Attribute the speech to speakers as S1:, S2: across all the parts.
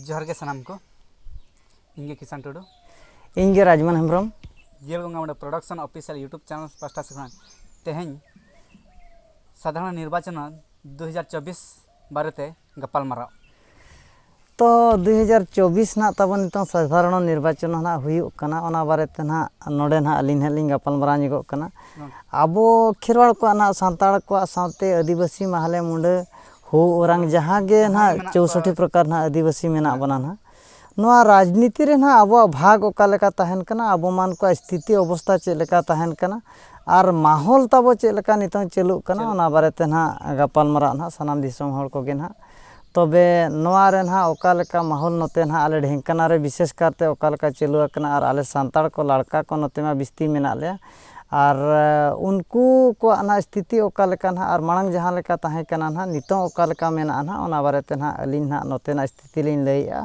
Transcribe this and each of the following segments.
S1: ᱡᱚᱦᱟᱨ ᱜᱮ ᱥᱟᱱᱟᱢ ᱠᱚ ᱤᱧ ᱜᱮ ᱠᱤᱥᱟᱱ ᱴᱩᱰᱩ ᱤᱧ ᱜᱮ ᱨᱟᱡᱽᱢᱟᱱ ᱦᱮᱢᱵᱨᱚᱢ ᱡᱤᱭᱟᱹᱲ ᱜᱚᱝᱜᱟ ᱢᱚᱬᱮ ᱯᱨᱚᱰᱟᱠᱥᱚᱱ ᱚᱯᱷᱤᱥᱤᱭᱟᱞ ᱤᱭᱩᱴᱩᱵᱽ ᱪᱮᱱᱮᱞ ᱯᱟᱥᱴᱟ ᱥᱮ ᱠᱷᱚᱱ ᱛᱮᱦᱮᱧ ᱥᱟᱫᱷᱟᱨᱚᱱ ᱱᱤᱨᱵᱟᱪᱚᱱ ᱫᱩ ᱦᱟᱡᱟᱨ ᱪᱚᱵᱽᱵᱤᱥ ᱵᱟᱨᱮᱛᱮ ᱜᱟᱯᱟᱞ ᱢᱟᱨᱟᱣ ᱛᱚ ᱫᱩ ᱦᱟᱡᱟᱨ ᱪᱚᱵᱽᱵᱤᱥ ᱱᱟᱜ ᱛᱟᱵᱚᱱ ᱱᱤᱛᱚᱝ ᱥᱟᱫᱷᱟᱨᱚᱱ ᱱᱤᱨᱵᱟᱪᱚᱱ ᱱᱟᱜ ᱦᱩᱭᱩᱜ ᱠᱟᱱᱟ ᱚᱱᱟ ᱵᱟᱨᱮᱛᱮ ᱱᱟᱜ ᱱᱚᱰᱮ ᱱᱟᱜ ᱟᱹᱞᱤᱧ ᱱᱟᱜ ᱞᱤᱧ ᱜᱟᱯᱟᱞ ᱢᱟᱨᱟᱣ ᱧᱚᱜᱚᱜ ᱠᱟᱱᱟ ᱟᱵᱚ ᱠᱷᱮᱨᱣᱟᱲ ᱠᱚᱣᱟᱜ ᱱᱟᱜ ᱥᱟᱱᱛᱟᱲ ᱠᱚᱣᱟᱜ ᱥᱟᱶᱛᱮ ᱟᱹᱫᱤᱵᱟᱹᱥᱤ ᱢᱟᱦᱞᱮ ᱢᱩᱰᱟᱹ ᱦᱳ ᱚᱨᱟᱝ ᱡᱟᱦᱟᱸ ᱜᱮ ᱱᱟᱦᱟᱜ ᱪᱳᱣᱥᱚᱴᱴᱤ ᱯᱨᱚᱠᱟᱨ ᱱᱟᱦᱟᱜ ᱟᱹᱫᱤᱵᱟᱹᱥᱤ ᱢᱮᱱᱟᱜ ᱵᱚᱱᱟ ᱱᱟᱦᱟᱜ ᱱᱚᱣᱟ ᱨᱟᱡᱽᱱᱤᱛᱤ ᱨᱮ ᱱᱟᱦᱟᱜ ᱟᱵᱚᱣᱟᱜ ᱵᱷᱟᱜᱽ ᱚᱠᱟ ᱞᱮᱠᱟ ᱛᱟᱦᱮᱱ ᱠᱟᱱᱟ ᱟᱵᱚ ᱢᱟᱱ ᱠᱚᱣᱟᱜ ᱥᱛᱷᱤᱛᱤ ᱚᱵᱚᱥᱛᱷᱟ ᱪᱮᱫ ᱞᱮᱠᱟ ᱛᱟᱦᱮᱱ ᱠᱟᱱᱟ ᱟᱨ ᱢᱟᱦᱚᱞ ᱛᱟᱵᱚ ᱪᱮᱫ ᱞᱮᱠᱟ ᱱᱤᱛᱚᱝ ᱪᱟᱹᱞᱩᱜ ᱠᱟᱱᱟ ᱚᱱᱟ ᱵᱟᱨᱮ ᱛᱮ ᱱᱟᱦᱟᱜ ᱜᱟᱯᱟᱞ ᱢᱟᱨᱟᱜ ᱱᱟᱦᱟᱜ ᱥᱟᱱᱟᱢ ᱫᱤᱥᱚᱢ ᱦᱚᱲ ᱠᱚᱜᱮ ᱱᱟᱦᱟᱜ ᱛᱚᱵᱮ ᱱᱚᱣᱟ ᱨᱮ ᱱᱟᱦᱟᱜ ᱚᱠᱟ ᱞᱮᱠᱟ ᱢᱟᱦᱚᱞ ᱱᱚᱛᱮ ᱱᱟᱦᱟᱜ ᱟᱞᱮ ᱰᱷᱮᱝᱠᱟᱱᱟ ᱨᱮ ᱵᱤᱥᱮᱥ ᱠᱟᱨᱛᱮ ᱚᱠᱟ ᱞᱮᱠᱟ ᱪᱟᱹᱞᱩ ᱟᱠᱟᱱᱟ ᱟᱨ ᱟᱞᱮ ᱥᱟᱱᱛᱟᱲ ᱠᱚ ᱞᱟᱲᱠᱟ ᱠᱚ ᱱᱚᱛᱮ ᱢᱟ ᱵᱤᱥᱛᱤ ᱢᱮᱱᱟᱜ ᱞᱮᱭᱟ ᱟᱨ ᱩᱱᱠᱩ ᱠᱚᱣᱟᱜ ᱱᱟᱦᱟᱜ ᱥᱛᱷᱤᱛᱤ ᱚᱠᱟ ᱞᱮᱠᱟ ᱱᱟᱦᱟᱜ ᱟᱨ ᱢᱟᱲᱟᱝ ᱡᱟᱦᱟᱸ ᱞᱮᱠᱟ ᱛᱟᱦᱮᱸ ᱠᱟᱱᱟ ᱱᱟᱦᱟᱜ ᱱᱤᱛᱚᱜ ᱚᱠᱟ ᱞᱮᱠᱟ ᱢᱮᱱᱟᱜᱼᱟ ᱱᱟᱦᱟᱜ ᱚᱱᱟ ᱵᱟᱨᱮ ᱛᱮ ᱱᱟᱦᱟᱜ ᱟᱹᱞᱤᱧ ᱱᱟᱦᱟᱜ ᱱᱚᱛᱮᱱᱟᱜ ᱥᱛᱷᱤᱛᱤ ᱞᱤᱧ ᱞᱟᱹᱭᱮᱜᱼᱟ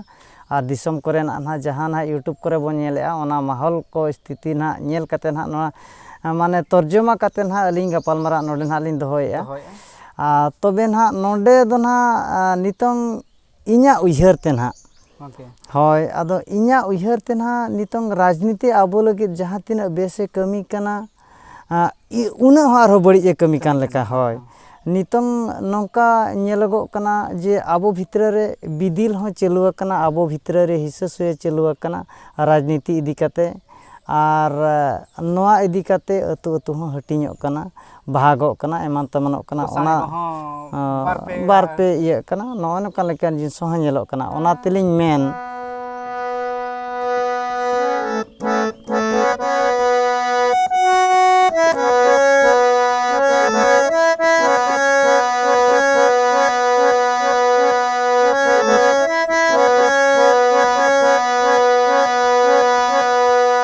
S1: ᱟᱨ ᱫᱤᱥᱚᱢ ᱠᱚᱨᱮᱱᱟᱜ ᱱᱟᱦᱟᱜ ᱡᱟᱦᱟᱸ ᱱᱟᱦᱟᱜ ᱤᱭᱩᱴᱩᱵᱽ ᱠᱚᱨᱮ ᱵᱚᱱ ᱧᱮᱞᱮᱜᱼᱟ ᱚᱱᱟ ᱢᱚᱦᱚᱞ ᱠᱚ ᱥᱛᱷᱤᱛᱤ ᱱᱟᱦᱟᱜ ᱧᱮᱞ ᱠᱟᱛᱮᱫ ᱱᱟᱦᱟᱜ ᱱᱚᱣᱟ ᱢᱟᱱᱮ ᱛᱚᱨᱡᱚᱢᱟ ᱠᱟᱛᱮᱫ ᱱᱟᱦᱟᱜ ᱟᱹᱞᱤᱧ ᱜᱟᱯᱟᱞᱢᱟᱨᱟᱣ ᱱᱚᱰᱮ ᱱᱟᱦᱟᱜ ᱞᱤᱧ ᱫᱚᱦᱚᱭᱮᱜᱼᱟ ᱟᱨ ᱛᱚᱵᱮ ᱱᱟᱦᱟᱜ ᱱᱚᱰᱮ ᱫᱚ ᱱᱟᱦᱟᱜ ᱱᱤᱛᱚᱝ ᱤᱧᱟᱹᱜ ᱩᱭᱦᱟᱹᱨ ᱛᱮ ᱱᱟᱦᱟᱜ ᱦᱳᱭ ᱟᱫᱚ ᱤᱧᱟᱹᱜ ᱩᱭᱦᱟᱹᱨ ᱛᱮ ᱱᱟᱦᱟᱜ ᱱᱤᱛᱚᱝ ᱨᱟᱡᱽᱱᱤᱛᱤ ᱟᱵᱚ ᱞᱟᱹᱜᱤᱫ ᱡᱟᱦᱟᱸ ᱛᱤᱱᱟᱹᱜ ᱵᱮᱥᱮ ᱠᱟᱹᱢᱤ ᱠᱟᱱᱟ ᱩᱱᱟᱹᱜ ᱦᱚᱸ ᱟᱨᱦᱚᱸ ᱵᱟᱹᱲᱤᱡ ᱮ ᱠᱟᱹᱢᱤ ᱠᱟᱱ ᱞᱮᱠᱟ ᱦᱳᱭ ᱱᱤᱛᱚᱝ ᱱᱚᱝᱠᱟ ᱧᱮᱞᱚᱜᱚᱜ ᱠᱟᱱᱟ ᱡᱮ ᱟᱵᱚ ᱵᱷᱤᱛᱨᱤ ᱨᱮ ᱵᱤᱫᱤᱞ ᱦᱚᱸ ᱪᱟᱹᱞᱩ ᱟᱠᱟᱱᱟ ᱟᱵᱚ ᱵᱷᱤᱛᱨᱤ ᱨᱮ ᱦᱤᱥᱟᱹ ᱥᱩᱭᱟᱹ ᱪᱟᱹᱞᱩ ᱟᱠᱟᱱᱟ ᱨᱟᱡᱽᱱᱤᱛᱤ ᱤᱫᱤ ᱠᱟᱛᱮᱫ ᱟᱨ ᱱᱚᱣᱟ ᱤᱫᱤ ᱠᱟᱛᱮᱫ ᱟᱹᱛᱩ ᱟᱹᱛᱩ ᱦᱚᱸ ᱦᱟᱹᱴᱤᱧᱚᱜ ᱠᱟᱱᱟ ᱵᱟᱦᱟᱜᱚᱜ ᱠᱟᱱᱟ ᱮᱢᱟᱱ ᱛᱮᱢᱟᱱᱚᱜ ᱠᱟᱱᱟ ᱚᱱᱟ ᱵᱟᱨ ᱯᱮ ᱤᱭᱟᱹᱜ ᱠᱟᱱᱟ ᱱᱚᱜᱼᱚᱭ ᱱᱚᱝᱠᱟ ᱞᱮᱠᱟᱱ ᱡᱤᱱᱤᱥ ᱦᱚᱸ ᱧᱮᱞᱚᱜ ᱠᱟᱱᱟ ᱚᱱᱟ ᱛᱮᱞᱤᱧ ᱢᱮᱱ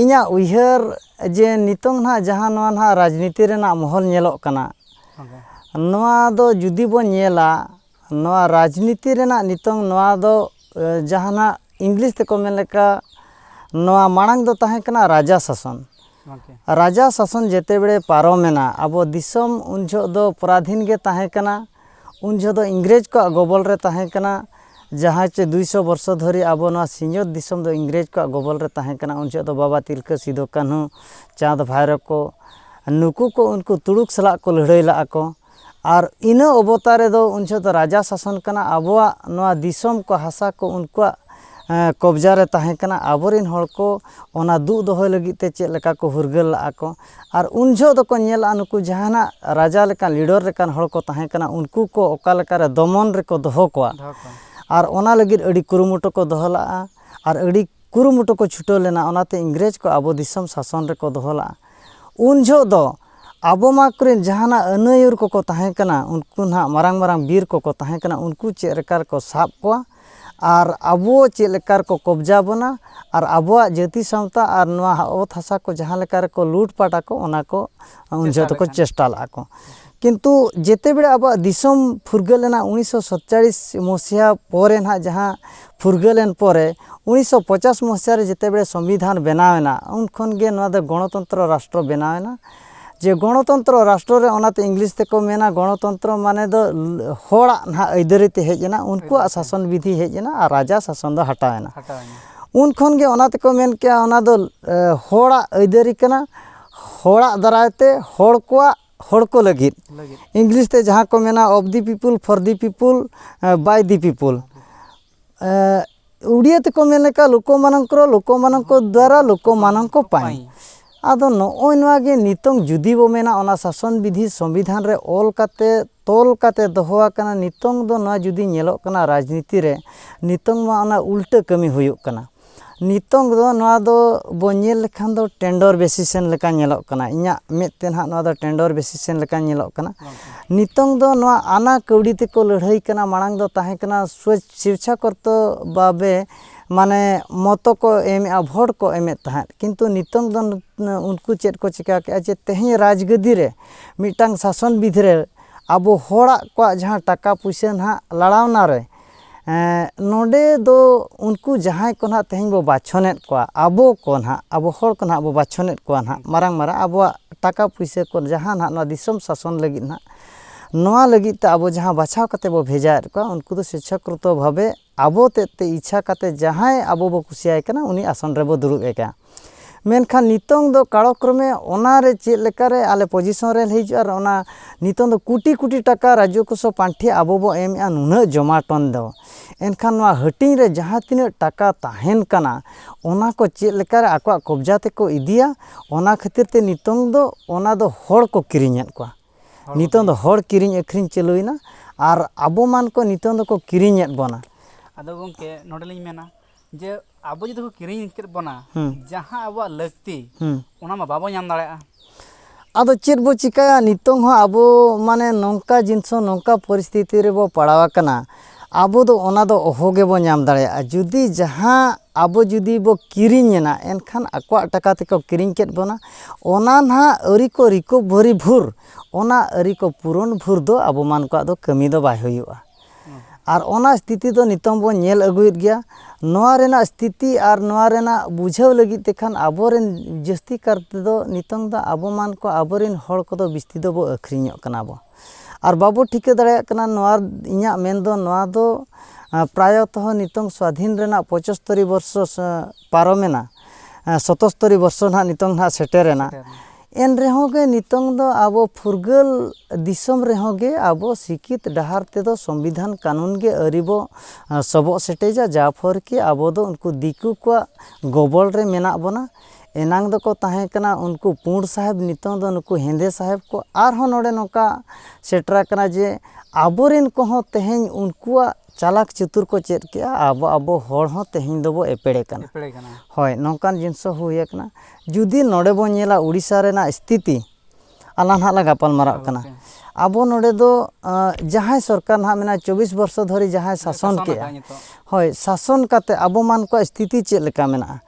S1: ᱤᱧᱟᱹᱜ ᱩᱭᱦᱟᱹᱨ ᱡᱮ ᱱᱤᱛᱚᱝ ᱱᱟᱦᱟᱜ ᱡᱟᱦᱟᱸ ᱱᱚᱣᱟ ᱱᱟᱦᱟᱜ ᱨᱟᱡᱽᱱᱤᱛᱤ ᱨᱮᱱᱟᱜ ᱢᱚᱦᱚᱞ ᱧᱮᱞᱚᱜ ᱠᱟᱱᱟ ᱱᱚᱣᱟ ᱫᱚ ᱡᱩᱫᱤ ᱵᱚᱱ ᱧᱮᱞᱟ ᱱᱚᱣᱟ ᱨᱟᱡᱽᱱᱤᱛᱤ ᱨᱮᱱᱟᱜ ᱱᱤᱛᱚᱝ ᱱᱚᱣᱟ ᱫᱚ ᱡᱟᱦᱟᱱᱟᱜ ᱤᱝᱞᱤᱥ ᱛᱮᱠᱚ ᱢᱮᱱ ᱞᱮᱠᱟ ᱱᱚᱣᱟ ᱢᱟᱲᱟᱝ ᱫᱚ ᱛᱟᱦᱮᱸ ᱠᱟᱱᱟ ᱨᱟᱡᱟ ᱥᱟᱥᱚᱱ ᱨᱟᱡᱟ ᱥᱟᱥᱚᱱ ᱡᱮᱛᱮ ᱵᱮᱲᱮ ᱯᱟᱨᱚᱢᱮᱱᱟ ᱟᱵᱚ ᱫᱤᱥᱚᱢ ᱩᱱ ᱡᱚᱦᱚᱜ ᱫᱚ ᱯᱚᱨᱟᱫᱷᱤᱱ ᱜᱮ ᱛᱟᱦᱮᱸ ᱠᱟᱱᱟ ᱩᱱ ᱡᱚᱦᱚᱜ ᱫᱚ ᱤᱝᱨᱮᱡᱽ ᱠᱚᱣᱟᱜ ᱜᱚᱵᱚᱞ ᱨᱮ ᱛᱟᱦᱮᱸ ᱠᱟᱱᱟ ᱡᱟᱦᱟᱸ ᱪᱮ ᱫᱩᱭ ᱥᱚ ᱵᱚᱨᱥᱚ ᱫᱷᱚᱨᱮ ᱟᱵᱚ ᱱᱚᱣᱟ ᱥᱤᱧᱚᱛ ᱫᱤᱥᱚᱢ ᱫᱚ ᱤᱝᱨᱮᱡᱽ ᱠᱚᱣᱟᱜ ᱜᱚᱵᱚᱞ ᱨᱮ ᱛᱟᱦᱮᱸ ᱠᱟᱱᱟ ᱩᱱ ᱡᱚᱦᱚᱜ ᱫᱚ ᱵᱟᱵᱟ ᱛᱤᱞᱠᱟᱹ ᱥᱤᱫᱩ ᱠᱟᱹᱱᱦᱩ ᱪᱟᱸᱫᱽ ᱵᱷᱟᱭᱨᱳ ᱠᱚ ᱱᱩᱠᱩ ᱠᱚ ᱩᱱᱠᱩ ᱛᱩᱲᱩᱠ ᱥᱟᱞᱟᱜ ᱠᱚ ᱞᱟᱹᱲᱦᱟᱹᱭ ᱞᱟᱜᱼᱟ ᱠᱚ ᱟᱨ ᱤᱱᱟᱹ ᱚᱵᱚᱛᱟ ᱨᱮᱫᱚ ᱩᱱ ᱡᱚᱦᱚᱜ ᱫᱚ ᱨᱟᱡᱟ ᱥᱟᱥᱚᱱ ᱠᱟᱱᱟ ᱟᱵᱚᱣᱟᱜ ᱱᱚᱣᱟ ᱫᱤᱥᱚᱢ ᱠᱚ ᱦᱟᱥᱟ ᱠᱚ ᱩᱱᱠᱩᱣᱟᱜ ᱠᱚᱵᱽᱡᱟ ᱨᱮ ᱛᱟᱦᱮᱸ ᱠᱟᱱᱟ ᱟᱵᱚ ᱨᱮᱱ ᱦᱚᱲ ᱠᱚ ᱚᱱᱟ ᱫᱩᱜ ᱫᱚᱦᱚᱭ ᱞᱟᱹᱜᱤᱫ ᱛᱮ ᱪᱮᱫ ᱞᱮᱠᱟ ᱠᱚ ᱯᱷᱩᱨᱜᱟᱹᱞ ᱞᱟᱜᱼᱟ ᱠᱚ ᱟᱨ ᱩᱱ ᱡᱚᱦᱚᱜ ᱫᱚᱠᱚ ᱧᱮᱞᱟ ᱱᱩᱠᱩ ᱡᱟᱦᱟᱱᱟᱜ ᱨᱟᱡᱟ ᱞᱮᱠᱟᱱ ᱞᱤᱰᱟᱨ ᱞᱮᱠᱟᱱ ᱦᱚᱲ ᱠᱚ ᱛᱟᱦᱮᱸ ᱠᱟᱱᱟ ᱩᱱᱠᱩ ᱠᱚ ᱚᱠᱟ ᱞᱮᱠᱟ ᱨᱮ ᱫᱚᱢᱚᱱ ᱨᱮᱠᱚ ᱫᱚᱦᱚ ᱠᱚᱣᱟ ᱟᱨ ᱚᱱᱟ ᱞᱟᱹᱜᱤᱫ ᱟᱹᱰᱤ ᱠᱩᱨᱩᱢᱩᱴᱩ ᱠᱚ ᱫᱚᱦᱚ ᱞᱟᱜᱼᱟ ᱟᱨ ᱟᱹᱰᱤ ᱠᱩᱨᱩᱢᱩᱴᱩ ᱠᱚ ᱪᱷᱩᱴᱟᱹᱣ ᱞᱮᱱᱟ ᱚᱱᱟᱛᱮ ᱤᱝᱨᱮᱡᱽ ᱠᱚ ᱟᱵᱚ ᱫᱤᱥᱚᱢ ᱥᱟᱥᱚᱱ ᱨᱮᱠᱚ ᱫᱚᱦᱚ ᱞᱟᱜᱼᱟ ᱩᱱ ᱡᱚᱦᱚᱜ ᱫᱚ ᱟᱵᱚ ᱢᱟ ᱠᱚᱨᱮᱱ ᱡᱟᱦᱟᱱᱟᱜ ᱟᱹᱱᱟᱹᱭᱩᱨ ᱠᱚᱠᱚ ᱛᱟᱦᱮᱸ ᱠᱟᱱᱟ ᱩᱱᱠᱩ ᱱᱟᱦᱟᱜ ᱢᱟᱨᱟᱝ ᱢᱟᱨᱟᱝ ᱵᱤᱨ ᱠᱚᱠᱚ ᱛᱟᱦᱮᱸ ᱠᱟᱱᱟ ᱩᱱᱠᱩ ᱪᱮᱫ ᱞᱮᱠᱟ ᱨᱮᱠᱚ ᱥᱟᱵ ᱠᱚᱣᱟ ᱟᱨ ᱟᱵᱚ ᱪᱮᱫ ᱞᱮᱠᱟ ᱨᱮᱠᱚ ᱠᱚᱵᱽᱡᱟ ᱵᱚᱱᱟ ᱟᱨ ᱟᱵᱚᱣᱟᱜ ᱡᱟᱹᱛᱤ ᱥᱟᱶᱛᱟ ᱟᱨ ᱱᱚᱣᱟ ᱚᱛ ᱦᱟᱥᱟ ᱠᱚ ᱡᱟᱦᱟᱸ ᱞᱮᱠᱟ ᱨᱮᱠᱚ ᱞᱩᱴ ᱯᱟᱴ ᱟᱠᱚ ᱚᱱᱟ ᱠᱚ ᱩᱱ ᱡᱚᱦᱚᱜ ᱫᱚᱠᱚ ᱪᱮᱥᱴᱟ ᱞᱟᱜᱼᱟ ᱠᱚ ᱠᱤᱱᱛᱩ ᱡᱮᱛᱮ ᱵᱮᱲᱟ ᱟᱵᱚᱣᱟᱜ ᱫᱤᱥᱚᱢ ᱯᱷᱩᱨᱜᱟᱹᱞ ᱮᱱᱟ ᱩᱱᱤᱥᱥᱚ ᱥᱟᱛᱪᱟᱞᱞᱤᱥ ᱢᱚᱥᱤᱦᱟ ᱯᱚᱨᱮ ᱱᱟᱜ ᱡᱟᱦᱟᱸ ᱯᱷᱩᱨᱜᱟᱹᱞ ᱮᱱ ᱯᱚᱨᱮ ᱩᱱᱤᱥᱥᱚ ᱯᱚᱪᱟᱥ ᱢᱚᱥᱤᱦᱟ ᱨᱮ ᱡᱮᱛᱮ ᱵᱮᱲᱟ ᱥᱚᱝᱵᱤᱫᱷᱟᱱ ᱵᱮᱱᱟᱣ ᱮᱱᱟ ᱩᱱ ᱠᱷᱚᱱ ᱜᱮ ᱱᱚᱣᱟ ᱫᱚ ᱜᱚᱱᱚᱛᱚᱱᱛᱨᱚ ᱨᱟᱥᱴᱨᱚ ᱵᱮᱱᱟᱣ ᱮᱱᱟ ᱡᱮ ᱜᱚᱱᱚᱛᱚᱱᱛᱨᱚ ᱨᱟᱥᱴᱨᱚ ᱨᱮ ᱚᱱᱟᱛᱮ ᱤᱝᱞᱤᱥ ᱛᱮᱠᱚ ᱢᱮᱱᱟ ᱜᱚᱱᱚᱛᱚᱱᱛᱨᱚ ᱢᱟᱱᱮ ᱫᱚ ᱦᱚᱲᱟᱜ ᱱᱟᱜ ᱟᱹᱭᱫᱟᱹᱨᱤ ᱛᱮ ᱦᱮᱡ ᱮᱱᱟ ᱩᱱᱠᱩᱣᱟᱜ ᱥᱟᱥᱚᱱ ᱵᱤᱫᱷᱤ ᱦᱮᱡ ᱮᱱᱟ ᱟᱨ ᱨᱟᱡᱟ ᱥᱟᱥᱚᱱ ᱫᱚ ᱦᱟᱴᱟᱣ ᱮᱱᱟ ᱩᱱ ᱠᱷᱚᱱ ᱜᱮ ᱚᱱᱟ ᱛᱮᱠᱚ ᱢᱮᱱ ᱠᱮᱜᱼᱟ ᱚᱱᱟ ᱫᱚ ᱦᱚᱲᱟᱜ ᱟᱹᱭᱫᱟᱹᱨᱤ ᱠᱟᱱᱟ ᱦᱚᱲᱟᱜ ᱫᱟᱨᱟᱭ ᱛᱮ ᱦᱚᱲ ᱠᱚᱣᱟᱜ ᱦᱚᱲ ᱠᱚ ᱞᱟᱹᱜᱤᱫ ᱤᱝᱞᱤᱥ ᱛᱮ ᱡᱟᱦᱟᱸ ᱠᱚ ᱢᱮᱱᱟ of the people for the people by the people ᱩᱲᱤᱭᱟᱹ ᱛᱮᱠᱚ ᱢᱮᱱ ᱞᱮᱠᱟ ᱞᱳᱠᱳ ᱢᱟᱱᱚᱝᱠᱨᱚ ᱞᱳᱠᱳ ᱢᱟᱱᱚᱝᱠᱚ ᱫᱟᱨᱟ ᱞᱳᱠᱳ ᱢᱟᱱᱚᱝᱠᱚ ᱯᱟᱭ ᱟᱫᱚ ᱱᱚᱜᱼᱚᱭ ᱱᱚᱣᱟ ᱜᱮ ᱱᱤᱛᱚᱝ ᱡᱩᱫᱤ ᱵᱚ ᱢᱮᱱᱟ ᱚᱱᱟ ᱥᱟᱥᱚᱱ ᱵᱤᱫᱷᱤ ᱥᱚᱝᱵᱤᱫᱷᱟᱱ ᱨᱮ ᱚᱞ ᱠᱟᱛᱮ ᱛᱚᱞ ᱠᱟᱛᱮ ᱫᱚᱦᱚ ᱟᱠᱟᱱᱟ ᱱᱤᱛᱚᱝ ᱫᱚ ᱱᱚᱣᱟ ᱡᱩᱫᱤ ᱧᱮᱞᱚᱜ ᱠᱟᱱᱟ ᱨᱟᱡᱽᱱᱤᱛᱤ ᱨᱮ ᱱᱤᱛᱚᱝ ᱢᱟ ᱚᱱᱟ ᱩᱞᱴᱟᱹ ᱠᱟᱹᱢᱤ ᱦᱩᱭᱩᱜ ᱠᱟᱱᱟ ᱱᱤᱛᱚᱝ ᱫᱚ ᱱᱚᱣᱟ ᱫᱚ ᱵᱚᱱ ᱧᱮᱞ ᱞᱮᱠᱷᱟᱱ ᱫᱚ ᱴᱮᱱᱰᱚᱨ ᱵᱮᱥᱤᱥᱮᱱ ᱞᱮᱠᱟ ᱧᱮᱞᱚᱜ ᱠᱟᱱᱟ ᱤᱧᱟᱹᱜ ᱢᱮᱫ ᱛᱮ ᱱᱟᱦᱟᱜ ᱱᱚᱣᱟ ᱫᱚ ᱴᱮᱱᱰᱚᱨ ᱵᱮᱥᱤᱥᱮᱱ ᱞᱮᱠᱟ ᱧᱮᱞᱚᱜ ᱠᱟᱱᱟ ᱱᱤᱛᱚᱝ ᱫᱚ ᱱᱚᱣᱟ ᱟᱱᱟ ᱠᱟᱹᱣᱰᱤ ᱛᱮᱠᱚ ᱞᱟᱹᱲᱦᱟᱹᱭ ᱠᱟᱱᱟ ᱢᱟᱲᱟᱝ ᱫᱚ ᱛᱟᱦᱮᱸ ᱠᱟᱱᱟ ᱥᱳᱪ ᱥᱤᱨᱪᱷᱟ ᱠᱚᱨᱛᱚ ᱵᱟᱵᱮ ᱢᱟᱱᱮ ᱢᱚᱛᱚ ᱠᱚ ᱮᱢᱮᱜᱼᱟ ᱵᱷᱳᱴ ᱠᱚ ᱮᱢᱮᱜ ᱛᱟᱦᱮᱸᱜ ᱠᱤᱱᱛᱩ ᱱᱤᱛᱚᱝ ᱫᱚ ᱩᱱᱠᱩ ᱪᱮᱫ ᱠᱚ ᱪᱤᱠᱟᱹ ᱠᱮᱜᱼᱟ ᱡᱮ ᱛᱮᱦᱮᱧ ᱨᱟᱡᱽ ᱜᱚᱫᱤ ᱨᱮ ᱢᱤᱫᱴᱟᱝ ᱥᱟᱥᱚᱱ ᱵᱤᱫᱷᱤ ᱨᱮ ᱟᱵᱚ ᱦᱚᱲᱟᱜ ᱠᱚᱣᱟᱜ ᱡᱟᱦᱟᱸ ᱴᱟᱠᱟ ᱯᱩᱭᱥᱟᱹ ᱱᱟᱦᱟᱜ ᱞᱟᱲᱟᱣᱱᱟ ᱨᱮ ᱱᱚᱰᱮ ᱫᱚ ᱩᱱᱠᱩ ᱡᱟᱦᱟᱸᱭ ᱠᱚ ᱱᱟᱦᱟᱜ ᱛᱮᱦᱮᱧ ᱵᱚ ᱵᱟᱪᱷᱚᱱᱮᱫ ᱠᱚᱣᱟ ᱟᱵᱚ ᱠᱚ ᱱᱟᱦᱟᱜ ᱟᱵᱚ ᱦᱚᱲ ᱠᱚ ᱱᱟᱦᱟᱜ ᱵᱚ ᱵᱟᱪᱷᱚᱱᱮᱫ ᱠᱚᱣᱟ ᱱᱟᱦᱟᱜ ᱢᱟᱨᱟᱝ ᱢᱟᱨᱟᱝ ᱟᱵᱚᱣᱟᱜ ᱴᱟᱠᱟ ᱯᱩᱭᱥᱟᱹ ᱠᱚ ᱡᱟᱦᱟᱸ ᱱᱟᱦᱟᱜ ᱱᱚᱣᱟ ᱫᱤᱥᱚᱢ ᱥᱟᱥᱚᱱ ᱞᱟᱹᱜᱤᱫ ᱱᱟᱦᱟᱜ ᱱᱚᱣᱟ ᱞᱟᱹᱜᱤᱫ ᱛᱮ ᱟᱵᱚ ᱡᱟᱦᱟᱸ ᱵᱟᱪᱷᱟᱣ ᱠᱟᱛᱮ ᱵᱚ ᱵᱷᱮᱡᱟᱭᱮᱫ ᱠᱚᱣᱟ ᱩᱱᱠᱩ ᱫᱚ ᱥᱮᱪᱪᱷᱟᱠᱨᱤᱛᱚ ᱵᱷᱟᱵᱮ ᱟᱵᱚ ᱛᱮᱫ ᱛᱮ ᱤᱪᱪᱷᱟ ᱠᱟᱛᱮ ᱡᱟᱦᱟᱸᱭ ᱟᱵᱚ ᱵᱚ ᱠᱩᱥᱤᱭᱟᱭ ᱠᱟᱱᱟ ᱩᱱᱤ ᱟᱥᱚᱱ ᱨᱮᱵᱚ ᱫᱩᱲᱩᱵᱮ ᱠᱟᱱᱟ ᱢᱮᱱᱠᱷᱟᱱ ᱱᱤᱛᱚᱝ ᱫᱚ ᱠᱟᱞᱚᱠᱨᱚᱢᱮ ᱚᱱᱟ ᱨᱮ ᱪᱮᱫ ᱞᱮᱠᱟ ᱨᱮ ᱟᱞᱮ ᱯᱚᱡᱤᱥᱚᱱ ᱨᱮ ᱞᱮ ᱦᱤᱡᱩᱜᱼᱟ ᱟᱨ ᱚᱱᱟ ᱱᱤᱛᱚᱝ ᱫᱚ ᱠᱳᱴᱤ ᱠᱳᱴᱤ ᱴᱟᱠᱟ ᱨᱟᱡᱽᱡᱚ ᱠᱚᱥᱚ ᱯᱟᱱᱴᱷᱮ ᱟᱵᱚ ᱵᱚᱱ ᱮᱢᱮᱜᱼᱟ ᱱᱩᱱᱟᱹᱜ ᱡᱚᱢᱟᱴᱚᱱ ᱫᱚ ᱮᱱᱠᱷᱟᱱ ᱱᱚᱣᱟ ᱦᱟᱹᱴᱤᱧ ᱨᱮ ᱡᱟᱦᱟᱸ ᱛᱤᱱᱟᱹᱜ ᱴᱟᱠᱟ ᱛᱟᱦᱮᱱ ᱠᱟᱱᱟ ᱚᱱᱟ ᱠᱚ ᱪᱮᱫ ᱞᱮᱠᱟ ᱨᱮ ᱟᱠᱚᱣᱟᱜ ᱠᱚᱵᱽᱡᱟ ᱛᱮᱠᱚ ᱤᱫᱤᱭᱟ ᱚᱱᱟ ᱠᱷᱟᱹᱛᱤᱨ ᱛᱮ ᱱᱤᱛᱚᱝ ᱫᱚ ᱚᱱᱟ ᱫᱚ ᱦᱚᱲ ᱠᱚ ᱠᱤᱨᱤᱧᱮᱫ ᱠᱚᱣᱟ ᱱᱤᱛᱚᱝ ᱫᱚ ᱦᱚᱲ ᱠᱤᱨᱤᱧ ᱟᱹᱠᱷᱨᱤᱧ ᱪᱟᱹᱞᱩᱭᱮᱱᱟ ᱟᱨ ᱟᱵᱚ ᱢᱟᱱ ᱠᱚ ᱱᱤᱛᱚᱝ ᱫᱚᱠᱚ ᱠᱤᱨᱤᱧᱮᱫ ᱵᱚᱱᱟ ᱟᱫᱚ ᱜᱚᱢᱠᱮ ᱱᱚᱰᱮ ᱞᱤᱧ ᱢᱮᱱᱟ ᱡᱮ ᱟᱵᱚ ᱡᱩᱫᱤ ᱠᱚ ᱠᱤᱨᱤᱧ ᱠᱮᱫ ᱵᱚᱱᱟ ᱡᱟᱦᱟᱸ ᱟᱵᱚᱣᱟᱜ ᱞᱟᱹᱠᱛᱤ ᱚᱱᱟ ᱢᱟ ᱵᱟᱵᱚ ᱧᱟᱢ ᱫᱟᱲᱮᱭᱟᱜᱼᱟ ᱟᱫᱚ ᱪᱮᱫ ᱵᱚ ᱪᱤᱠᱟᱹᱭᱟ ᱱᱤᱛᱚᱝ ᱦᱚᱸ ᱟᱵᱚ ᱢᱟᱱᱮ ᱱᱚᱝᱠᱟ ᱡᱤᱱᱤᱥ ᱦᱚᱸ ᱱᱚᱝᱠᱟ ᱯᱚᱨᱤᱥᱛᱷᱤᱛᱤ ᱨᱮᱵᱚ ᱯᱟᱲᱟᱣ ᱟᱠᱟᱱᱟ ᱟᱵᱚ ᱫᱚ ᱚᱱᱟ ᱫᱚ ᱚᱦᱚ ᱜᱮᱵᱚ ᱧᱟᱢ ᱫᱟᱲᱮᱭᱟᱜᱼᱟ ᱡᱩᱫᱤ ᱡᱟᱦᱟᱸ ᱟᱵᱚ ᱡᱩᱫᱤ ᱵᱚ ᱠᱤᱨᱤᱧ ᱮᱱᱟ ᱮᱱᱠᱷᱟᱱ ᱟᱠᱚᱣᱟᱜ ᱴᱟᱠᱟ ᱛᱮᱠᱚ ᱠᱤᱨᱤᱧ ᱠᱮᱫ ᱵᱚᱱᱟ ᱚᱱᱟ ᱱᱟᱦᱟᱜ ᱟᱹᱣᱨᱤ ᱠᱚ ᱨᱤᱠᱚᱵᱷᱟᱨᱤ ᱵᱷᱳᱨ ᱚᱱᱟ ᱟᱹᱣᱨᱤ ᱠᱚ ᱯᱩᱨᱚᱱ ᱵᱷᱳᱨ ᱫᱚ ᱟᱵᱚ ᱢᱟᱱ ᱠᱚᱣᱟᱜ ᱫᱚ ᱠᱟᱹᱢᱤ ᱫᱚ ᱵᱟᱭ ᱦᱩᱭᱩᱜᱼᱟ ᱟᱨ ᱚᱱᱟ ᱥᱛᱷᱤᱛᱤ ᱫᱚ ᱱᱤᱛᱚᱝ ᱵᱚᱱ ᱧᱮᱞ ᱟᱹᱜᱩᱭᱮᱫ ᱜᱮᱭᱟ ᱱᱚᱣᱟ ᱨᱮᱱᱟᱜ ᱥᱛᱷᱤᱛᱤ ᱟᱨ ᱱᱚᱣᱟ ᱨᱮᱱᱟᱜ ᱵᱩᱡᱷᱟᱹᱣ ᱞᱟᱹᱜᱤᱫ ᱛᱮᱠᱷᱟᱱ ᱟᱵᱚ ᱨᱮᱱ ᱡᱟᱹᱥᱛᱤ ᱠᱟᱨ ᱛᱮᱫᱚ ᱱᱤᱛᱚᱝ ᱫᱚ ᱟᱵᱚ ᱢᱟᱱ ᱠᱚ ᱟᱵᱚ ᱨᱮᱱ ᱦᱚᱲ ᱠᱚᱫᱚ ᱵᱤᱥᱛᱤ ᱫᱚᱵᱚ ᱟᱹᱠᱷᱨᱤᱧᱚᱜ ᱠᱟᱱᱟ ᱵᱚ ᱟᱨ ᱵᱟᱵᱚ ᱴᱷᱤᱠᱟᱹ ᱫᱟᱲᱮᱭᱟᱜ ᱠᱟᱱᱟ ᱱᱚᱣᱟ ᱤᱧᱟᱹᱜ ᱢᱮᱱ ᱫᱚ ᱱᱚᱣᱟ ᱫᱚ ᱯᱨᱟᱭᱚᱛᱚ ᱱᱤᱛᱚᱝ ᱥᱟᱹᱫᱷᱤᱱ ᱨᱮᱱᱟᱜ ᱯᱚᱸᱪᱚᱥᱛᱚᱨᱤ ᱵᱚᱨᱥᱚ ᱯᱟᱨᱚᱢᱮᱱᱟ ᱥᱚᱛᱚᱥᱛᱚᱨᱤ ᱵᱚᱨᱥᱚ ᱱᱟᱦᱟᱜ ᱱᱤᱛᱚᱝ ᱱᱟᱦᱟᱜ ᱥᱮᱴᱮᱨᱮᱱᱟ ᱮᱱ ᱨᱮᱦᱚᱸ ᱜᱮ ᱱᱤᱛᱚᱝ ᱫᱚ ᱟᱵᱚ ᱯᱷᱩᱨᱜᱟᱹᱞ ᱫᱤᱥᱚᱢ ᱨᱮᱦᱚᱸ ᱜᱮ ᱟᱵᱚ ᱥᱤᱠᱷᱤᱛ ᱰᱟᱦᱟᱨ ᱛᱮᱫᱚ ᱥᱚᱝᱵᱤᱫᱷᱟᱱ ᱠᱟᱹᱱᱩᱱ ᱜᱮ ᱟᱹᱣᱨᱤ ᱵᱚ ᱥᱚᱵᱚᱜ ᱥᱮᱴᱮᱡᱟ ᱡᱟ ᱯᱷᱚᱨ ᱠᱤ ᱟᱵᱚ ᱫᱚ ᱩᱱᱠᱩ ᱫᱤᱠᱩ ᱠᱚᱣᱟᱜ ᱜᱚᱵᱚᱞ ᱨᱮ ᱢᱮᱱᱟᱜ ᱵᱚᱱᱟ ᱮᱱᱟᱝ ᱫᱚᱠᱚ ᱛᱟᱦᱮᱸ ᱠᱟᱱᱟ ᱩᱱᱠᱩ ᱯᱩᱬ ᱥᱟᱦᱮᱵᱽ ᱱᱤᱛᱚᱝ ᱫᱚ ᱱᱩᱠᱩ ᱦᱮᱸᱫᱮ ᱥᱟᱦᱮᱵᱽ ᱠᱚ ᱟᱨᱦᱚᱸ ᱱᱚᱰᱮ ᱱᱚᱝᱠᱟ ᱥᱮᱴᱮᱨᱟᱠᱟᱱᱟ ᱡᱮ ᱟᱵᱚ ᱨᱮᱱ ᱠᱚᱦᱚᱸ ᱛᱮᱦᱮᱧ ᱩᱱᱠᱩᱣᱟᱜ ᱪᱟᱞᱟᱠ ᱪᱩᱛᱩᱨ ᱠᱚ ᱪᱮᱫ ᱠᱮᱜᱼᱟ ᱟᱵᱚ ᱟᱵᱚ ᱦᱚᱲ ᱦᱚᱸ ᱛᱮᱦᱮᱧ ᱫᱚᱵᱚ ᱮᱯᱮᱲᱮ ᱠᱟᱱᱟ ᱮᱯᱮᱲᱮ ᱠᱟᱱᱟ ᱦᱳᱭ ᱱᱚᱝᱠᱟᱱ ᱡᱤᱱᱤᱥ ᱦᱚᱸ ᱦᱩᱭ ᱠᱟᱱᱟ ᱡᱩᱫᱤ ᱱᱚᱰᱮ ᱵᱚᱱ ᱧᱮᱞᱟ ᱳᱰᱤᱥᱟ ᱨᱮᱱᱟᱜ ᱥᱛᱷᱤᱛᱤ ᱟᱞᱟᱝ ᱦᱟᱸᱜ ᱞᱟᱝ ᱜᱟᱯᱟᱞ ᱢᱟᱨᱟᱜ ᱠᱟᱱᱟ ᱟᱵᱚ ᱱᱚᱰᱮ ᱫᱚ ᱡᱟᱦᱟᱸᱭ ᱥᱚᱨᱠᱟᱨ ᱦᱟᱸᱜ ᱢᱮᱱᱟᱭ ᱪᱚᱵᱵᱤᱥ ᱵᱚᱨᱥᱚ ᱫᱷᱚᱨᱮ ᱡᱟᱦᱟᱸᱭ ᱥᱟᱥᱚᱱ ᱠᱮᱜᱼᱟ ᱦᱳᱭ ᱥᱟᱥᱚᱱ ᱠᱟᱛᱮ ᱟᱵᱚ ᱢᱟᱱ ᱠᱚᱣᱟᱜ ᱥᱛᱷᱤᱛᱤ ᱪᱮᱫ ᱞᱮᱠᱟ ᱢᱮᱱᱟᱜᱼᱟ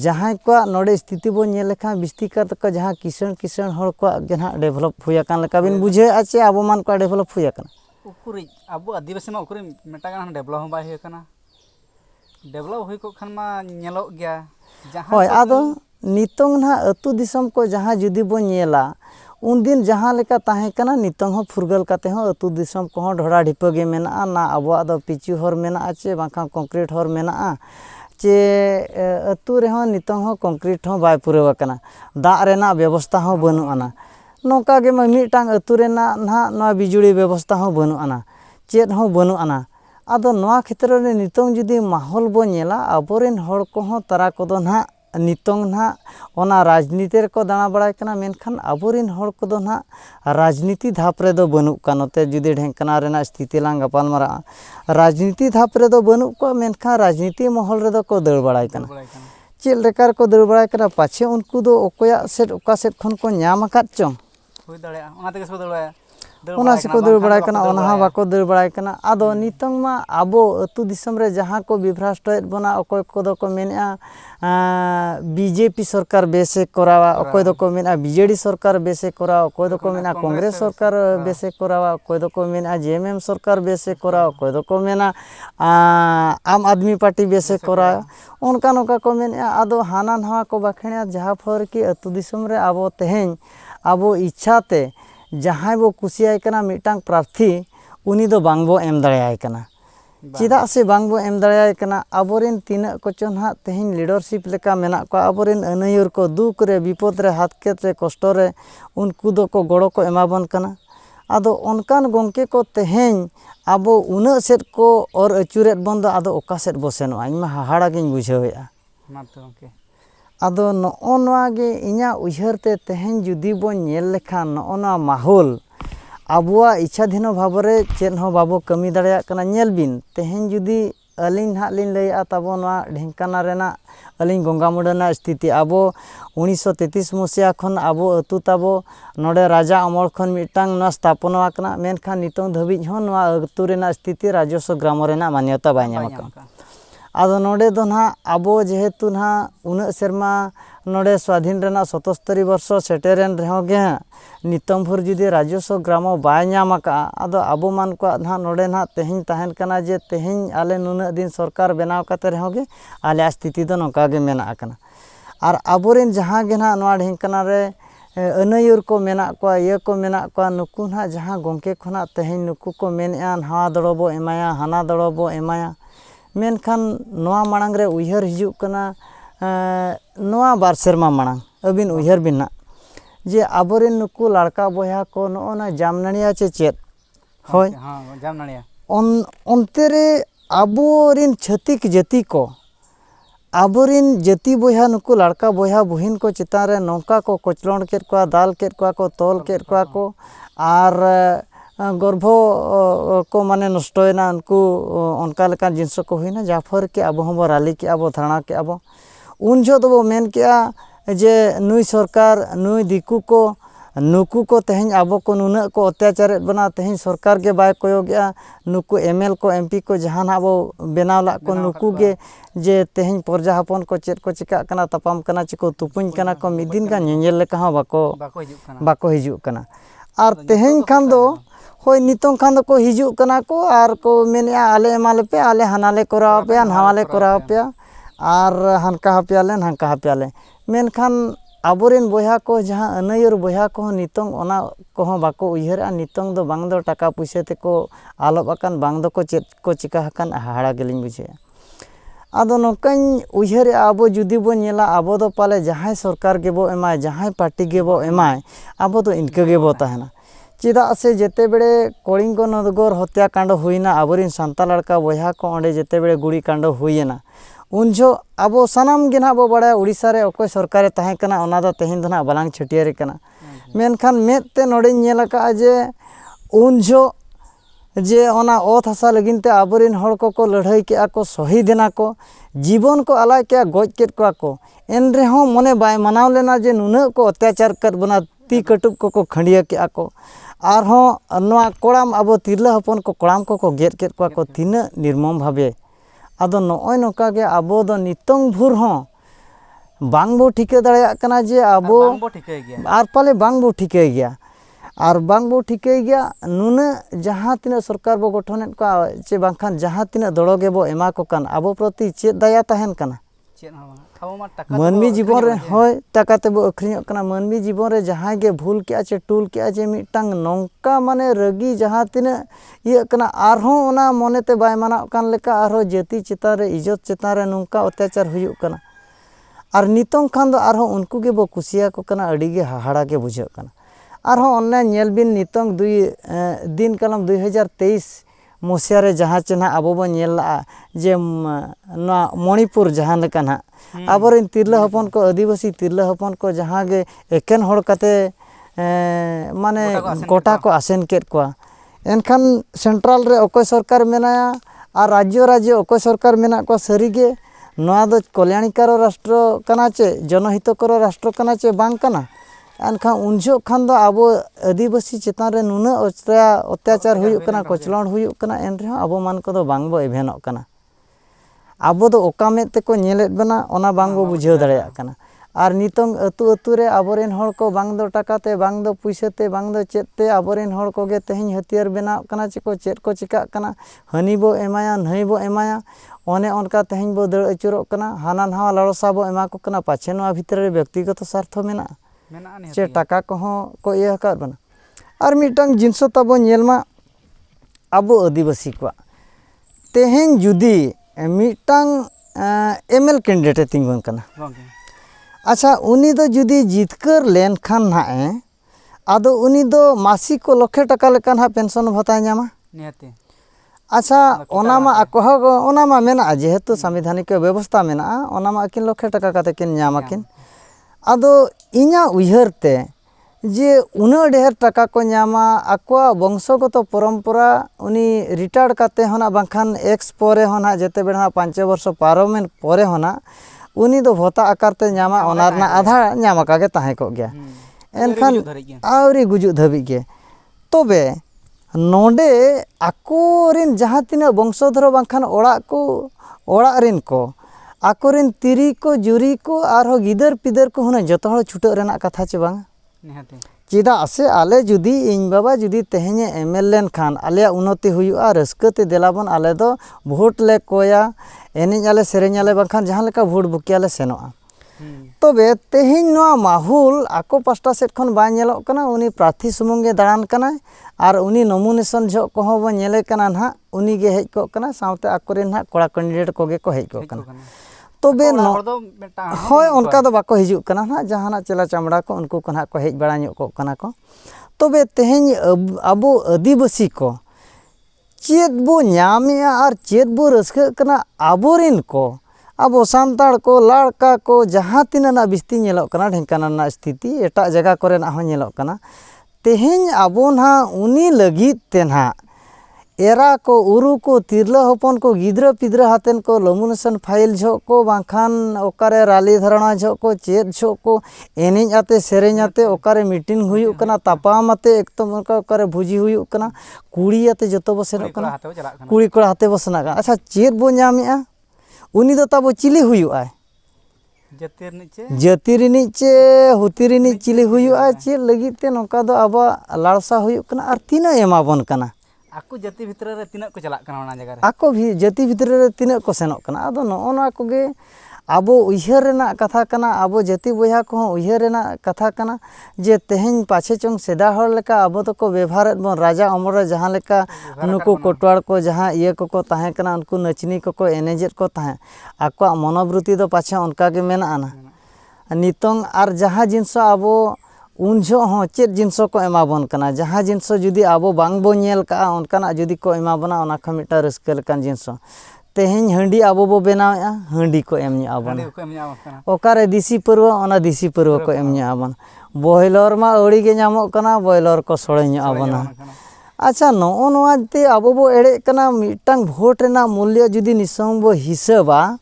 S1: ᱡᱟᱦᱟᱸᱭ ᱠᱚᱣᱟᱜ ᱱᱚᱰᱮ ᱥᱛᱷᱤᱛᱤ ᱵᱚᱱ ᱧᱮᱞ ᱞᱮᱠᱷᱟᱱ ᱵᱤᱥᱛᱤ ᱠᱟᱭᱛᱮ ᱡᱟᱦᱟᱸ ᱠᱤᱥᱟᱹᱬ ᱠᱤᱥᱟᱹᱬ ᱦᱚᱲ ᱠᱚᱣᱟᱜ ᱜᱮ ᱦᱟᱸᱜ ᱰᱮᱵᱷᱞᱚᱯ ᱦᱩᱭ ᱟᱠᱟᱱ ᱞᱮᱠᱟ ᱵᱤᱱ ᱵᱩᱡᱷᱟᱹᱣᱮᱜᱼᱟ ᱪᱮ ᱟᱵᱚ ᱢᱟᱱ ᱠᱚᱣᱟᱜ ᱰᱮᱵᱷᱞᱚᱯ ᱦᱩᱭ ᱟᱠᱟᱱᱟ ᱩᱠᱩᱨᱤᱡ ᱟᱵᱚ ᱟᱹᱫᱤᱵᱟᱹᱥᱤ ᱢᱟ ᱩᱠᱩᱨᱤᱡ ᱢᱤᱫᱴᱟᱝ ᱜᱟᱱ ᱰᱮᱵᱷᱞᱚᱯ ᱦᱚᱸ ᱵᱟᱭ ᱦᱩᱭ ᱟᱠᱟᱱᱟ ᱰᱮᱵᱷᱞᱚᱯ ᱦᱩᱭ ᱠᱚᱜ ᱠᱷᱟᱱ ᱢᱟ ᱧᱮᱞᱚᱜ ᱜᱮᱭᱟ ᱡᱟᱦᱟᱸ ᱦᱳᱭ ᱟᱫᱚ ᱱᱤᱛᱚᱝ ᱱᱟᱦᱟᱜ ᱟᱹᱛᱩ ᱫᱤᱥᱚᱢ ᱠᱚ ᱡᱟᱦᱟᱸ ᱡᱩᱫᱤ ᱵᱚᱱ ᱧᱮᱞᱟ ᱩᱱ ᱫᱤᱱ ᱡᱟᱦᱟᱸ ᱞᱮᱠᱟ ᱛᱟᱦᱮᱸ ᱠᱟᱱᱟ ᱱᱤᱛᱚᱝ ᱦᱚᱸ ᱯᱷᱩᱨᱜᱟᱹᱞ ᱠᱟᱛᱮᱫ ᱦᱚᱸ ᱟᱹᱛᱩ ᱫᱤᱥᱚᱢ ᱠᱚᱦᱚᱸ ᱰᱷᱚᱲᱟ ᱰᱷᱤᱯᱟᱹ ᱜᱮ ᱢᱮᱱᱟᱜᱼᱟ ᱱᱟ ᱟᱵᱚᱣᱟᱜ ᱫᱚ ᱯᱤᱪᱩ ᱦᱚᱨ ᱢᱮᱱᱟᱜᱼᱟ ᱪᱮ ᱵᱟᱝᱠᱷᱟᱱ ᱠᱚᱝᱠᱨᱤᱴ ᱦᱚᱨ ᱢᱮᱱᱟᱜᱼᱟ ᱪᱮ ᱟᱹᱛᱩ ᱨᱮᱦᱚᱸ ᱱᱤᱛᱚᱝ ᱦᱚᱸ ᱠᱚᱝᱠᱨᱤᱴ ᱦᱚᱸ ᱵᱟᱭ ᱯᱩᱨᱟᱹᱣ ᱟᱠᱟᱱᱟ ᱫᱟᱜ ᱨᱮᱱᱟᱜ ᱵᱮᱵᱚᱥᱛᱷᱟ ᱦᱚᱸ ᱵᱟᱹᱱᱩᱜ ᱟᱱᱟ ᱱᱚᱝᱠᱟ ᱜᱮ ᱢᱤᱫᱴᱟᱝ ᱟᱹᱛᱩ ᱨᱮᱱᱟᱜ ᱱᱟᱦᱟᱜ ᱱᱚᱣᱟ ᱵᱤᱡᱽᱞᱤ ᱵᱮᱵᱚᱥᱛᱟ ᱦᱚᱸ ᱵᱟᱹᱱᱩᱜ ᱟᱱᱟ ᱪᱮᱫ ᱦᱚᱸ ᱵᱟᱹᱱᱩᱜ ᱟᱱᱟ ᱟᱫᱚ ᱱᱚᱣᱟ ᱠᱷᱮᱛᱨᱮ ᱨᱮ ᱱᱤᱛᱚᱝ ᱡᱩᱫᱤ ᱢᱟᱦᱚᱞ ᱵᱚᱱ ᱧᱮᱞᱟ ᱟᱵᱚ ᱨᱮᱱ ᱦᱚᱲ ᱠᱚᱦᱚᱸ ᱛᱟᱨᱟ ᱠᱚᱫᱚ ᱱᱟᱦᱟᱜ ᱱᱤᱛᱚᱝ ᱱᱟᱦᱟᱜ ᱚᱱᱟ ᱨᱟᱡᱽᱱᱤᱛᱤ ᱨᱮᱠᱚ ᱫᱟᱬᱟ ᱵᱟᱲᱟᱭ ᱠᱟᱱᱟ ᱢᱮᱱᱠᱷᱟᱱ ᱟᱵᱚ ᱨᱮᱱ ᱦᱚᱲ ᱠᱚᱫᱚ ᱱᱟᱦᱟᱜ ᱨᱟᱡᱽᱱᱤᱛᱤ ᱫᱷᱟᱯ ᱨᱮᱫᱚ ᱵᱟᱹᱱᱩᱜ ᱠᱚᱣᱟ ᱱᱚᱛᱮ ᱡᱩᱫᱤ ᱰᱷᱮᱝᱠᱟᱱᱟ ᱨᱮᱱᱟᱜ ᱥᱛᱷᱤᱛᱤ ᱞᱟᱝ ᱜᱟᱯᱟᱞ ᱢᱟᱨᱟᱜᱼᱟ ᱨᱟᱡᱽᱱᱤᱛᱤ ᱫᱷᱟᱯ ᱨᱮᱫᱚ ᱵᱟᱹᱱᱩᱜ ᱠᱚᱣᱟ ᱢᱮᱱᱠᱷᱟᱱ ᱨᱟᱡᱽᱱᱤᱛᱤ ᱢᱚᱦᱚᱞ ᱨᱮᱫᱚ ᱠᱚ ᱫᱟᱹᱲ ᱵᱟᱲᱟᱭ ᱠᱟᱱᱟ ᱪᱮᱫ ᱞᱮᱠᱟ ᱨᱮᱠᱚ ᱫᱟᱹᱲ ᱵᱟᱲᱟᱭ ᱠᱟᱱᱟ ᱯᱟᱪᱷᱮ ᱩᱱᱠᱩ ᱫᱚ ᱚᱠᱚᱭᱟᱜ ᱥᱮᱫ ᱚᱠᱟ ᱥᱮᱫ ᱠᱷᱚᱱ ᱠᱚ ᱧᱟᱢ ᱟᱠᱟᱫ ᱪᱚᱝ ᱦᱩᱭ ᱫᱟᱲᱮᱭᱟᱜᱼᱟ ᱚᱱᱟ ᱛᱮᱜᱮ ᱥᱮᱠᱚ ᱫᱟᱹᱲ ᱵᱟᱲᱟᱭᱟ ᱚᱱᱟ ᱥᱮᱠᱚ ᱫᱟᱹᱲ ᱵᱟᱲᱟᱭ ᱠᱟᱱᱟ ᱚᱱᱟ ᱦᱚᱸ ᱵᱟᱠᱚ ᱫᱟᱹᱲ ᱵᱟᱲᱟᱭ ᱠᱟᱱᱟ ᱟᱫᱚ ᱱᱤᱛᱚᱝ ᱢᱟ ᱟᱵᱚ ᱟᱹᱛᱩ ᱫᱤᱥᱚᱢ ᱨᱮ ᱡᱟᱦᱟᱸ ᱠᱚ ᱵᱤᱵᱷᱨᱟᱥᱴᱚᱭᱮᱫ ᱵᱚᱱᱟ ᱚᱠᱚᱭ ᱠᱚᱫᱚ ᱠᱚ ᱢᱮᱱᱮᱫᱼᱟ ᱵᱤ ᱡᱮ ᱯᱤ ᱥᱚᱨᱠᱟᱨ ᱵᱮᱥᱮ ᱠᱚᱨᱟᱣᱟ ᱚᱠᱚᱭ ᱫᱚᱠᱚ ᱢᱮᱱᱮᱫᱼᱟ ᱵᱤ ᱡᱮ ᱰᱤ ᱥᱚᱨᱠᱟᱨ ᱵᱮᱥᱮ ᱠᱚᱨᱟᱣᱟ ᱚᱠᱚᱭ ᱫᱚᱠᱚ ᱢᱮᱱᱮᱫᱼᱟ ᱠᱚᱝᱜᱨᱮᱥ ᱥᱚᱨᱠᱟᱨ ᱵᱮᱥᱮ ᱠᱚᱨᱟᱣᱟ ᱚᱠᱚᱭ ᱫᱚᱠᱚ ᱢᱮᱱᱮᱫᱼᱟ ᱡᱮ ᱮᱢ ᱮᱢ ᱥᱚᱨᱠᱟᱨ ᱵᱮᱥᱮ ᱠᱚᱨᱟᱣᱟ ᱚᱠᱚᱭ ᱫᱚᱠᱚ ᱢᱮᱱᱟ ᱟᱢ ᱟᱫᱽᱢᱤ ᱯᱟᱨᱴᱤ ᱵᱮᱥᱮ ᱠᱚᱨᱟᱣᱟ ᱚᱱᱠᱟ ᱱᱚᱝᱠᱟ ᱠᱚ ᱢᱮᱱᱮᱫᱼᱟ ᱟᱫᱚ ᱦᱟᱱᱟ ᱱᱟᱣᱟ ᱠᱚ ᱵᱟᱸᱠᱷᱮᱲᱮᱫᱼᱟ ᱡᱟᱦᱟᱸ ᱯᱷᱚᱞ ᱨᱮ ᱠᱤ ᱟᱹᱛᱩ ᱫᱤᱥᱚᱢ ᱨᱮ ᱟᱵᱚ ᱛᱮᱦᱮᱧ ᱟᱵᱚ ᱤᱪᱪᱷᱟ ᱛᱮ ᱡᱟᱦᱟᱸᱭ ᱵᱚᱱ ᱠᱩᱥᱤᱭᱟᱭ ᱠᱟᱱᱟ ᱢᱤᱫᱴᱟᱝ ᱯᱨᱟᱨᱛᱷᱤ ᱩᱱᱤ ᱫᱚ ᱵᱟᱝ ᱵᱚᱱ ᱮᱢ ᱫᱟᱲᱮᱭᱟᱭ ᱠᱟᱱᱟ ᱪᱮᱫᱟᱜ ᱥᱮ ᱵᱟᱝ ᱵᱚᱱ ᱮᱢ ᱫᱟᱲᱮᱭᱟᱭ ᱠᱟᱱᱟ ᱟᱵᱚ ᱨᱮᱱ ᱛᱤᱱᱟᱹᱜ ᱠᱚᱪᱚ ᱦᱟᱸᱜ ᱛᱮᱦᱮᱧ ᱞᱤᱰᱟᱨᱥᱤᱯ ᱞᱮᱠᱟ ᱢᱮᱱᱟᱜ ᱠᱚᱣᱟ ᱟᱵᱚ ᱨᱮᱱ ᱟᱹᱱᱟᱹᱭᱟᱹᱨ ᱠᱚ ᱫᱩᱠ ᱨᱮ ᱵᱤᱯᱚᱫᱽ ᱨᱮ ᱦᱟᱨᱠᱮᱛ ᱨᱮ ᱠᱚᱥᱴᱚ ᱨᱮ ᱩᱱᱠᱩ ᱫᱚᱠᱚ ᱜᱚᱲᱚ ᱠᱚ ᱮᱢᱟ ᱵᱚᱱ ᱠᱟᱱᱟ ᱟᱫᱚ ᱚᱱᱠᱟᱱ ᱜᱚᱢᱠᱮ ᱠᱚ ᱛᱮᱦᱮᱧ ᱟᱵᱚ ᱩᱱᱟᱹᱜ ᱥᱮᱫ ᱠᱚ ᱚᱨ ᱟᱹᱪᱩᱨᱮᱫ ᱵᱚᱱ ᱫᱚ ᱟᱫᱚ ᱚᱠᱟ ᱥᱮᱫ ᱵᱚᱱ ᱥᱮᱱᱚᱜᱼᱟ ᱤᱧ ᱢᱟ ᱦᱟᱦᱟᱲᱟᱜ ᱜᱤᱧ ᱵᱩᱡᱷᱟᱹᱣᱮᱫᱼᱟ ᱟᱫᱚ ᱱᱚᱜᱼᱚ ᱱᱚᱣᱟ ᱜᱮ ᱤᱧᱟᱹᱜ ᱩᱭᱦᱟᱹᱨ ᱛᱮ ᱛᱮᱦᱮᱧ ᱡᱩᱫᱤ ᱵᱚᱱ ᱧᱮᱞ ᱞᱮᱠᱷᱟᱱ ᱱᱚᱜᱼᱚ ᱱᱚᱣᱟ ᱢᱟᱦᱳᱞ ᱟᱵᱚᱣᱟᱜ ᱤᱪᱪᱷᱟᱫᱷᱤᱱᱚ ᱵᱷᱟᱵᱮ ᱨᱮ ᱪᱮᱫ ᱦᱚᱸ ᱵᱟᱵᱚ ᱠᱟᱹᱢᱤ ᱫᱟᱲᱮᱭᱟᱜ ᱠᱟᱱᱟ ᱧᱮᱞ ᱵᱤᱱ ᱛᱮᱦᱮᱧ ᱡᱩᱫᱤ ᱟᱹᱞᱤᱧ ᱱᱟᱦᱟᱜ ᱞᱤᱧ ᱞᱟᱹᱭᱮᱫᱼᱟ ᱛᱟᱵᱚ ᱱᱚᱣᱟ ᱰᱷᱮᱝᱠᱟᱱᱟ ᱨᱮᱱᱟᱜ ᱟᱹᱞᱤᱧ ᱜᱚᱝᱜᱟ ᱢᱩᱸᱰᱟᱹ ᱨᱮᱱᱟᱜ ᱥᱛᱷᱤᱛᱤ ᱟᱵᱚ ᱩᱱᱤᱥᱥᱚ ᱛᱮᱛᱨᱤᱥ ᱢᱚᱥᱤᱦᱟ ᱠᱷᱚᱱ ᱟᱵᱚ ᱟᱹᱛᱩ ᱛᱟᱵᱚ ᱱᱚᱰᱮ ᱨᱟᱡᱟ ᱟᱢᱚᱞ ᱠᱷᱚᱱ ᱢᱤᱫᱴᱟᱝ ᱱᱚᱣᱟ ᱥᱛᱷᱟᱯᱚᱱᱚ ᱟᱠᱟᱱᱟ ᱢᱮᱱᱠᱷᱟᱱ ᱱᱤᱛᱚᱝ ᱫᱷᱟᱹᱵᱤᱡ ᱦᱚᱸ ᱱᱚᱣᱟ ᱟᱹᱛᱩ ᱨᱮᱱᱟᱜ ᱥᱛᱷᱤᱛᱤ ᱨᱟᱡᱚᱥᱥᱚ ᱜᱨᱟᱢᱚ ᱨᱮᱱᱟᱜ ᱢᱟᱱᱱᱚᱛᱟ ᱵᱟᱭ ᱧᱟᱢ ᱟᱠᱟᱫᱼᱟ ᱟᱫᱚ ᱱᱚᱰᱮ ᱫᱚ ᱱᱟᱦᱟᱜ ᱟᱵᱚ ᱡᱮᱦᱮᱛᱩ ᱱᱟᱦᱟᱜ ᱩᱱᱟᱹᱜ ᱥᱮᱨᱢᱟ ᱱᱚᱰᱮ ᱥᱟᱹᱫᱷᱤᱱ ᱨᱮᱱᱟᱜ ᱥᱚᱛᱚᱥᱛᱚᱨᱤ ᱵᱚᱨᱥᱚ ᱥᱮᱴᱮᱨᱮᱱ ᱨᱮᱦᱚᱸ ᱜᱮ ᱱᱤᱛᱚᱝ ᱵᱷᱳᱨ ᱡᱩᱫᱤ ᱨᱟᱡᱚᱥᱥᱚ ᱜᱨᱟᱢᱚ ᱵᱟᱭ ᱧᱟᱢ ᱟᱠᱟᱫᱼᱟ ᱟᱫᱚ ᱟᱵᱚ ᱢᱟᱱ ᱠᱚᱣᱟᱜ ᱱᱟᱦᱟᱜ ᱱᱚᱰᱮ ᱱᱟᱦᱟᱜ ᱛᱮᱦᱮᱧ ᱛᱟᱦᱮᱱ ᱠᱟᱱᱟ ᱡᱮ ᱛᱮᱦᱮᱧ ᱟᱞᱮ ᱱᱩᱱᱟᱹᱜ ᱫᱤᱱ ᱥᱚᱨᱠᱟᱨ ᱵᱮᱱᱟᱣ ᱠᱟᱛᱮᱫ ᱨᱮᱦᱚᱸ ᱜᱮ ᱟᱞᱮᱭᱟᱜ ᱥᱛᱷᱤᱛᱤ ᱫᱚ ᱱᱚᱝᱠᱟ ᱜᱮ ᱢᱮᱱᱟᱜ ᱟᱠᱟᱱᱟ ᱟᱨ ᱟᱵᱚ ᱨᱮᱱ ᱡᱟᱦᱟᱸ ᱜᱮ ᱱᱟᱦᱟᱜ ᱱᱚᱣᱟ ᱰᱷᱮᱝᱠᱟᱱᱟᱞ ᱨᱮ ᱟᱹᱱᱟᱹᱭᱩᱨ ᱠᱚ ᱢᱮᱱᱟᱜ ᱠᱚᱣᱟ ᱤᱭᱟᱹ ᱠᱚ ᱢᱮᱱᱟᱜ ᱠᱚᱣᱟ ᱱᱩᱠᱩ ᱱᱟᱦᱟᱜ ᱡᱟᱦᱟᱸ ᱜᱚᱢᱠᱮ ᱠᱚ ᱱᱟᱦᱟᱜ ᱛᱮᱦᱮᱧ ᱱᱩᱠᱩ ᱠᱚ ᱢᱮᱱᱮᱫᱼᱟ ᱱᱚᱣᱟ ᱫᱚᱲᱚ ᱵᱚᱱ ᱮᱢᱟᱭᱟ ᱦᱟᱱᱟ ᱫᱚᱲᱚ ᱵᱚᱱ ᱮᱢᱟᱭᱟ ᱢᱮᱱᱠᱷᱟᱱ ᱱᱚᱣᱟ ᱢᱟᱲᱟᱝ ᱨᱮ ᱩᱭᱦᱟᱹᱨ ᱦᱤᱡᱩᱜ ᱠᱟᱱᱟ ᱱᱚᱣᱟ ᱵᱟᱨ ᱥᱮᱨᱢᱟ ᱢᱟᱲᱟᱝ ᱟᱹᱵᱤᱱ ᱩᱭᱦᱟᱹᱨ ᱵᱤᱱ ᱱᱟᱦᱟᱜ ᱡᱮ ᱟᱵᱚᱨᱮᱱ ᱱᱩᱠᱩ ᱞᱟᱲᱠᱟ ᱵᱚᱭᱦᱟ ᱠᱚ ᱱᱚᱜᱼᱚ ᱱᱟ ᱡᱟᱢᱱᱟᱲᱤᱭᱟ ᱪᱮ ᱪᱮᱫ ᱦᱳᱭ ᱦᱮᱸ ᱡᱟᱢᱱᱟᱲᱤᱭᱟ ᱚᱱ ᱚᱱᱛᱮ ᱨᱮ ᱟᱵᱚᱨᱮᱱ ᱪᱷᱟᱹᱛᱤᱠ ᱡᱟᱹᱛᱤ ᱠᱚ ᱟᱵᱚᱨᱮᱱ ᱡᱟᱹᱛᱤ ᱵᱚᱭᱦᱟ ᱱᱩᱠᱩ ᱞᱟᱲᱠᱟ ᱵᱚᱭᱦᱟ ᱵᱩᱦᱤᱱ ᱠᱚ ᱪᱮᱛᱟᱱ ᱨᱮ ᱱᱚᱝᱠᱟ ᱠᱚ ᱠᱚᱪᱞᱚᱸᱰ ᱠᱮᱫ ᱠᱚᱣᱟ ᱫᱟᱞ ᱠᱮᱫ ᱠᱚᱣᱟ ᱠᱚ ᱛᱚᱞ ᱠᱮᱫ ᱠᱚᱣᱟ ᱠᱚ ᱟᱨ ᱜᱚᱨᱵᱷᱚ ᱠᱚ ᱢᱟᱱᱮ ᱱᱚᱥᱴᱚᱭᱮᱱᱟ ᱩᱱᱠᱩ ᱚᱱᱠᱟ ᱞᱮᱠᱟᱱ ᱡᱤᱱᱤᱥ ᱠᱚ ᱦᱩᱭᱱᱟ ᱡᱟᱦᱟᱸ ᱯᱷᱚᱨ ᱠᱤ ᱟᱵᱚ ᱦᱚᱸᱵᱚᱱ ᱨᱟᱹᱞᱤ ᱠᱮᱜᱼᱟ ᱵᱚᱱ ᱫᱷᱟᱨᱟ ᱠᱮᱜᱼᱟ ᱵᱚᱱ ᱩᱱ ᱡᱚᱦᱚᱜ ᱫᱚᱵᱚ ᱢᱮᱱ ᱠᱮᱜᱼᱟ ᱡᱮ ᱱᱩᱭ ᱥᱚᱨᱠᱟᱨ ᱱᱩᱭ ᱫᱤᱠᱩ ᱠᱚ ᱱᱩᱠᱩ ᱠᱚ ᱛᱮᱦᱮᱧ ᱟᱵᱚ ᱠᱚ ᱱᱩᱱᱟᱹᱜ ᱠᱚ ᱚᱛᱛᱟᱪᱟᱨᱮᱜ ᱵᱚᱱᱟ ᱛᱮᱦᱮᱧ ᱥᱚᱨᱠᱟᱨ ᱜᱮ ᱵᱟᱭ ᱠᱚᱭᱚᱜᱮᱜᱼᱟ ᱱᱩᱠᱩ ᱮᱢᱮᱞ ᱠᱚ ᱮᱢᱯᱤ ᱠᱚ ᱡᱟᱦᱟᱸ ᱱᱟᱜ ᱵᱚ ᱵᱮᱱᱟᱣ ᱞᱟᱜ ᱠᱚ ᱱᱩᱠᱩ ᱜᱮ ᱡᱮ ᱛᱮᱦᱮᱧ ᱯᱚᱨᱡᱟ ᱦᱚᱯᱚᱱ ᱠᱚ ᱪᱮᱫ ᱠᱚ ᱪᱤᱠᱟᱜ ᱠᱟᱱᱟ ᱛᱟᱯᱟᱢ ᱠᱟᱱᱟ ᱪᱮᱠᱚ ᱛᱩᱯᱩᱧ ᱠᱟᱱᱟ ᱠᱚ ᱢᱤᱫ ᱫᱤᱱ ᱜᱟᱱ ᱧᱮᱧᱮᱞ ᱞᱮᱠᱟ ᱦᱚᱸ ᱵᱟᱠᱚ ᱵᱟᱠᱚ ᱦᱤᱡᱩᱜ ᱠᱟᱱᱟ ᱟᱨ ᱛᱮᱦᱮᱧ ᱠᱷᱟᱱ ᱫᱚ ᱦᱳᱭ ᱱᱤᱛᱚᱝ ᱠᱷᱟᱱ ᱫᱚᱠᱚ ᱦᱤᱡᱩᱜ ᱠᱟᱱᱟ ᱠᱚ ᱟᱨ ᱠᱚ ᱢᱮᱱᱮᱜᱼᱟ ᱟᱞᱮ ᱮᱢᱟᱞᱮᱯᱮ ᱟᱞᱮ ᱦᱟᱱᱟ ᱞᱮ ᱠᱚᱨᱟᱣ ᱟᱯᱮᱭᱟ ᱱᱟᱣᱟ ᱞᱮ ᱠᱚᱨᱟᱣ ᱟᱯᱮᱭᱟ ᱟᱨ ᱦᱟᱱᱠᱟ ᱦᱟᱯᱮᱭᱟᱞᱮ ᱱᱷᱟᱝᱠᱟ ᱦᱟᱯᱮᱭᱟᱞᱮ ᱢᱮᱱᱠᱷᱟᱱ ᱟᱵᱚᱨᱮᱱ ᱵᱚᱭᱦᱟ ᱠᱚ ᱡᱟᱦᱟᱸ ᱟᱹᱱᱟᱹᱭᱟᱹᱨ ᱵᱚᱭᱦᱟ ᱠᱚ ᱱᱤᱛᱚᱝ ᱚᱱᱟ ᱠᱚᱦᱚᱸ ᱵᱟᱠᱚ ᱩᱭᱦᱟᱹᱨᱮᱜᱼᱟ ᱱᱤᱛᱚᱝ ᱫᱚ ᱵᱟᱝ ᱫᱚ ᱴᱟᱠᱟ ᱯᱩᱭᱥᱟᱹ ᱛᱮᱠᱚ ᱟᱞᱚᱜ ᱟᱠᱟᱱ ᱵᱟᱝ ᱫᱚᱠᱚ ᱪᱮᱫ ᱠᱚ ᱪᱤᱠᱟᱹ ᱟᱠᱟᱱ ᱦᱟᱦᱟᱲᱟ ᱜᱮᱞᱤᱧ ᱵᱩᱡᱷᱟᱹᱣᱮᱜᱼᱟ ᱟᱫᱚ ᱱᱚᱝᱠᱟᱧ ᱩᱭᱦᱟᱹᱨᱮᱜᱼᱟ ᱟᱵᱚ ᱡᱩᱫᱤ ᱵᱚᱱ ᱧᱮᱞᱟ ᱟᱵᱚ ᱫᱚ ᱯᱟᱞᱮ ᱡᱟᱦᱟᱸᱭ ᱥᱚᱨᱠᱟᱨ ᱜᱮᱵᱚᱱ ᱮᱢᱟᱭ ᱡᱟᱦᱟᱸᱭ ᱯᱟᱨᱴᱤ ᱜᱮᱵᱚᱱ ᱮᱢᱟᱭ ᱟᱵᱚ ᱫᱚ ᱤᱱᱠᱟᱹ ᱜᱮᱵᱚᱱ ᱛᱟᱦᱮᱱᱟ ᱪᱮᱫᱟᱜ ᱥᱮ ᱡᱮᱛᱮ ᱵᱮᱲᱮ ᱠᱚᱞᱤᱝᱜᱚ ᱱᱚᱜᱚᱨ ᱦᱚᱛᱛᱟ ᱠᱟᱱᱰᱚ ᱦᱩᱭᱱᱟ ᱟᱵᱚ ᱨᱮᱱ ᱥᱟᱱᱛᱟᱲ ᱞᱟᱲᱠᱟ ᱵᱚᱭᱦᱟ ᱠᱚ ᱚᱸᱰᱮ ᱡᱮᱛᱮ ᱵᱮᱲᱮ ᱜᱩᱞᱤ ᱠᱟᱱᱰᱚ ᱦᱩᱭᱮᱱᱟ ᱩᱱ ᱡᱚᱦᱚᱜ ᱟᱵᱚ ᱥᱟᱱᱟᱢ ᱜᱮ ᱱᱟᱦᱟᱜ ᱵᱚ ᱵᱟᱲᱟᱭᱟ ᱳᱰᱤᱥᱟ ᱨᱮ ᱚᱠᱚᱭ ᱥᱚᱨᱠᱟᱨᱮ ᱛᱟᱦᱮᱸ ᱠᱟᱱᱟ ᱚᱱᱟ ᱫᱚ ᱛᱮᱦᱮᱧ ᱫᱚ ᱱᱟᱦᱟᱜ ᱵᱟᱞᱟᱝ ᱪᱷᱟᱹᱴᱭᱟᱹᱨᱮ ᱠᱟᱱᱟ ᱢᱮᱱᱠᱷᱟᱱ ᱢᱮᱫ ᱛᱮ ᱱᱚᱰᱮᱧ ᱧᱮᱞ ᱟᱠᱟᱫᱼᱟ ᱡᱮ ᱩᱱ ᱡᱚᱦᱚᱜ ᱡᱮ ᱚᱱᱟ ᱚᱛ ᱦᱟᱥᱟ ᱞᱟᱹᱜᱤᱫ ᱛᱮ ᱟᱵᱚ ᱨᱮᱱ ᱦᱚᱲ ᱠᱚᱠᱚ ᱞᱟᱹᱲᱦᱟᱹᱭ ᱠᱮᱜᱼᱟ ᱠᱚ ᱥᱚᱦᱤᱫ ᱮᱱᱟ ᱠᱚ ᱡᱤᱵᱚᱱ ᱠᱚ ᱟᱞᱟᱭ ᱠᱮᱜᱼᱟ ᱜᱚᱡ ᱠᱮᱜ ᱠᱚᱣᱟ ᱠᱚ ᱮᱱ ᱨᱮᱦᱚᱸ ᱢᱚᱱᱮ ᱵᱟᱭ ᱢᱟᱱᱟᱣ ᱞᱮᱱᱟ ᱡᱮ ᱱᱩᱱᱟᱹᱜ ᱠᱚ ᱚᱛᱛᱟᱪᱟᱨ ᱠᱮᱜ ᱵᱚᱱᱟ ᱛᱤ ᱠᱟᱹᱴᱩᱵ ᱠᱚᱠᱚ ᱠᱷᱟᱹᱰᱭᱟᱹ ᱠᱮᱫᱼᱟ ᱠᱚ ᱟᱨᱦᱚᱸ ᱱᱚᱣᱟ ᱠᱚᱲᱟᱢ ᱟᱵᱚ ᱛᱤᱨᱞᱟᱹ ᱦᱚᱯᱚᱱ ᱠᱚ ᱠᱚᱲᱟᱢ ᱠᱚᱠᱚ ᱜᱮᱫ ᱠᱮᱫ ᱠᱚᱣᱟ ᱠᱚ ᱛᱤᱱᱟᱹᱜ ᱱᱤᱨᱢᱚᱢ ᱵᱷᱟᱵᱮ ᱟᱫᱚ ᱱᱚᱜᱼᱚᱭ ᱱᱚᱝᱠᱟ ᱜᱮ ᱟᱵᱚ ᱫᱚ ᱱᱤᱛᱚᱝ ᱵᱷᱳᱨ ᱦᱚᱸ ᱵᱟᱝ ᱵᱚ ᱴᱷᱤᱠᱟᱹ ᱫᱟᱲᱮᱭᱟᱜ ᱠᱟᱱᱟ ᱡᱮ ᱟᱵᱚ ᱟᱨ ᱯᱟᱞᱮ ᱵᱟᱝ ᱵᱚ ᱴᱷᱤᱠᱟᱹᱭ ᱜᱮᱭᱟ ᱟᱨ ᱵᱟᱝ ᱵᱚ ᱴᱷᱤᱠᱟᱹᱭ ᱜᱮᱭᱟ ᱱᱩᱱᱟᱹᱜ ᱡᱟᱦᱟᱸ ᱛᱤᱱᱟᱹᱜ ᱥᱚᱨᱠᱟᱨ ᱵᱚ ᱜᱚᱴᱷᱚᱱᱮᱫ ᱠᱚᱣᱟ ᱪᱮ ᱵᱟᱝᱠᱷᱟᱱ ᱡᱟᱦᱟᱸ ᱛᱤᱱᱟᱹᱜ ᱫᱚᱲᱚ ᱜᱮᱵᱚ ᱮᱢᱟ ᱠᱚ ᱠᱟᱱ ᱟᱵᱚ ᱯᱨᱚᱛᱤ ᱪᱮᱫ ᱫᱟᱭᱟ ᱛᱟᱦᱮᱱ ᱠᱟᱱᱟ ᱢᱟᱹᱱᱢᱤ ᱡᱤᱵᱚᱱ ᱨᱮ ᱦᱳᱭ ᱴᱟᱠᱟ ᱛᱮᱵᱚ ᱟᱹᱠᱷᱨᱤᱧᱚᱜ ᱠᱟᱱᱟ ᱢᱟᱹᱱᱢᱤ ᱡᱤᱵᱚᱱ ᱨᱮ ᱡᱟᱦᱟᱸᱭ ᱜᱮ ᱵᱷᱩᱞ ᱠᱮᱜᱼᱟ ᱪᱮ ᱴᱩᱞ ᱠᱮᱜᱼᱟ ᱡᱮ ᱢᱤᱫᱴᱟᱝ ᱱᱚᱝᱠᱟ ᱢᱟᱱᱮ ᱨᱟᱹᱜᱤ ᱡᱟᱦᱟᱸ ᱛᱤᱱᱟᱹᱜ ᱤᱭᱟᱹᱜ ᱠᱟᱱᱟ ᱟᱨᱦᱚᱸ ᱚᱱᱟ ᱢᱚᱱᱮ ᱛᱮ ᱵᱟᱭ ᱢᱟᱱᱟᱜ ᱠᱟᱱ ᱞᱮᱠᱟ ᱟᱨᱦᱚᱸ ᱡᱟᱹᱛᱤ ᱪᱮᱛᱟᱱ ᱨᱮ ᱤᱡᱽᱡᱚᱛ ᱪᱮᱛᱟᱱ ᱨᱮ ᱱᱚᱝᱠᱟ ᱚᱛᱛᱟᱪᱟᱨ ᱦᱩᱭᱩᱜ ᱠᱟᱱᱟ ᱟᱨ ᱱᱤᱛᱚᱝ ᱠᱷᱟᱱ ᱫᱚ ᱟᱨᱦᱚᱸ ᱩᱱᱠᱩ ᱜᱮᱵᱚ ᱠᱩᱥᱤᱭᱟᱠᱚ ᱠᱟᱱᱟ ᱟᱹᱰᱤ ᱜᱮ ᱦᱟᱦᱟᱲᱟ ᱜᱮ ᱵᱩᱡᱷᱟᱹᱜ ᱠᱟᱱᱟ ᱟᱨᱦᱚᱸ ᱚᱱᱮ ᱧᱮᱞ ᱵᱤᱱ ᱱᱤᱛᱚᱝ ᱫᱩᱭ ᱫᱤᱱ ᱠᱟᱞᱚᱢ ᱫᱩᱭ ᱦᱟᱡᱟᱨ ᱛᱮᱭᱤᱥ ᱢᱚᱥᱤᱭᱟ ᱨᱮ ᱡᱟᱦᱟᱸ ᱪᱮ ᱱᱟᱦᱟᱜ ᱟᱵᱚ ᱵᱚᱱ ᱧᱮᱞ ᱞᱟᱜᱼᱟ ᱡᱮ ᱱᱚᱣᱟ ᱢᱚᱬᱤᱯᱩᱨ ᱡᱟᱦᱟᱸ ᱞᱮᱠᱟ ᱱᱟᱦᱟᱜ ᱟᱵᱚᱨᱮᱱ ᱛᱤᱨᱞᱟᱹ ᱦᱚᱯᱚᱱ ᱠᱚ ᱟᱹᱫᱤᱵᱟᱹᱥᱤ ᱛᱤᱨᱞᱟᱹ ᱦᱚᱯᱚᱱ ᱠᱚ ᱡᱟᱦᱟᱸ ᱜᱮ ᱮᱠᱮᱱ ᱦᱚᱲ ᱠᱟᱛᱮ ᱢᱟᱱᱮ ᱜᱚᱴᱟ ᱠᱚ ᱟᱥᱮᱱ ᱠᱮᱫ ᱠᱚᱣᱟ ᱮᱱᱠᱷᱟᱱ ᱥᱮᱱᱴᱨᱟᱞ ᱨᱮ ᱚᱠᱚᱭ ᱥᱚᱨᱠᱟᱨ ᱢᱮᱱᱟᱭᱟ ᱟᱨ ᱨᱟᱡᱽᱡᱚ ᱨᱟᱡᱽᱡᱚ ᱚᱠᱚᱭ ᱥᱚᱨᱠᱟᱨ ᱢᱮᱱᱟᱜ ᱠᱚᱣᱟ ᱥᱟᱹᱨᱤ ᱜᱮ ᱱᱚᱣᱟ ᱫᱚ ᱠᱚᱞᱭᱟᱱᱤᱠᱟᱨᱚ ᱨᱟᱥᱴᱨᱚ ᱠᱟᱱᱟ ᱪᱮ ᱡᱚᱱᱚᱦᱤᱛᱚᱠᱚᱨᱚ ᱨᱟᱥᱴᱨᱚ ᱠᱟᱱᱟ ᱪᱮ ᱵᱟᱝ ᱠᱟᱱᱟ ᱮᱱᱠᱷᱟᱱ ᱩᱱ ᱡᱚᱦᱚᱜ ᱠᱷᱟᱱ ᱫᱚ ᱟᱵᱚ ᱟᱹᱫᱤᱵᱟᱹᱥᱤ ᱪᱮᱛᱟᱱ ᱨᱮ ᱱᱩᱱᱟᱹᱜ ᱚᱛᱛᱟᱪᱟᱨ ᱦᱩᱭᱩᱜ ᱠᱟᱱᱟ ᱠᱚᱪᱞᱚᱱ ᱦᱩᱭᱩᱜ ᱠᱟᱱᱟ ᱮᱱ ᱨᱮᱦᱚᱸ ᱟᱵᱚ ᱢᱟᱱ ᱠᱚᱫᱚ ᱵᱟᱝ ᱵᱚᱱ ᱮᱵᱷᱮᱱᱚᱜ ᱠᱟᱱᱟ ᱟᱵᱚ ᱫᱚ ᱚᱠᱟ ᱢᱮᱫ ᱛᱮᱠᱚ ᱧᱮᱞᱮᱫ ᱵᱚᱱᱟ ᱚᱱᱟ ᱵᱟᱝ ᱵᱚᱱ ᱵᱩᱡᱷᱟᱹᱣ ᱫᱟᱲᱮᱭᱟᱜ ᱠᱟᱱᱟ ᱟᱨ ᱱᱤᱛᱚᱝ ᱟᱹᱛᱩ ᱟᱹᱛᱩ ᱨᱮ ᱟᱵᱚ ᱨᱮᱱ ᱦᱚᱲ ᱠᱚ ᱵᱟᱝ ᱫᱚ ᱴᱟᱠᱟ ᱛᱮ ᱵᱟᱝ ᱫᱚ ᱯᱩᱭᱥᱟᱹ ᱛᱮ ᱵᱟᱝ ᱫᱚ ᱪᱮᱫ ᱛᱮ ᱟᱵᱚ ᱨᱮᱱ ᱦᱚᱲ ᱠᱚᱜᱮ ᱛᱮᱦᱮᱧ ᱦᱟᱹᱛᱭᱟᱹᱨ ᱵᱮᱱᱟᱣᱜ ᱠᱟᱱᱟ ᱪᱮᱠᱚ ᱪᱮᱫ ᱠᱚ ᱪᱤᱠᱟᱹᱜ ᱠᱟᱱᱟ ᱦᱟᱹᱱᱤ ᱵᱚᱱ ᱮᱢᱟᱭᱟ ᱱᱟᱹᱭ ᱵᱚᱱ ᱮᱢᱟᱭᱟ ᱚᱱᱮ ᱚᱱᱠᱟ ᱛᱮᱦᱮᱧ ᱵᱚ ᱫᱟᱹᱲ ᱟᱹᱪᱩᱨᱚᱜ ᱠᱟᱱᱟ ᱦᱟᱱᱟ ᱱᱟᱣᱟ ᱞᱟᱲᱥᱟ ᱵᱚ ᱮᱢᱟ ᱠᱚ ᱠᱟᱱᱟ ᱯᱟᱪᱷᱮ ᱱᱚᱣᱟ ᱵᱷᱤᱛᱨᱤ ᱨᱮ ᱵᱮᱠᱛᱤᱜᱚᱛᱚ ᱥᱟᱨᱛᱷᱚ ᱢᱮᱱᱟᱜᱼᱟ ᱢᱮᱱᱟᱜᱼᱟ ᱱᱤᱦᱟᱹᱛ ᱪᱮ ᱜᱮ ᱴᱟᱠᱟ ᱠᱚᱦᱚᱸ ᱠᱚ ᱤᱭᱟᱹ ᱟᱠᱟᱫ ᱵᱚᱱᱟ ᱟᱨ ᱢᱤᱫᱴᱟᱱ ᱡᱤᱱᱤᱥ ᱦᱚᱸ ᱛᱟᱵᱚ ᱧᱮᱞ ᱢᱟ ᱟᱵᱚ ᱟᱹᱫᱤᱵᱟᱹᱥᱤ ᱠᱚᱣᱟᱜ ᱛᱮᱦᱮᱧ ᱡᱩᱫᱤ ᱢᱤᱫᱴᱟᱱ ᱮᱢ ᱮᱞ ᱠᱮᱱᱰᱤᱰᱮᱴ ᱮ ᱛᱤᱸᱜᱩᱱ ᱠᱟᱱᱟ ᱜᱚᱢᱠᱮ ᱟᱪᱪᱷᱟ ᱩᱱᱤ ᱫᱚ ᱡᱩᱫᱤ ᱡᱤᱛᱠᱟᱹᱨ ᱞᱮᱱᱠᱷᱟᱱ ᱦᱟᱸᱜ ᱮ ᱟᱫᱚ ᱩᱱᱤ ᱫᱚ ᱢᱟᱥᱤᱠ ᱠᱚ ᱞᱚᱠᱷᱮ ᱴᱟᱠᱟ ᱞᱮᱠᱟ ᱱᱟᱦᱟᱜ ᱯᱮᱱᱥᱚᱱ ᱵᱷᱟᱛᱟᱭ ᱧᱟᱢᱟ ᱱᱤᱦᱟᱹᱛᱤ ᱟᱪᱪᱷᱟ ᱚᱱᱟ ᱢᱟ ᱟᱠᱚ ᱦᱚᱸ ᱚᱱᱟ ᱢᱟ ᱢᱮᱱᱟᱜᱼᱟ ᱡᱮᱦᱮᱛᱩ ᱥᱟᱢᱵᱤᱫᱷᱟᱱᱤᱠ ᱵᱮᱵᱚᱥᱛᱟ ᱢᱮᱱᱟᱜᱼᱟ ᱚᱱᱟ ᱢᱟ ᱟᱹᱠᱤᱱ ᱞᱚᱠᱷᱮ ᱴᱟᱠᱟ ᱠᱟᱛᱮᱫ ᱠᱤᱱ ᱧᱟᱢ ᱟᱹᱠᱤᱱ ᱟᱫᱚ ᱤᱧᱟᱹᱜ ᱩᱭᱦᱟᱹᱨ ᱛᱮ ᱡᱮ ᱩᱱᱟᱹᱜ ᱰᱷᱮᱨ ᱴᱟᱠᱟ ᱠᱚ ᱧᱟᱢᱟ ᱟᱠᱚᱣᱟᱜ ᱵᱚᱝᱥᱚ ᱜᱚᱛᱚ ᱯᱚᱨᱚᱢᱯᱚᱨᱟ ᱩᱱᱤ ᱨᱤᱴᱟᱲ ᱠᱟᱛᱮᱫ ᱦᱚᱸ ᱱᱟᱦᱟᱜ ᱵᱟᱝᱠᱷᱟᱱ ᱮᱠᱥ ᱯᱚᱨᱮ ᱦᱚᱸ ᱱᱟᱦᱟᱜ ᱡᱮᱛᱮ ᱵᱮᱲᱟ ᱯᱟᱸᱪᱮ ᱵᱚᱨᱥᱚ ᱯᱟᱨᱚᱢᱮᱱ ᱯᱚᱨᱮ ᱦᱚᱸ ᱱᱟᱦᱟᱜ ᱩᱱᱤ ᱫᱚ ᱵᱷᱚᱛᱟ ᱟᱠᱟᱨ ᱛᱮ ᱧᱟᱢᱟ ᱚᱱᱟ ᱨᱮᱱᱟᱜ ᱟᱫᱷᱟ ᱧᱟᱢ ᱟᱠᱟ ᱜᱮ ᱛᱟᱦᱮᱸ ᱠᱚᱜ ᱜᱮᱭᱟ ᱮᱱᱠᱷᱟᱱ ᱟᱹᱣᱨᱤ ᱜᱩᱡᱩᱜ ᱫᱷᱟᱹᱵᱤᱡ ᱜᱮ ᱛᱚᱵᱮ ᱱᱚᱰᱮ ᱟᱠᱚᱨᱮᱱ ᱡᱟᱦᱟᱸ ᱛᱤᱱᱟᱹᱜ ᱵᱚᱝᱥᱚᱫᱷᱚᱨ ᱵᱟᱝᱠᱷᱟᱱ ᱚᱲᱟᱜ ᱠᱚ ᱚᱲᱟᱜ ᱨᱮᱱ ᱠᱚ ᱟᱠᱚᱨᱮᱱ ᱛᱤᱨᱤ ᱠᱚ ᱡᱩᱨᱤ ᱠᱚ ᱟᱨᱦᱚᱸ ᱜᱤᱫᱟᱹᱨ ᱯᱤᱫᱟᱹᱨ ᱠᱚ ᱦᱩᱱᱟᱹᱝ ᱡᱚᱛᱚ ᱦᱚᱲ ᱪᱷᱩᱴᱟᱹᱜ ᱨᱮᱱᱟᱜ ᱠᱟᱛᱷᱟ ᱪᱮ ᱵᱟᱝ ᱪᱮᱫᱟᱜ ᱥᱮ ᱟᱞᱮ ᱡᱩᱫᱤ ᱤᱧ ᱵᱟᱵᱟ ᱡᱩᱫᱤ ᱛᱮᱦᱮᱧᱮ ᱮᱢ ᱮᱞ ᱞᱮᱱ ᱠᱷᱟᱱ ᱟᱞᱮᱭᱟᱜ ᱩᱱᱱᱚᱛᱤ ᱦᱩᱭᱩᱜᱼᱟ ᱨᱟᱹᱥᱠᱟᱹ ᱛᱮ ᱫᱮᱞᱟ ᱵᱚᱱ ᱟᱞᱮ ᱫᱚ ᱵᱷᱳᱴ ᱞᱮ ᱠᱚᱭᱟ ᱮᱱᱮᱡ ᱟᱞᱮ ᱥᱮᱨᱮᱧ ᱟᱞᱮ ᱵᱟᱝᱠᱷᱟᱱ ᱡᱟᱦᱟᱸ ᱞᱮᱠᱟ ᱵᱷᱳᱴ ᱵᱩᱠᱤᱭᱟᱜ ᱞᱮ ᱥᱮᱱᱚᱜᱼᱟ ᱛᱚᱵᱮ ᱛᱮᱦᱮᱧ ᱱᱚᱣᱟ ᱢᱟᱦᱚᱞ ᱟᱠᱚ ᱯᱟᱥᱴᱟ ᱥᱮᱫ ᱠᱷᱚᱱ ᱵᱟᱭ ᱧᱮᱞᱚᱜ ᱠᱟᱱᱟ ᱩᱱᱤ ᱯᱨᱟᱨᱛᱷᱤ ᱥᱩᱢᱩᱝ ᱜᱮ ᱫᱟᱬᱟᱱ ᱠᱟᱱᱟᱭ ᱟᱨ ᱩᱱᱤ ᱱᱚᱢᱤᱱᱮᱥᱚᱱ ᱡᱚᱦᱚᱜ ᱠᱚᱦᱚᱸ ᱵᱚᱱ ᱧᱮᱞᱮ ᱠᱟᱱᱟ ᱱᱟᱦᱟᱜ ᱩᱱᱤ ᱜᱮ ᱦᱮᱡ ᱠᱚᱜ ᱠᱟᱱᱟᱭ ᱥᱟᱶᱛᱮ ᱟᱠᱚ ᱨᱮᱱ ᱦᱟᱸᱜ ᱠᱚᱲᱟ ᱠᱮᱱᱰᱤᱰᱮᱴ ᱠᱚᱜᱮ ᱠᱚ ᱦᱮᱡ ᱠᱚᱜ ᱠᱟᱱᱟ ᱛᱚᱵᱮ ᱦᱳᱭ ᱚᱱᱠᱟ ᱫᱚ ᱵᱟᱠᱚ ᱦᱤᱡᱩᱜ ᱠᱟᱱᱟ ᱦᱟᱸᱜ ᱡᱟᱦᱟᱱᱟᱜ ᱪᱮᱞᱟ ᱪᱟᱢᱲᱟ ᱠᱚ ᱩᱱᱠᱩ ᱠᱚ ᱦᱟᱸᱜ ᱠᱚ ᱦᱮᱡ ᱵᱟᱲᱟ ᱧᱚᱜ ᱠᱚᱜ ᱠᱟᱱᱟ ᱠᱚ ᱛᱚᱵᱮ ᱛᱮᱦᱮᱧ ᱟᱵᱚ ᱟᱹᱫᱤᱵᱟᱹᱥᱤ ᱠᱚ ᱪᱮᱫ ᱵᱚ ᱧᱟᱢᱮᱜᱼᱟ ᱟᱨ ᱪᱮᱫ ᱵᱚ ᱨᱟᱹᱥᱠᱟᱹᱜ ᱠᱟᱱᱟ ᱟᱵᱚᱨᱮᱱ ᱠᱚ ᱟᱵᱚ ᱥᱟᱱᱛᱟᱲ ᱠᱚ ᱞᱟᱲᱠᱟ ᱠᱚ ᱡᱟᱦᱟᱸ ᱛᱤᱱᱟᱹᱜ ᱱᱟᱜ ᱵᱤᱥᱛᱤ ᱧᱮᱞᱚᱜ ᱠᱟᱱᱟ ᱰᱷᱮᱝᱠᱟᱱᱟᱞ ᱨᱮᱱᱟᱜ ᱥᱛᱷᱤᱛᱤ ᱮᱴᱟᱜ ᱡᱟᱭᱜᱟ ᱠᱚᱨᱮᱱᱟᱜ ᱦᱚᱸ ᱧᱮᱞᱚᱜ ᱠᱟᱱᱟ ᱛᱮᱦᱮᱧ ᱟᱵᱚ ᱱᱟᱦᱟᱜ ᱩᱱᱤ ᱞᱟᱹᱜᱤᱫ ᱛᱮ ᱱᱟᱦᱟᱜ ᱮᱨᱟ ᱠᱚ ᱩᱨᱩ ᱠᱚ ᱛᱤᱨᱞᱟᱹ ᱦᱚᱯᱚᱱ ᱠᱚ ᱜᱤᱫᱽᱨᱟᱹ ᱯᱤᱫᱽᱨᱟᱹ ᱟᱛᱮᱫ ᱠᱚ ᱞᱚᱢᱤᱱᱮᱥᱚᱱ ᱯᱷᱟᱭᱤᱞ ᱡᱚᱦᱚᱜ ᱠᱚ ᱵᱟᱝᱠᱷᱟᱱ ᱚᱠᱟᱨᱮ ᱨᱟᱞᱤ ᱫᱷᱟᱨᱚᱱᱟ ᱡᱚᱦᱚᱜ ᱠᱚ ᱪᱮᱫ ᱡᱚᱦᱚᱜ ᱠᱚ ᱮᱱᱮᱡ ᱟᱛᱮᱫ ᱥᱮᱨᱮᱧ ᱟᱛᱮᱫ ᱚᱠᱟᱨᱮ ᱢᱤᱴᱤᱝ ᱦᱩᱭᱩᱜ ᱠᱟᱱᱟ ᱛᱟᱯᱟᱢ ᱟᱛᱮᱫ ᱮᱠᱫᱚᱢ ᱚᱱᱠᱟ ᱚᱠᱟᱨᱮ ᱵᱷᱩᱡᱤ ᱦᱩᱭᱩᱜ ᱠᱟᱱᱟ ᱠᱩᱲᱤ ᱟᱛᱮᱫ ᱡᱚᱛᱚ ᱵᱚᱱ ᱥᱮᱱᱚᱜ ᱠᱟᱱᱟ ᱠᱩᱲᱤ ᱠᱚᱲᱟ ᱟᱛᱮᱫ ᱵᱚᱱ ᱥᱮᱱᱚᱜ ᱠᱟᱱᱟ ᱟᱪᱪᱷᱟ ᱪᱮᱫ ᱵᱚᱱ ᱧᱟᱢᱮᱫᱼᱟ ᱩᱱᱤ ᱫᱚ ᱛᱟᱵᱚ ᱪᱤᱞᱤ ᱦᱩᱭᱩᱜ ᱟᱭ ᱡᱟᱹᱛᱤ ᱨᱤᱱᱤᱡ ᱪᱮ ᱡᱟᱹᱛᱤ ᱨᱤᱱᱤᱡ ᱪᱮ ᱦᱩᱛᱤ ᱨᱤᱱᱤᱡ ᱪᱤᱞᱤ ᱦᱩᱭᱩᱜᱼᱟ ᱪᱮᱫ ᱞᱟᱹᱜᱤᱫ ᱛᱮ ᱱᱚᱝᱠᱟ ᱫᱚ ᱟᱵᱚᱣᱟᱜ ᱞᱟᱲᱥᱟ ᱦᱩᱭᱩᱜ ᱠᱟᱱᱟ ᱟᱨ ᱛᱤᱱᱟᱹᱜ ᱮᱢᱟᱵᱚᱱ ᱠᱟᱱᱟ ᱟᱠᱚ ᱡᱟᱹᱛᱤ ᱵᱷᱤᱛᱨᱤ ᱨᱮ ᱛᱤᱱᱟᱹᱜ ᱠᱚ ᱪᱟᱞᱟᱜ ᱠᱟᱱᱟ ᱚᱱᱟ ᱡᱟᱭᱜᱟ ᱨᱮ ᱟᱠᱚ ᱡᱟᱹᱛᱤ ᱵᱷᱤᱛᱨᱤ ᱨᱮ ᱛᱤᱱᱟᱹᱜ ᱠᱚ ᱥᱮᱱᱚᱜ ᱠᱟᱱᱟ ᱟᱫᱚ ᱱᱚᱜᱼᱚ ᱱᱚᱣᱟ ᱠᱚᱜᱮ ᱟᱵᱚ ᱩᱭᱦᱟᱹᱨ ᱨᱮᱱᱟᱜ ᱠᱟᱛᱷᱟ ᱠᱟᱱᱟ ᱟᱵᱚ ᱡᱟᱹᱛᱤ ᱵᱚᱭᱦᱟ ᱠᱚᱦᱚᱸ ᱩᱭᱦᱟᱹᱨ ᱨᱮᱱᱟᱜ ᱠᱟᱛᱷᱟ ᱠᱟᱱᱟ ᱡᱮ ᱛᱮᱦᱮᱧ ᱯᱟᱪᱷᱮ ᱪᱚᱝ ᱥᱮᱫᱟᱭ ᱦᱚᱲ ᱞᱮᱠᱟ ᱟᱵᱚ ᱫᱚᱠᱚ ᱵᱮᱵᱷᱟᱨᱮᱫ ᱵᱚᱱ ᱨᱟᱡᱟ ᱟᱢᱚᱞ ᱨᱮ ᱡᱟᱦᱟᱸ ᱞᱮᱠᱟ ᱱᱩᱠᱩ ᱠᱚᱴᱣᱟᱲ ᱠᱚ ᱡᱟᱦᱟᱸ ᱤᱭᱟᱹ ᱠᱚᱠᱚ ᱛᱟᱦᱮᱸ ᱠᱟᱱᱟ ᱩᱱᱠᱩ ᱱᱟᱹᱪᱱᱤ ᱠᱚᱠᱚ ᱮᱱᱮᱡᱮᱫ ᱠᱚ ᱛᱟᱦᱮᱸᱫ ᱟᱠᱚᱣᱟᱜ ᱢᱚᱱᱚᱵᱨᱩᱛᱤ ᱫᱚ ᱯᱟᱪᱷᱮ ᱚᱱᱠᱟ ᱜᱮ ᱢᱮᱱᱟᱜ ᱟᱱᱟ ᱱᱤᱛᱚᱝ ᱟᱨ ᱡᱟᱦᱟᱸ ᱡᱤᱱᱤᱥ ᱟᱵᱚ ᱩᱱ ᱡᱚᱦᱚᱜ ᱦᱚᱸ ᱪᱮᱫ ᱡᱤᱱᱤᱥ ᱠᱚ ᱮᱢᱟ ᱵᱚᱱ ᱠᱟᱱᱟ ᱡᱟᱦᱟᱸ ᱡᱤᱱᱤᱥ ᱡᱩᱫᱤ ᱟᱵᱚ ᱵᱟᱝ ᱵᱚᱱ ᱧᱮᱞ ᱠᱟᱜᱼᱟ ᱚᱱᱠᱟᱱᱟᱜ ᱡᱩᱫᱤ ᱠᱚ ᱮᱢᱟ ᱵᱚᱱᱟ ᱚᱱᱟ ᱠᱷᱚᱱ ᱢᱤᱫᱴᱟᱝ ᱨᱟᱹᱥᱠᱟᱹ ᱞᱮᱠᱟᱱ ᱡᱤᱱᱤᱥ ᱦᱚᱸ ᱛᱮᱦᱮᱧ ᱦᱟᱺᱰᱤ ᱟᱵᱚ ᱵᱚᱱ ᱵᱮᱱᱟᱣᱮᱜᱼᱟ ᱦᱟᱺᱰᱤ ᱠᱚ ᱮᱢ ᱧᱚᱜ ᱟᱵᱚᱱᱟ ᱚᱠᱟᱨᱮ ᱫᱮᱥᱤ ᱯᱟᱹᱣᱨᱟᱹ ᱚᱱᱟ ᱫᱮᱥᱤ ᱯᱟᱹᱣᱨᱟᱹ ᱠᱚ ᱮᱢ ᱧᱚᱜ ᱟᱵᱚᱱᱟ ᱵᱚᱭᱞᱚᱨ ᱢᱟ ᱟᱹᱣᱲᱤ ᱜᱮ ᱧᱟᱢᱚᱜ ᱠᱟᱱᱟ ᱵᱚᱭᱞᱚᱨ ᱠᱚ ᱥᱳᱲᱮ ᱧᱚᱜ ᱟᱵᱚᱱᱟ ᱟᱪᱪᱷᱟ ᱱᱚᱜᱼᱚ ᱱᱚᱣᱟ ᱡᱮ ᱟᱵᱚ ᱵᱚ ᱮᱲᱮᱜ ᱠᱟᱱᱟ ᱢᱤᱫᱴᱟᱝ ᱵᱷᱳᱴ ᱨᱮᱱᱟᱜ ᱢᱩᱞᱞᱚ ᱡᱩᱫᱤ ᱱᱤᱥᱩᱱ ᱵᱚ ᱦᱤᱥᱟᱹᱵᱟ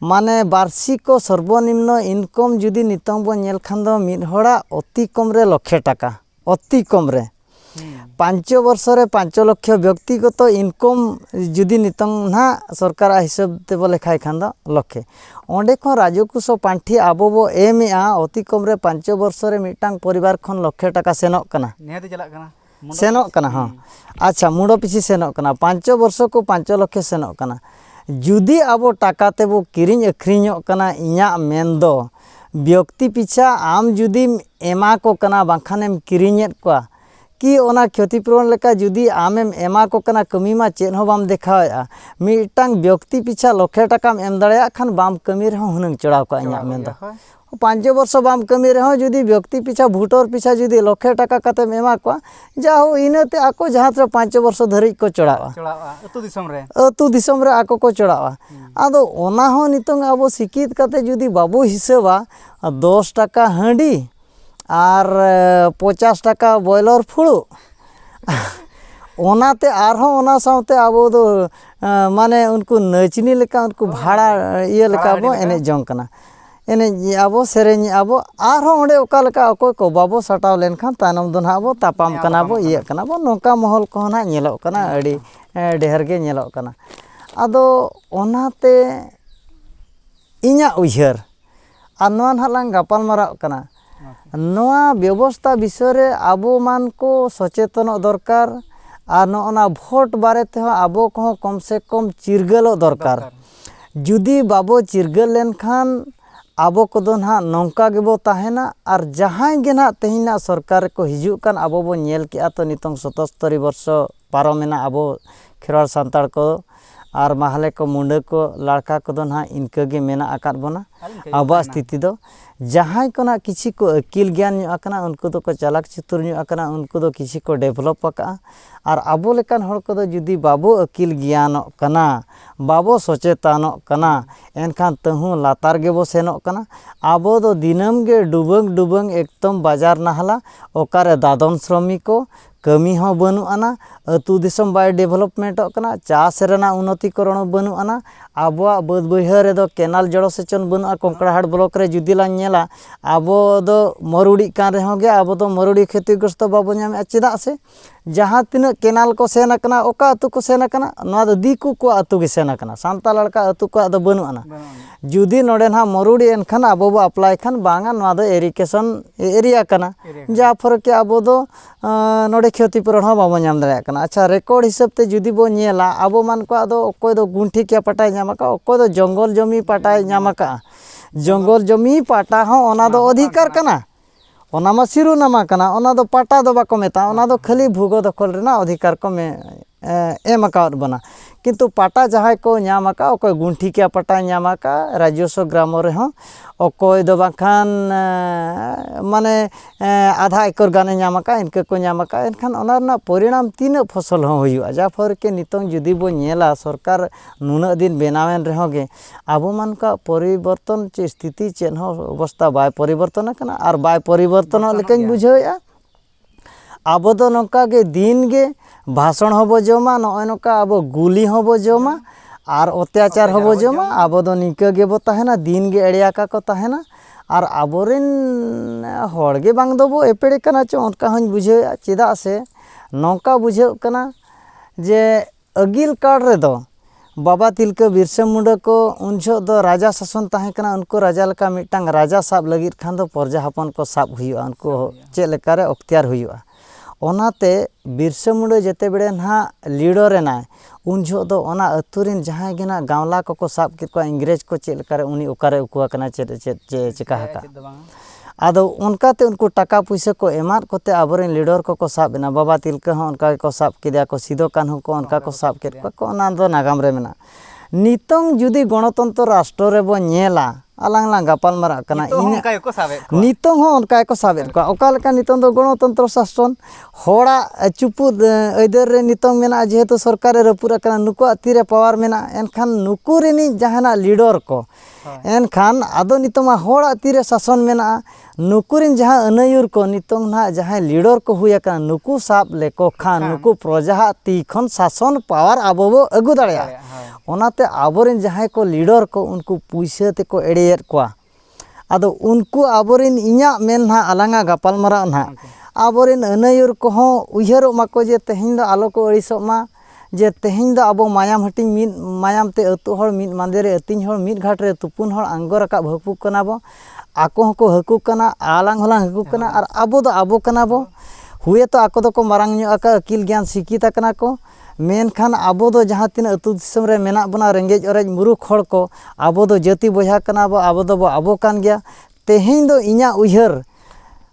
S1: ᱢᱟᱱᱮ ᱵᱟᱨᱥᱤᱠᱚ ᱥᱚᱨᱵᱚ ᱱᱤᱢᱱᱚ ᱤᱱᱠᱚᱢ ᱡᱩᱫᱤ ᱱᱤᱛᱚᱝ ᱵᱚᱱ ᱧᱮᱞ ᱠᱷᱟᱱ ᱫᱚ ᱢᱤᱫ ᱦᱚᱲᱟᱜ ᱚᱛᱤ ᱠᱚᱢ ᱨᱮ ᱞᱚᱠᱷᱮ ᱴᱟᱠᱟ ᱚᱛᱤ ᱠᱚᱢ ᱨᱮ ᱯᱟᱸᱪᱚ ᱵᱚᱨᱥᱚ ᱨᱮ ᱯᱟᱸᱪᱚ ᱞᱚᱠᱷᱚ ᱵᱮᱠᱛᱤᱜᱚᱛᱚ ᱤᱱᱠᱚᱢ ᱡᱩᱫᱤ ᱱᱤᱛᱚᱝ ᱱᱟᱜ ᱥᱚᱨᱠᱟᱨᱟᱜ ᱦᱤᱥᱟᱹᱵ ᱛᱮᱵᱚ ᱞᱮᱠᱷᱟᱭ ᱠᱷᱟᱱ ᱫᱚ ᱞᱚᱠᱷᱮ ᱚᱸᱰᱮ ᱠᱷᱚᱱ ᱨᱟᱡᱚᱠᱩᱥᱚ ᱯᱟᱱᱴᱷᱤ ᱟᱵᱚ ᱵᱚ ᱮᱢ ᱮᱫᱼᱟ ᱚᱛᱤ ᱠᱚᱢ ᱨᱮ ᱯᱟᱸᱪᱚ ᱵᱚᱨᱥᱚ ᱨᱮ ᱢᱤᱫᱴᱟᱝ ᱯᱚᱨᱤᱵᱟᱨ ᱠᱷᱚᱱ ᱞᱚᱠᱷᱮ ᱴᱟᱠᱟ ᱥᱮᱱᱚᱜ ᱠᱟᱱᱟ ᱱᱤᱦᱟᱹᱛᱤ ᱪᱟᱞᱟᱜ ᱠᱟᱱᱟ ᱥᱮᱱᱚᱜ ᱠᱟᱱᱟ ᱦᱚᱸ ᱟᱪᱪᱷᱟ ᱢᱩᱸᱰᱚ ᱯᱤᱪᱷᱤ ᱥᱮᱱᱚᱜ ᱠᱟᱱᱟ ᱯᱟᱸᱪᱚ ᱵᱚᱨᱥᱚ ᱠᱚ ᱯᱟᱸᱪᱚ ᱞᱚᱠᱷᱮ ᱥᱮᱱᱚᱜ ᱠᱟᱱᱟ ᱡᱩᱫᱤ ᱟᱵᱚ ᱴᱟᱠᱟ ᱛᱮᱵᱚ ᱠᱤᱨᱤᱧ ᱟᱹᱠᱷᱨᱤᱧᱚᱜ ᱠᱟᱱᱟ ᱤᱧᱟᱹᱜ ᱢᱮᱱ ᱫᱚ ᱵᱮᱠᱛᱤ ᱯᱤᱪᱷᱟ ᱟᱢ ᱡᱩᱫᱤᱢ ᱮᱢᱟ ᱠᱚ ᱠᱟᱱᱟ ᱵᱟᱝᱠᱷᱟᱱᱮᱢ ᱠᱤᱨᱤᱧᱮᱫ ᱠᱚᱣᱟ ᱠᱤ ᱚᱱᱟ ᱠᱷᱚᱛᱤ ᱯᱩᱨᱚᱱ ᱞᱮᱠᱟ ᱡᱩᱫᱤ ᱟᱢᱮᱢ ᱮᱢᱟ ᱠᱚ ᱠᱟᱱᱟ ᱠᱟᱹᱢᱤ ᱢᱟ ᱪᱮᱫ ᱦᱚᱸ ᱵᱟᱢ ᱫᱮᱠᱷᱟᱣᱮᱫᱼᱟ ᱢᱤᱫᱴᱟᱝ ᱵᱮᱠᱛᱤ ᱯᱤᱪᱷᱟ ᱞᱚᱠᱷᱮ ᱴᱟᱠᱟᱢ ᱮᱢ ᱫᱟᱲᱮᱭᱟᱜ ᱠᱷᱟᱱ ᱵᱟᱢ ᱠᱟᱹᱢᱤ ᱨᱮᱦᱚᱸ ᱦᱩᱱᱟᱹᱝ ᱪᱚᱲᱟᱣ ᱠᱚᱜᱼᱟ ᱤᱧᱟᱹᱜ ᱢᱮᱱ ᱫᱚ ᱯᱟᱸᱪᱮ ᱵᱚᱨᱥᱚ ᱵᱟᱢ ᱠᱟᱹᱢᱤ ᱨᱮᱦᱚᱸ ᱡᱩᱫᱤ ᱵᱮᱠᱛᱤ ᱯᱤᱪᱷᱟ ᱵᱷᱳᱴᱚᱨ ᱯᱤᱪᱷᱟ ᱡᱩᱫᱤ ᱞᱚᱠᱷᱮ ᱴᱟᱠᱟ ᱠᱟᱛᱮᱢ ᱮᱢᱟ ᱠᱚᱣᱟ ᱡᱟᱣ ᱤᱱᱟᱹ ᱛᱮ ᱟᱠᱚ ᱡᱟᱦᱟᱸ ᱛᱤᱱᱟᱹᱜ ᱯᱟᱸᱪᱮ ᱵᱚᱨᱥᱚ ᱫᱷᱟᱹᱨᱤᱡ ᱠᱚ ᱪᱚᱲᱟᱜᱼᱟ ᱟᱹᱛᱩ ᱫᱤᱥᱚᱢ ᱨᱮ ᱟᱹᱛᱩ ᱫᱤᱥᱚᱢ ᱨᱮ ᱟᱠᱚ ᱠᱚ ᱪᱚᱲᱟᱜᱼᱟ ᱟᱫᱚ ᱚᱱᱟ ᱦᱚᱸ ᱱᱤᱛᱚᱝ ᱟᱵᱚ ᱥᱤᱠᱠᱷᱤᱛ ᱠᱟᱛᱮᱫ ᱡᱩᱫᱤ ᱵᱟᱵᱚ ᱦᱤᱥᱟᱹᱵᱟ ᱫᱚᱥ ᱴᱟᱠᱟ ᱦᱟᱺᱰᱤ ᱟᱨ ᱯᱚᱪᱟᱥ ᱴᱟᱠᱟ ᱵᱚᱭᱞᱚᱨ ᱯᱷᱩᱲᱩᱜ ᱚᱱᱟᱛᱮ ᱟᱨᱦᱚᱸ ᱚᱱᱟ ᱥᱟᱶᱛᱮ ᱟᱵᱚ ᱫᱚ ᱢᱟᱱᱮ ᱩᱱᱠᱩ ᱱᱟᱹᱪᱱᱤ ᱞᱮᱠᱟ ᱩᱱᱠᱩ ᱵᱷᱟᱲᱟ ᱤᱭᱟᱹ ᱞᱮᱠᱟ ᱵᱚᱱ ᱮᱱᱮᱡ ᱡᱚᱝ ᱠᱟᱱᱟ ᱮᱱᱮᱡ ᱮᱫᱟ ᱵᱚᱱ ᱥᱮᱨᱮᱧ ᱮᱫᱟ ᱵᱚᱱ ᱟᱨᱦᱚᱸ ᱚᱸᱰᱮ ᱚᱠᱟ ᱞᱮᱠᱟ ᱚᱠᱚᱭ ᱠᱚ ᱵᱟᱵᱚ ᱥᱟᱴᱟᱣ ᱞᱮᱱᱠᱷᱟᱱ ᱛᱟᱭᱱᱚᱢ ᱫᱚ ᱱᱟᱦᱟᱜ ᱵᱚᱱ ᱛᱟᱯᱟᱢ ᱠᱟᱱᱟ ᱵᱚᱱ ᱤᱭᱟᱹᱜ ᱠᱟᱱᱟ ᱵᱚᱱ ᱱᱚᱝᱠᱟ ᱢᱚᱦᱚᱞ ᱠᱚᱦᱚᱸ ᱱᱟᱦᱟᱜ ᱧᱮᱞᱚᱜ ᱠᱟᱱᱟ ᱟᱹᱰᱤ ᱰᱷᱮᱨ ᱜᱮ ᱧᱮᱞᱚᱜ ᱠᱟᱱᱟ ᱟᱫᱚ ᱚᱱᱟᱛᱮ ᱤᱧᱟᱹᱜ ᱩᱭᱦᱟᱹᱨ ᱟᱨ ᱱᱚᱣᱟ ᱱᱟᱦᱟᱜ ᱞᱟᱝ ᱜᱟᱯᱟᱞ ᱢᱟᱨᱟᱜ ᱠᱟᱱᱟ ᱱᱚᱣᱟ ᱵᱮᱵᱚᱥᱛᱟ ᱵᱤᱥᱚᱭ ᱨᱮ ᱟᱵᱚ ᱢᱟᱱ ᱠᱚ ᱥᱚᱪᱮᱛᱚᱱᱚᱜ ᱫᱚᱨᱠᱟᱨ ᱟᱨ ᱱᱚᱜᱼᱚ ᱱᱟ ᱵᱷᱳᱴ ᱵᱟᱨᱮ ᱛᱮᱦᱚᱸ ᱟᱵᱚ ᱠᱚᱦᱚᱸ ᱠᱚᱢ ᱥᱮ ᱠᱚᱢ ᱪᱤᱨᱜᱟᱹᱞᱚᱜ ᱫᱚᱨᱠᱟᱨ ᱡᱩᱫᱤ ᱵᱟᱵᱚ ᱪᱤᱨᱜᱟᱹᱞ ᱞᱮᱱᱠᱷᱟᱱ ᱟᱵᱚ ᱠᱚᱫᱚ ᱱᱟᱦᱟᱜ ᱱᱚᱝᱠᱟ ᱜᱮᱵᱚ ᱛᱟᱦᱮᱱᱟ ᱟᱨ ᱡᱟᱦᱟᱸᱭ ᱜᱮ ᱱᱟᱦᱟᱜ ᱛᱮᱦᱮᱧ ᱱᱟᱦᱟᱜ ᱥᱚᱨᱠᱟᱨ ᱨᱮᱠᱚ ᱦᱤᱡᱩᱜ ᱠᱟᱱ ᱟᱵᱚ ᱵᱚᱱ ᱧᱮᱞ ᱠᱮᱜᱼᱟ ᱛᱚ ᱱᱤᱛᱚᱝ ᱥᱚᱛᱚᱥᱛᱚᱨᱤ ᱵᱚᱨᱥᱚ ᱯᱟᱨᱚᱢᱮᱱᱟ ᱟᱵᱚ ᱠᱷᱮᱨᱣᱟᱲ ᱥᱟᱱᱛᱟᱲ ᱠᱚ ᱟᱨ ᱢᱟᱦᱞᱮ ᱠᱚ ᱢᱩᱸᱰᱟᱹ ᱠᱚ ᱞᱟᱲᱠᱟ ᱠᱚᱫᱚ ᱱᱟᱦᱟᱜ ᱤᱱᱠᱟᱹ ᱜᱮ ᱢᱮᱱᱟᱜ ᱟᱠᱟᱫ ᱵᱚᱱᱟ ᱟᱵᱚᱣᱟᱜ ᱥᱛᱷᱤᱛᱤ ᱫᱚ ᱡᱟᱦᱟᱸᱭ ᱠᱚ ᱱᱟᱦᱟᱜ ᱠᱤᱪᱷᱩ ᱠᱚ ᱟᱹᱠᱤᱞ ᱜᱮᱭᱟᱱ ᱧᱚᱜ ᱟᱠᱟᱱᱟ ᱩᱱᱠᱩ ᱫᱚᱠᱚ ᱪᱟᱞᱟᱠ ᱪᱩᱛᱩᱨ ᱧᱚᱜ ᱟᱠᱟᱱᱟ ᱩᱱᱠᱩ ᱫᱚ ᱠᱤᱪᱷᱩ ᱠᱚ ᱰᱮᱵᱷᱞᱚᱯ ᱟᱠᱟᱫᱼᱟ ᱟᱨ ᱟᱵᱚ ᱞᱮᱠᱟᱱ ᱦᱚᱲ ᱠᱚᱫᱚ ᱡᱩᱫᱤ ᱵᱟᱵᱚ ᱟᱹᱠᱤᱞ ᱜᱮᱭᱟᱱᱚᱜ ᱠᱟᱱᱟ ᱵᱟᱵᱚ ᱥᱚᱪᱮᱛᱚᱱᱚᱜ ᱠᱟᱱᱟ ᱮᱱᱠᱷᱟᱱ ᱛᱟᱹᱦᱩ ᱞᱟᱛᱟᱨ ᱜᱮᱵᱚ ᱥᱮᱱᱚᱜ ᱠᱟᱱᱟ ᱟᱵᱚ ᱫᱚ ᱫᱤᱱᱟᱹᱢ ᱜᱮ ᱰᱩᱵᱟᱹᱝ ᱰᱩᱵᱟᱹᱝ ᱮᱠᱫᱚᱢ ᱵᱟᱡᱟᱨ ᱱᱟᱦᱞᱟ ᱚᱠᱟᱨᱮ ᱫᱟᱫᱚᱱ ᱥᱨᱚᱢᱤᱠ ᱠᱚ ᱠᱟᱹᱢᱤ ᱦᱚᱸ ᱵᱟᱹᱱᱩᱜ ᱟᱱᱟ ᱟᱹᱛᱩ ᱫᱤᱥᱚᱢ ᱵᱟᱭ ᱰᱮᱵᱷᱞᱚᱯᱢᱮᱱᱴᱚᱜ ᱠᱟᱱᱟ ᱪᱟᱥ ᱨᱮᱱᱟᱜ ᱩᱱᱱᱚᱛᱤᱠᱚᱨᱚᱱ ᱦᱚᱸ ᱵᱟᱹᱱᱩᱜ ᱟᱱᱟ ᱟᱵᱚᱣᱟᱜ ᱵᱟᱹᱫᱽ ᱵᱟᱹᱭᱦᱟᱹᱲ ᱨᱮᱫᱚ ᱠᱮᱱᱮᱞ ᱡᱚᱲᱚ ᱥᱮᱪᱚᱱ ᱵᱟᱹᱱᱩᱜᱼᱟ ᱠᱚᱝᱠᱲᱟᱦᱟᱴ ᱵᱞᱚᱠ ᱨᱮ ᱡᱩᱫᱤ ᱞᱟᱝ ᱧᱮᱞᱟ ᱟᱵᱚ ᱫᱚ ᱢᱟᱹᱨᱩᱲᱤᱜ ᱠᱟᱱ ᱨᱮᱦᱚᱸ ᱜᱮ ᱟᱵᱚ ᱫᱚ ᱢᱟᱹᱨᱩᱲᱤ ᱠᱷᱮᱛᱤ ᱜᱨᱚᱥᱛᱚ ᱵᱟᱵᱚ ᱧᱟᱢᱮᱜᱼᱟ ᱪᱮᱫᱟᱜ ᱥᱮ ᱡᱟᱦᱟᱸ ᱛᱤᱱᱟᱹᱜ ᱠᱮᱱᱮᱞ ᱠᱚ ᱥᱮᱱ ᱠᱟᱱᱟ ᱚᱠᱟ ᱟᱹᱛᱩ ᱠᱚ ᱥᱮᱱ ᱠᱟᱱᱟ ᱱᱚᱣᱟ ᱫᱚ ᱫᱤᱠᱩ ᱠᱚᱣᱟᱜ ᱟᱹᱛᱩ ᱜᱮ ᱥᱮᱱ ᱠᱟᱱᱟ ᱥᱟᱱᱛᱟᱲ ᱞᱮᱠᱟᱱ ᱟᱹᱛᱩ ᱠᱚᱣᱟᱜ ᱫᱚ ᱵᱟᱹᱱᱩᱜ ᱟᱱᱟ ᱡᱩᱫᱤ ᱱᱚᱰᱮ ᱱᱟᱦᱟᱜ ᱢᱟᱹᱨᱩᱲᱤ ᱮᱱᱠᱷᱟᱱ ᱟᱵᱚ ᱵᱚᱱ ᱮᱯᱞᱟᱭ ᱠᱷᱟᱱ ᱵᱟᱝᱟ ᱱᱚᱣᱟ ᱫᱚ ᱮᱨᱤᱠᱮᱥᱚᱱ ᱮᱨᱤᱭᱟ ᱠᱟᱱᱟ ᱡᱟᱦᱟᱸ ᱯᱷᱚᱨᱮ ᱠᱤ ᱟᱵᱚ ᱫᱚ ᱱᱚᱰᱮ ᱠᱷᱚᱛᱤ ᱯᱩᱨᱚᱱ ᱦᱚᱸ ᱵᱟᱵᱚᱱ ᱧᱟᱢ ᱫᱟᱲᱮᱭᱟᱜ ᱠᱟᱱᱟ ᱟᱪᱪᱷᱟ ᱨᱮᱠᱚᱨᱰ ᱦᱤᱥᱟᱹᱵ ᱛᱮ ᱡᱩᱫᱤ ᱵᱚᱱ ᱧᱮᱞᱟ ᱟᱵᱚ ᱢᱟᱱ ᱠᱚᱣᱟᱜ ᱫᱚ ᱚᱠᱚᱭ ᱫᱚ ᱜᱩᱱᱴᱷᱤ ᱠᱮᱭᱟ ᱯᱟᱴᱟᱭ ᱧᱟᱢ ᱠᱟᱜᱼᱟ ᱚᱠᱚᱭ ᱫᱚ ᱡᱚᱝᱜᱚᱞ ᱡᱚᱢᱤ ᱯᱟᱴᱟᱭ ᱧᱟᱢ ᱠᱟᱜᱼᱟ ᱡᱚᱝᱜᱚᱞ ᱡᱚᱢᱤ ᱯᱟᱴᱟ ᱦᱚᱸ ᱚᱱᱟ ᱫᱚ ᱚᱫᱷᱤᱠᱟᱨ ᱠᱟᱱᱟ ᱚᱱᱟ ᱢᱟ ᱥᱤᱨᱳ ᱱᱟᱢᱟ ᱠᱟᱱᱟ ᱚᱱᱟ ᱫᱚ ᱯᱟᱴᱟ ᱫᱚ ᱵᱟᱠᱚ ᱢᱮᱛᱟᱜᱼᱟ ᱚᱱᱟ ᱫᱚ ᱠᱷᱟᱹᱞᱤ ᱵᱷᱩᱜᱳ ᱫᱚᱠᱷᱚᱞ ᱨᱮᱱᱟᱜ ᱚᱫᱷᱤᱠᱟᱨ ᱠᱚ ᱮᱢ ᱟᱠᱟᱣᱟᱫ ᱵᱚᱱᱟ ᱠᱤᱱᱛᱩ ᱯᱟᱴᱟ ᱡᱟᱦᱟᱸᱭ ᱠᱚ ᱧᱟᱢ ᱟᱠᱟᱫᱼᱟ ᱚᱠᱚᱭ ᱜᱩᱱᱴᱷᱤᱠᱤᱭᱟᱹ ᱯᱟᱴᱟᱭ ᱧᱟᱢ ᱟᱠᱟᱫᱼᱟ ᱨᱟᱡᱚᱥᱥᱚ ᱜᱨᱟᱢᱚ ᱨᱮᱦᱚᱸ ᱚᱠᱚᱭ ᱫᱚ ᱵᱟᱝᱠᱷᱟᱱ ᱢᱟᱱᱮ ᱟᱫᱷᱟ ᱮᱠᱚᱨ ᱜᱟᱱᱮ ᱧᱟᱢ ᱟᱠᱟᱫᱼᱟ ᱤᱱᱠᱟᱹ ᱠᱚ ᱧᱟᱢ ᱟᱠᱟᱫᱼᱟ ᱮᱱᱠᱷᱟᱱ ᱚᱱᱟ ᱨᱮᱱᱟᱜ ᱯᱚᱨᱤᱱᱟᱢ ᱛᱤᱱᱟᱹᱜ ᱯᱷᱚᱥᱚᱞ ᱦᱚᱸ ᱦᱩᱭᱩᱜᱼᱟ ᱡᱟ ᱯᱷᱚᱨ ᱠᱤ ᱱᱤᱛᱚᱝ ᱡᱩᱫᱤ ᱵᱚᱱ ᱧᱮᱞᱟ ᱥᱚᱨᱠᱟᱨ ᱱᱩᱱᱟᱹᱜ ᱫᱤᱱ ᱵᱮᱱᱟᱣᱮᱱ ᱨᱮᱦᱚᱸ ᱜᱮ ᱟᱵᱚ ᱢᱟ ᱱᱚᱝᱠᱟ ᱯᱚᱨᱤᱵᱚᱨᱛᱚᱱ ᱥᱛᱷᱤᱛᱤ ᱪᱮᱫ ᱦᱚᱸ ᱚᱵᱚᱥᱛᱷᱟ ᱵᱟᱭ ᱯᱚᱨᱤᱵᱚᱨᱛᱚᱱ ᱟᱠᱟᱱᱟ ᱟᱨ ᱵᱟᱭ ᱯᱚᱨᱤᱵᱚᱨᱛᱚᱱᱚᱜ ᱞᱮᱠᱟᱧ ᱵᱩᱡᱷᱟᱹᱣᱮᱫᱼᱟ ᱟᱵᱚ ᱫᱚ ᱱᱚᱝᱠᱟ ᱜᱮ ᱫᱤᱱ ᱜᱮ ᱵᱷᱟᱥᱚᱱ ᱦᱚᱸᱵᱚ ᱡᱚᱢᱟ ᱱᱚᱜᱼᱚᱭ ᱱᱚᱝᱠᱟ ᱟᱵᱚ ᱜᱩᱞᱤ ᱦᱚᱸᱵᱚ ᱡᱚᱢᱟ ᱟᱨ ᱚᱛᱛᱟᱪᱟᱨ ᱦᱚᱸᱵᱚ ᱡᱚᱢᱟ ᱟᱵᱚ ᱫᱚ ᱱᱤᱝᱠᱟᱹ ᱜᱮᱵᱚ ᱛᱟᱦᱮᱱᱟ ᱫᱤᱱ ᱜᱮ ᱮᱲᱮ ᱟᱠᱟ ᱠᱚ ᱛᱟᱦᱮᱱᱟ ᱟᱨ ᱟᱵᱚ ᱨᱮᱱ ᱦᱚᱲ ᱜᱮ ᱵᱟᱝ ᱫᱚᱵᱚ ᱮᱯᱮᱲᱮ ᱠᱟᱱᱟ ᱪᱚᱝ ᱚᱱᱠᱟ ᱦᱚᱧ ᱵᱩᱡᱷᱟᱹᱣᱮᱜᱼᱟ ᱪᱮᱫᱟᱜ ᱥᱮ ᱱᱚᱝᱠᱟ ᱵᱩᱡᱷᱟᱹᱜ ᱠᱟᱱᱟ ᱡᱮ ᱟᱹᱜᱤᱞ ᱠᱟᱲ ᱨᱮᱫᱚ ᱵᱟᱵᱟ ᱛᱤᱞᱠᱟᱹ ᱵᱤᱨᱥᱟᱹ ᱢᱩᱸᱰᱟᱹ ᱠᱚ ᱩᱱ ᱡᱚᱦᱚᱜ ᱫᱚ ᱨᱟᱡᱟ ᱥᱟᱥᱚᱱ ᱛᱟᱦᱮᱸ ᱠᱟᱱᱟ ᱩᱱᱠᱩ ᱨᱟᱡᱟ ᱞᱮᱠᱟ ᱢᱤᱫᱴᱟᱝ ᱨᱟᱡᱟ ᱥᱟᱵ ᱞᱟᱹᱜᱤᱫ ᱠᱷᱟᱱ ᱫᱚ ᱯᱚᱨᱡᱟ ᱦᱚᱯᱚᱱ ᱠᱚ ᱥᱟᱵ ᱦᱩᱭᱩᱜᱼᱟ ᱩᱱᱠᱩ ᱪᱮᱫ ᱞᱮᱠᱟ ᱨᱮ ᱚᱠᱛᱮᱭᱟᱨ ᱦᱩᱭᱩᱜᱼᱟ ᱚᱱᱟᱛᱮ ᱵᱤᱨᱥᱟᱹ ᱢᱩᱸᱰᱟᱹ ᱡᱮᱛᱮ ᱵᱮᱲᱮ ᱱᱟᱦᱟᱜ ᱞᱤᱰᱚᱨ ᱮᱱᱟᱭ ᱩᱱ ᱡᱚᱦᱚᱜ ᱫᱚ ᱚᱱᱟ ᱟᱹᱛᱩ ᱨᱮᱱ ᱡᱟᱦᱟᱸᱭ ᱜᱮ ᱱᱟᱦᱟᱜ ᱜᱟᱶᱞᱟ ᱠᱚᱠᱚ ᱥᱟᱵ ᱠᱮᱫ ᱠᱚᱣᱟ ᱤᱝᱨᱮᱡᱽ ᱠᱚ ᱪᱮᱫ ᱞᱮᱠᱟ ᱨᱮ ᱩᱱᱤ ᱚᱠᱟᱨᱮ ᱩᱠᱩ ᱟᱠᱟᱱᱟᱭ ᱪᱮᱫ ᱮ ᱪᱮᱫ ᱮ ᱪᱤᱠᱟᱹ ᱟᱠᱟᱫᱼᱟ ᱟᱫᱚ ᱚᱱᱠᱟᱛᱮ ᱩᱱᱠᱩ ᱴᱟᱠᱟ ᱯᱩᱭᱥᱟᱹ ᱠᱚ ᱮᱢᱟᱫ ᱠᱚᱛᱮ ᱟᱵᱚᱨᱮᱱ ᱞᱤᱰᱚᱨ ᱠᱚᱠᱚ ᱥᱟᱵ ᱮᱱᱟ ᱵᱟᱵᱟ ᱛᱤᱞᱠᱟᱹ ᱦᱚᱸ ᱚᱱᱠᱟ ᱜᱮᱠᱚ ᱥᱟᱵ ᱠᱮᱫᱮᱭᱟ ᱠᱚ ᱥᱤᱫᱩ ᱠᱟᱹᱱᱦᱩ ᱠᱚ ᱚᱱᱠᱟ ᱠᱚ ᱥᱟᱵ ᱠᱮᱫ ᱠᱚᱣᱟ ᱠᱚ ᱚᱱᱟ ᱫᱚ ᱱᱟᱜᱟᱢ ᱨᱮ ᱢᱮᱱᱟᱜᱼᱟ ᱱᱤᱛᱚᱝ ᱡᱩᱫᱤ ᱜᱚᱱᱚᱛᱚᱱᱛᱨᱚ ᱨᱟᱥᱴᱨᱚ ᱨᱮᱵᱚ ᱧᱮᱞᱟ ᱟᱞᱟᱝ ᱞᱟᱝ ᱜᱟᱯᱟᱞ ᱢᱟᱨᱟᱜ ᱠᱟᱱᱟ ᱱᱤᱛᱚᱜ ᱦᱚᱸ ᱚᱱᱠᱟ ᱜᱮᱠᱚ ᱥᱟᱵᱮᱫ ᱠᱚᱣᱟ ᱚᱠᱟ ᱞᱮᱠᱟ ᱱᱤᱛᱚᱝ ᱫᱚ ᱜᱚᱱᱚᱛᱚᱱᱛᱨᱚ ᱥᱟᱥᱚᱱ ᱦᱚᱲᱟᱜ ᱪᱩᱯᱩᱫ ᱟᱹᱭᱫᱟᱹᱨ ᱨᱮ ᱱᱤᱛᱚᱝ ᱢᱮᱱᱟᱜᱼᱟ ᱡᱮᱦᱮᱛᱩ ᱥᱚᱨᱠᱟᱨᱮ ᱨᱟᱹᱯᱩᱫ ᱟᱠᱟᱱᱟ ᱱᱩᱠᱩᱣᱟᱜ ᱛᱤᱨᱮ ᱯᱟᱣᱟᱨ ᱢᱮᱱᱟᱜᱼᱟ ᱮᱱᱠᱷᱟᱱ ᱱᱩᱠᱩ ᱨᱤᱱᱤᱡ ᱡᱟᱦᱟᱱᱟᱜ ᱞᱤᱰᱚᱨ ᱠᱚ ᱦᱳᱭ ᱮᱱᱠᱷᱟᱱ ᱟᱫᱚ ᱱᱤᱛᱚᱜ ᱢᱟ ᱦᱚᱲᱟᱜ ᱛᱤᱨᱮ ᱥᱟᱥᱚᱱ ᱢᱮᱱᱟᱜᱼᱟ ᱱᱩᱠᱩ ᱨᱮᱱ ᱡᱟᱦᱟᱸ ᱟᱹᱱᱟᱹᱭᱩᱨ ᱠᱚ ᱱᱤᱛᱚᱝ ᱱᱟᱦᱟᱜ ᱡᱟᱦᱟᱸᱭ ᱞᱤᱰᱚᱨ ᱠᱚ ᱦᱩᱭ ᱟᱠᱟᱱᱟ ᱱᱩᱠᱩ ᱥᱟᱵ ᱞᱮᱠᱚ ᱠᱷᱟᱱ ᱠᱷᱟᱱ ᱱᱩᱠᱩ ᱯᱨᱚᱡᱟᱦᱟᱜ ᱛᱤ ᱠᱷᱚᱱ ᱥᱟᱥᱚᱱ ᱯᱟᱣᱟᱨ ᱟᱵᱚ ᱵᱚ ᱟᱹᱜᱩ ᱫᱟᱲᱮᱭᱟᱜᱼᱟ ᱫᱟᱲᱮᱭᱟᱜᱼᱟ, ᱦᱳᱭ᱾ ᱚᱱᱟᱛᱮ ᱟᱵᱚᱨᱮᱱ ᱡᱟᱦᱟᱸᱭ ᱠᱚ ᱞᱤᱰᱚᱨ ᱠᱚ ᱩᱱᱠᱩ ᱯᱩᱭᱥᱟᱹ ᱛᱮᱠᱚ ᱮᱲᱮᱭᱮᱫ ᱠᱚᱣᱟ ᱟᱫᱚ ᱩᱱᱠᱩ ᱟᱵᱚᱨᱮᱱ ᱤᱧᱟᱹᱜ ᱢᱮᱱ ᱱᱟᱦᱟᱜ ᱟᱞᱟᱝᱟᱜ ᱜᱟᱯᱟᱞᱢᱟᱨᱟᱣ ᱱᱟᱦᱟᱜ ᱟᱵᱚᱨᱮᱱ ᱟᱹᱱᱟᱹᱭᱩᱨ ᱠᱚᱦᱚᱸ ᱩᱭᱦᱟᱹᱨᱚᱜ ᱢᱟᱠᱚ ᱡᱮ ᱛᱮᱦᱮᱧ ᱫᱚ ᱟᱞᱚ ᱠᱚ ᱟᱹᱲᱤᱥᱚᱜ ᱢᱟ ᱡᱮ ᱛᱮᱦᱮᱧ ᱫᱚ ᱟᱵᱚ ᱢᱟᱭᱟᱢ ᱦᱟᱹᱴᱤᱧ ᱢᱤᱫ ᱢᱟᱭᱟᱢ ᱛᱮ ᱟᱹᱛᱩᱜ ᱦᱚᱲ ᱢᱤᱫ ᱢᱟᱫᱮ ᱨᱮ ᱟᱹᱛᱤᱧ ᱦᱚᱲ ᱢᱤᱫ ᱜᱷᱟᱴ ᱨᱮ ᱛᱩᱯᱩᱱ ᱦᱚᱲ ᱟᱬᱜᱚ ᱨᱟᱠᱟᱵ ᱦᱟᱹᱠᱩ ᱠᱟᱱᱟ ᱵᱚᱱ ᱟᱠᱚ ᱦᱚᱸᱠᱚ ᱦᱟᱹᱠᱩ ᱠᱟᱱᱟ ᱟᱞᱟᱝ ᱦᱚᱸᱞᱟᱝ ᱦᱟᱹᱠᱩ ᱠᱟᱱᱟ ᱟᱨ ᱟᱵᱚ ᱫᱚ ᱟᱵᱚ ᱠᱟᱱᱟ ᱵᱚᱱ ᱦᱳᱭᱛᱳ ᱟᱠᱚ ᱫᱚᱠᱚ ᱢᱟᱨᱟᱝ ᱧᱚᱜ ᱟᱠᱟᱫᱼᱟ ᱟᱹᱠᱤᱞ ᱜᱮᱭᱟᱱ ᱥᱤᱠᱠᱷᱤᱛ ᱟᱠᱟᱱᱟ ᱠᱚ ᱢᱮᱱᱠᱷᱟᱱ ᱟᱵᱚ ᱫᱚ ᱡᱟᱦᱟᱸ ᱛᱤᱱᱟᱹᱜ ᱟᱹᱛᱩ ᱫᱤᱥᱚᱢ ᱨᱮ ᱢᱮᱱᱟᱜ ᱵᱚᱱᱟ ᱨᱮᱸᱜᱮᱡ ᱚᱨᱮᱡ ᱢᱩᱨᱩᱠᱷ ᱦᱚᱲ ᱠᱚ ᱟᱵᱚ ᱫᱚ ᱡᱟᱹᱛᱤ ᱵᱚᱭᱦᱟ ᱠᱟᱱᱟ ᱵᱚᱱ ᱟᱵᱚ ᱫᱚᱵᱚᱱ ᱟᱵᱚ ᱠᱟᱱ ᱜᱮᱭᱟ ᱛᱮᱦᱮᱧ ᱫᱚ ᱤᱧᱟᱹᱜ ᱩᱭᱦᱟᱹᱨ